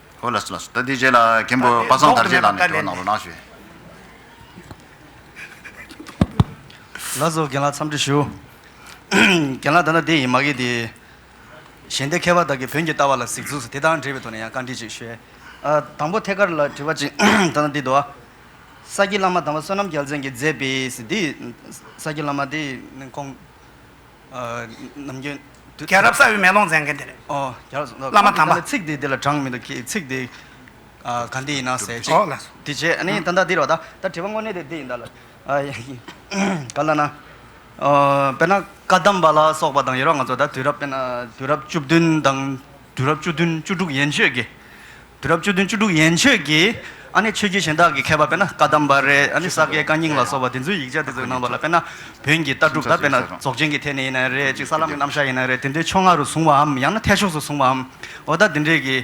ཧོ་ལ་སི་ལ་སོ་ཏཱ་དེའི་རྗེས་ལ་མཁན་པོ་པ་སངས་དར་རྗེས་ལག་ནས་དོན་གནང་རོ་གནང་ཞུས། ལ་སོ་རྒན་ལགས་འཚམས་འདྲི་ཞུ། རྒན་ལགས་ད་ལྟ་དེ་ཡིན་མ་གི་དེ། གཞན་སྡེ་མཁས་པ་དག་གིས་བོན་གྱི་ལྟ་བ་ལ་གཟིགས་ཚུལ་སོགས་དེ་དག་འབྲེལ་བའི་ཐོག་ནས་ཡང་བཀའ་འདྲི་ཅིག་ཞུ། དང་པོ་ཐད་ཀར་ལ་དྲི་བ་གཅིག་ད་ལྟ་འདི་དུ། ས་སྐྱའི་བླ་མ་དམ་པ་བསོད་ནམས་རྒྱལ་མཚན་གྱིས་མཛད་པའི། ས་སྐྱའི་བླ་མ་དེ་ཁོང། ནམ་རྒྱུན། རྒྱལ་རབས་གསར་བའི་མེ་ལོང་མཛད་མཁན་དེ་རེད། ཨོ། རྒྱལ་རབས་གསར་བ། བླ་མ་དམ་པ། ཚིག་དེ་འདི་ལ་དྲངས་མི་འདུག་གི་ཚིག་དེ་ག་འདི་ཡིན་ན་ཟེར་ཅིག། དེ་རྗེས་ཨ་ནི་ད་ལྟ་འདིར་བ་ད་ལྟ་དྲི་བ་དངོས་གནས་དེ་འདི་ཡིན་ད་ལ། ག་ལ་ན། དཔེར་ན་བཀའ་གདམས་པ་ལ་སོགས་པ་དང་ཡོད་རོགས་ང་ཚོ་ད་དུས་རབས་དཔེར་ན་དུས་རབས་བཅུ་བདུན་དང། དུས་རབས་བཅུ་བདུན་བཅུ་དྲུག་ཡན་ཆོད་ཀྱི། དུས་རབས་བཅུ་བདུན་བཅུ་དྲུག་ཡན་ཆོད་ཀྱི། ཨ་ནི་ཆོས་བརྒྱུད་གཞན་དག་གི་མཁས་པ་དཔེར་ན་ཀ་དམ་པ་རེ་ཨ་ནི་ས་སྐྱའི་བཀའ་རྙིང་ལ་སོགས་པ་དེ་ཚོའི་ཡིག་ཆ་དེ་ཚོའི་ནང་པ་ལ་དཔེར་ན། བོན་གྱི་ལྟ་གྲུབ་ད་དཔེར་ན་རྫོགས་ཆེན་གྱི་ཐད་ནས་ཡིན་ནའི་རེད་ཅིག་ས་ལམ་གྱི་རྣམ་གཞག་ཡིན་ནའི་རེད་དེ་འདྲའི་ཕྱོགས་སྔ་རུ་བཟུང་བའམ་ཡང་ན་ཐད་ཕྱོགས་སུ་བཟུང་བའམ། འོ་ད་དེ་འདྲས་ཀྱི།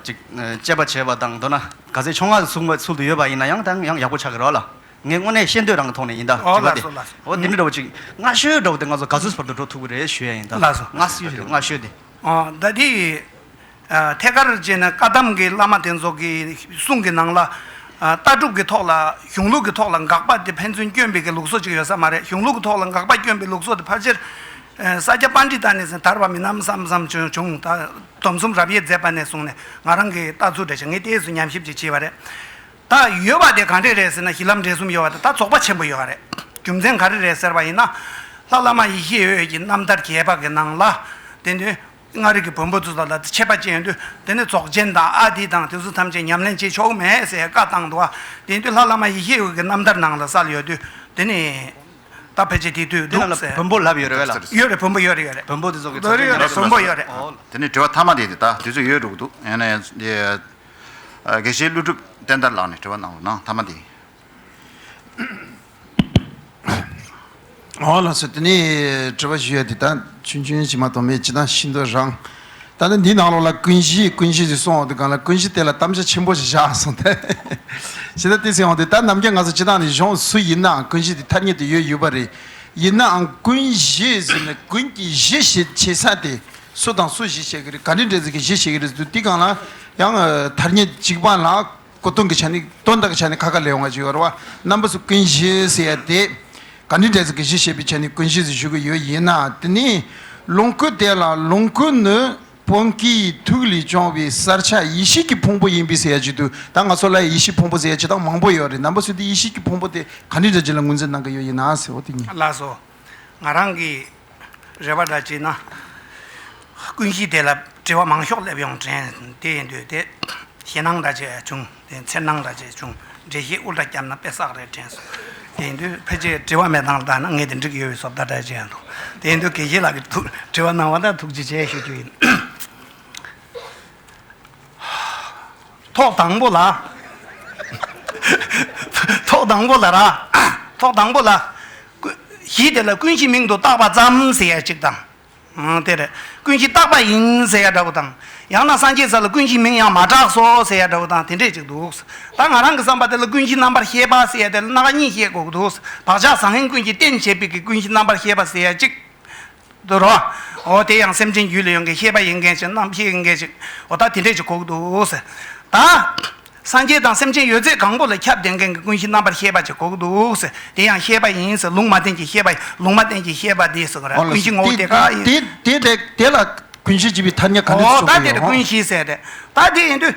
ཅིག། དཔྱད་པ་བྱས་པ་དང་མདོར་ན་ག་ཚད་ཕྱོགས་སྔ་རུ་བཟུང་བའི་ཚུལ་དུ་ཡོད་པ་ཡིན་ན་ཡང་དང་ཡང་ཡག་པོ་ཆགས་ཀྱི་རོགས་ལ། ངས་དངོས་གནས་ཤེས་འདོད་རང་གི་ཐོག་ནས་ཡིན་ད་དྲི་བ་དེ། འོ་དེ་འདྲ་འདྲ་བོ་ཅིག་སྔ་ཤོས་འདྲ་བོ་དེ་ང་ཚོ་ག་ཚོད་བར་དུ་འགྲོ་ཐུབ་ཀྱི་རེད་ཞུ་ཡ་ཡིན་ད། སྔ་ཤོས་དེ། ཟླ་འདིའི་ཐད་ཀར་རྗེས་ནས་བཀའ་གདམས་ཀྱི་བླ་མ་དེ་ཚོ་གི་གསུང་གི་ནང་ལ། ལྟ་གྲུབ་ཀྱི་ཐོག་ལ་གཞུང་ལུགས་ཀྱི་ཐོག་ལ་འགག་པ་དེ་ཕན་ཚུན་སྐྱོན་འབེལ་གྱི་ལུགས་སྲོལ་ཅིག་ཡོད་ས་མ་རེད་གཞུང་ལུགས་ཀྱི་ཐོག་ལ་འགག་པ་སྐྱོན་པའི་ལུགས་སྲོལ་དེ་ཕར་ཆེར་ས་སྐྱ་པ་འདི་དག་ནས་ཟིན་དར་བ་མིན་ནམ་བསམ་བསམ་བྱུང་ད་སྡོམ་གསུམ་རབ་དབྱེ་མཛད་པ་ནས་བཟུང་ནས་ང་རང་གི་ལྟ་ཚུལ་འདྲ་ཞིག་ངས་ལྟས་སུ་ཉམས་ཞིབ་ཅིག་བྱས་པ་རེད། ད་ཡོད་པ་དེ་གང་འདྲས་རེད་ཟེར་ན་གཞི་ལམ་འབྲས་གསུམ་ཡོད་པ་དང་ད་རྫོགས་པ་ཆེན་པོ་ཡོད་རེད། རྒྱུ་མཚན་ག་རེ་རེད་ཟེར་བ་ཡིན་ན། ལྷ་བླ་མ་ཡེ་ཤེས་འོད་ཀྱི་རྣམ་ཐར་རྒྱས་པ་གི་ནང་ལ། དེ་ནི་ལྔ་རིག་གི་བོན་པོ་ཚོ་དང་ལ་དེ་ཆད་པ་ཅན་ཡོད་དུས་དེ་ནི་རྫོགས་ཆེན་དང་ཨ་ཏི་དང་དེ་ཚོ་ཐམས་ཅད་ཉམས་ལེན་བྱེད་ཆོག་མེད་ཟེར་བཀའ་བཏང་འདུག་དེ་དུས་ལྷ་བླ་མ་ཡེ་ཤེས་འོད་ཀྱི་རྣམ་ཐར་ནང་ལ་གསལ་ཡོད་དུས་དེ་ནི། ད་ཕལ་ཆེར་དེ་དུས་འདུག་ཟེར། བོན་པོ་ལབ་ཡོད་རེད་བས་ལ། ཡོད་རེད་བོན་པོ་ཡོད་རེད་ཡོད་རེད། བོན་པོ་དེ་ཚོ་གི་རྫོགས་ཆེན་ཉམས་ལེན་བོན་པོ་ཡོད་རེད། དེ་ནི་དྲི་བ་མཐའ་མ་དེ་དུས་ད་དེ་ཚོ་ཡོད་འགྲོ་གི་འདུག་ཡང་ན། དགེ་བཤེས་ཀླུ་སྒྲུབ་བསྟན་དར་ལགས་ནས་དྲི་བ་གནང་བའི་ནང་མཐའ་མ་འདི། འོ་ལགས་སོ་དེ་ནས་དྲི་བ་ཞུ་ཡ་འདི་དང་ཆུང་ཆུང་ཞིག་མ་གཏོགས་མེད་ཅི་དང་ཤིན་ཏུ་རང། ད་ནི་འདི་ནང་ལོགས་ལ་ཀུན་གཞི་ཀུན་གཞི་ཞིག་གསུང་འོང་དུ་གང་ལ་ཀུན་གཞི་དེ་ལ་གཏམ་བྱ་ཆེན་པོ་ཞིག་བཞག་གསུང་དེ། ཞེ་ད་དེ་ཟེར་འོང་དུ་ད་ནམ་རྒྱ་ང་ཚོ་སྤྱི་དང་ནི་གཞུང་སུ་ཡིན་ནའང་ཀུན་གཞི་དེ་ཐ་སྙད་དུ་ཡོད་ཡོད་པ་རེད། ཡིན་ནའང་ཀུན་གཞི་ཟེར་ནས་ཀུན་གྱི་གཞི་ཞེས་བྱེད་ས་དེ། སུ་དང་སུ་ཞིག་བྱེད་ཀྱི་རེད་ག་ནི་འདྲེ་ཟེར་གྱི་ཞིག་བྱེད་ཀྱི་རེད་ཟེར་དུས་དེ་གང་ལ་ཡང་ཐར་ཉེ་འཇིགས་པ་ལ་གོ་སྟོན་གྱི་ཆ་ནས་སྟོན་ཟླ་གི་ཆ་ནས་ཁ་ཁ་ལས་འོང་བ་ཞིག་ཡོད་རེད་བ་རྣམ་པ་སུ་ཀུན་གཞི་ཟེར་ཡ་དེ་ག་ནི་འདྲེ་ཟེར་གྱི་ཞིག་བྱེད་པའི་ཆ་ནས་ཀུན་གཞི་ཟེར་ཞུ་གི་ཡོད་ཡིན་ན་དེ་ནས་ལོངས་སྐུ་དེ་ལ་ལོངས་སྐུ་ནི་བོན་གྱི་ཐུགས་ལས་བྱུང་བའི་གསར་ཆ་ཡེ་ཤེས་ཀྱི་ཕུང་པོ་ཡིན་པས་ཟེར་ཡ་ཅིག་དུས་ད་ང་ཚོ་ལ་ཡང་ཡེ་ཤེས་ཕུང་པོ་ཟེར་ཡ་ཅིག་དང་མང་པོ་ཡོད་རེད་རྣམ་པ་སུ་དེ་ཡེ་ཤེས་ཀྱི་ཕུང་པོ་དེ་ག་ནི་འདྲེ་ཅིག་ལ་ངོས་འཛིན་གནང་གི་ཡོད་ཡིན་ན་ཟེར་བ་དེ་གཉིས། ལགས་སོ། ང་རང་གིས་རེ་བ་འདྲ་བྱས་ན། ཀུན་གཞིའི་སྡེ་ལ་དྲི་བ་མང་ཤོག་སླེབས་ཡོང་དྲན་དེ་ཡིན་འདོད་དེ། ཞེད་སྣང་འདྲ་བྱས་བྱུང་དེ་འཚེར་སྣང་འདྲ་བྱས་བྱུང་འགྲེལ་བཤད་དབུ་འདྲ་བསྐྱར་ན་དཔེ་བསགས་རེད་དྲན་སོང་དེ་ཡིན་དུས་ཕལ་ཆེར་དྲི་བ་མེད་སྟངས་ལྟ་ན་ངས་དེ་འགྲིག་གི་ཡོད་བའི་སོབ་ལྟ་འདྲ་བྱས་འདུག་དེ་ཡིན་དུས་དགེ་བཤེས་ལགས་ཀྱི་ཐུགས་དྲི་བ་གནང་བ་དང་ཐུགས་རྗེ་ཆེ་ཞུ་རྒྱུ་ཡིན། ཐོག་དང་པོ་ལ། ཐོག་དང་པོ་ལ་ར། ཐོག་དང་པོ་ལ། གཞི་དེ་ལ་ཀུན་གཞི་མིང་དུ་བཏགས་པ་ཙམ་ཟེར་ཡ་གཅིག་དང། དེ་རེད། ཀུན་གཞི་བཏགས་པ་ཡིན་ཟེར་ཡ་འདྲ་བོ་དང། ཡང་ན་སངས་རྒྱས་ས་ལ་ཀུན་གཞི་མིང་ཡང་མ་གྲགས་སོ་ཟེར་ཡ་འདྲ་བོ་དང་དེ་འདྲས་གཅིག་འདུག། ད་ང་རང་གི་བསམ་པ་དེ་ལ་ཀུན་གཞི་རྣམ་པར་ཤེས་པ་ཟེར་ཡ་དེ་ལ་སྣ་ཁ་གཉིས་བཤད་དགོས་ཀྱི་འདུག་བག་ཆགས་བཟང་ངན་ཀུན་གྱི་རྟེན་བྱེད་པའི་ཀུན་གཞི་རྣམ་པར་ཤེས་པ་ཟེར་ཡ་གཅིག། དུ་རོ། འོ་དེ་ཡང་སེམས་ཅན་རྒྱུད་ལ་ཡོད་མཁན་ཤེས་པ་ཡིན་མཁན་ཞིག་རྣམ་ཤེས་ཡིན་མཁན་ཞིག་འོ་ད་དེ་འདྲས་ཀྱི་ཁོག་ཏུ་ཟེར། ད། སངས་རྒྱས་དང་སེམས་ཅན་ཡོད་ཚད་གང་པོ་ལ་ཁྱབ་བདེ་མཁན་གྱི་ཀུན་གཞི་རྣམ་པར་ཤེས་པ་ཅིག་ཁོག་ཏུ་ཟེར། དེ་ཡང་ཤེས་པ་ཡིན་ཟེར་ལུང་མ་བསྟན་གྱི་ཤེས་པ་ལུང་མ་བསྟན་གྱི་ཤེས་པ་དེ་སོགས་རེད་ཀུན་གཞི་ངོ་བོ་དེ་ག་ཡིན། དེ་དེ་དེ་ལ་ཀུན་གཞི་ཅེས་པའི་ཐ་སྙད་ག་འདྲས་སུ་འོ་ད་གསུངས་པ་དེ་ཡིན་རེད་རོ། ཀུན་གཞི་ཟེར་རེད། ད་དེ་ཡིན་དུས།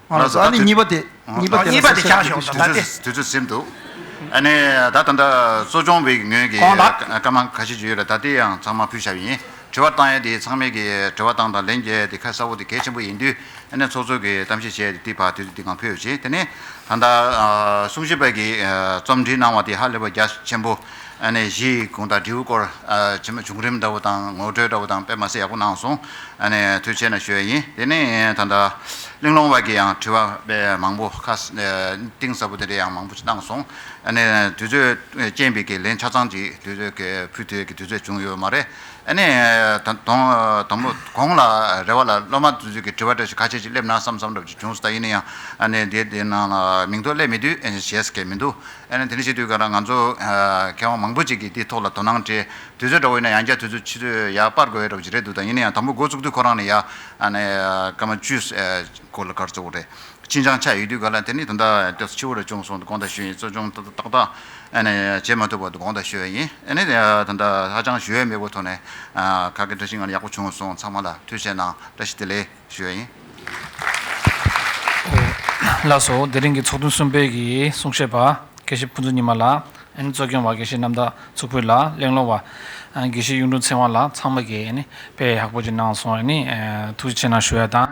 ད་ནི་གཉིས་པ་དེ་གཉིས་པ་དེ་ཆགས་ཞོག་ད་ལྟ་དེ་ཚོའི་སེམས་དུ། ཨ་ནི་ད་ད་ལྟ་གསོ་སྦྱོང་བའི་ངོས་ཀྱི་བཀའ་མང་ཁ་ཤས་བརྗོད་ཡོད་ལ་ད་ལྟའི་ཡང་ཚང་མ་ཕུལ་བྱ་བ་ཡིན། དྲི་བ་བཏང་ཡས་དེ་ཚང་མས་ཀྱི་དྲི་བ་བཏང་དང་ལན་རྒྱས་དེ་ཁ་གསལ་བོ་དེ་གལ་ཆེན་པོ་ཡིན་དུས་ཨ་ནི་ཚོགས་གཙོས་ཀྱི་གཏམ་བཤད་བྱས་ཏེ་དེ་བར་དུས་ཚོད་འདི་གང་ཕོད་ཡོད་ཅེས་དེ་ནི་ད་ལྟ་གསུང་བཤད་པ་ཀྱི་རྩོམ་འབྲི་གནང་བ་དེ་ཧ་ལས་པ་རྒྱ་ཆེན་པོ། གཞི་ཡི་གུང་དང་དྲིལ་བུ་སྐོར། བྱུང་རིམ་འདྲ་བོ་དང་ངོ་སྤྲོད་འདྲ་བོ་དང་དཔེ་མ་ཟད་ཡག་པོ་གནང་སོང། དུས་ཆེ་ན་ཞོད་ཡིན། དེ་ནི་ད་ལྟ། གླིང་སློང་བར་གྱི་ཡང་དྲི་བ་དཔེ་མང་པོ་ཁ། གཏིང་ཟབ་པོ་དེ་འདྲའི་ཡང་མང་པོ་གནང་སོང། དུས་ཚོད་རྐྱེན་པས་ཁས་ལེན་ཆ་ཚང་ཅིག་དུས་ཚོད་ཀྱི་ཕུལ་དུས་ཀྱི་དུས་ཚོད་བྱུང་ཡོད་མ་རེད། དང་པོ། གོང་ལ་རེ་བ་ལ་སློབ་མ་ཚོས་ཀྱི་དྲི་བ་འདྲ་ཞིག་ཁ་ཤས་ཅིག་སླེབས་ན་བསམ་བསམ་འདྲ་བོ་ཅིག་བྱུང་སོང་ད་ཡིན་ན་ཡང། དེ་དེ་ནང་ལ་མིང་ཐོ་སླེབས་མི་དུས་ཞེས་ཀྱི་མི་འདུག། ཨ་ནི་དེ་འདྲ་ཞིག་དུས་སྐབས་རང་ང་ཚོ་མཁས་དབང་མང་པོ་ཅིག་གིས་འདི་ཐོག་ལ་དོ་སྣང་སྤྲད། དུས་ཚོད་འདྲ་བོ་ཡིན་ན་ཡང་བསྐྱར་དུས་ཚོད་ཕྱི་ཚོད་ཡར་སྤར་དགོས་ཡོད་རབས་ཅིག་རེད་འདུག་ད་ཡིན་ན་ཡང་དང་པོ་འགོ་བཙུགས་དུས་ཁོ་རང་ནི་ཡ་ཨ་ནི་སྐར་མ་བཅུ་སྐོར་ལ་གར་བཙུགས་རེད། ཅིན་ཅང་ཆགས་ཡོད་དུས་ག་ལ་དེ་ནི་དོན་དག་སྐྱོ་ས་ཆེ་བོ་རེ་བྱུང་སོང་འདུག་དགོངས་དག་ཞུས་ཡིན་གཙོ་སྐྱོང་ཏག་ཏག་ཨ་ནི་བྱེད་མ་ཐུབ་པ་འདུག་དགོངས་དག་ཞུས་ཡིན་ཨ་ནི་དོན་དག་ཧ་ཅང་ཞུ་ཡ་མེད་པོ་ཐོག་ནས་ཁ་སྐད་འདྲ་ཞིག་ང་ལ་ཡག་པོ་བྱུང་སོང་ཚང་མ་ལ་ཐུགས་ཆེ་གནང་བཀྲ་ཤིས་བདེ་ལེགས། ཞུ་བ་ཡིན། ལགས་སོ། དེ་རིང་གི་ཚོགས་ཐུན་གསུམ་པའི་གི་གསུང་བཤད་པ། དགེ་བཤེས་ཕུན་ཚོགས་ཉི་མ་ལགས། ཨན་གཙོས་སྐྱོང་བ་དགེ་བཤེས་རྣམ་དག་ཚུར་ཕུད་ལགས་གླེང་སློང་བ། དགེ་བཤེས་གཡུང་དྲུང་ཚེ་དབང་ལགས་ཚང་མ་གི་ཨ་ནི་དཔེ་ཡག་པོ་ཅིག་གནང་སོང་ཨ་ནི་ཐུགས་རྗེ་ཆེ་གནང་ཞུ་བ་དང།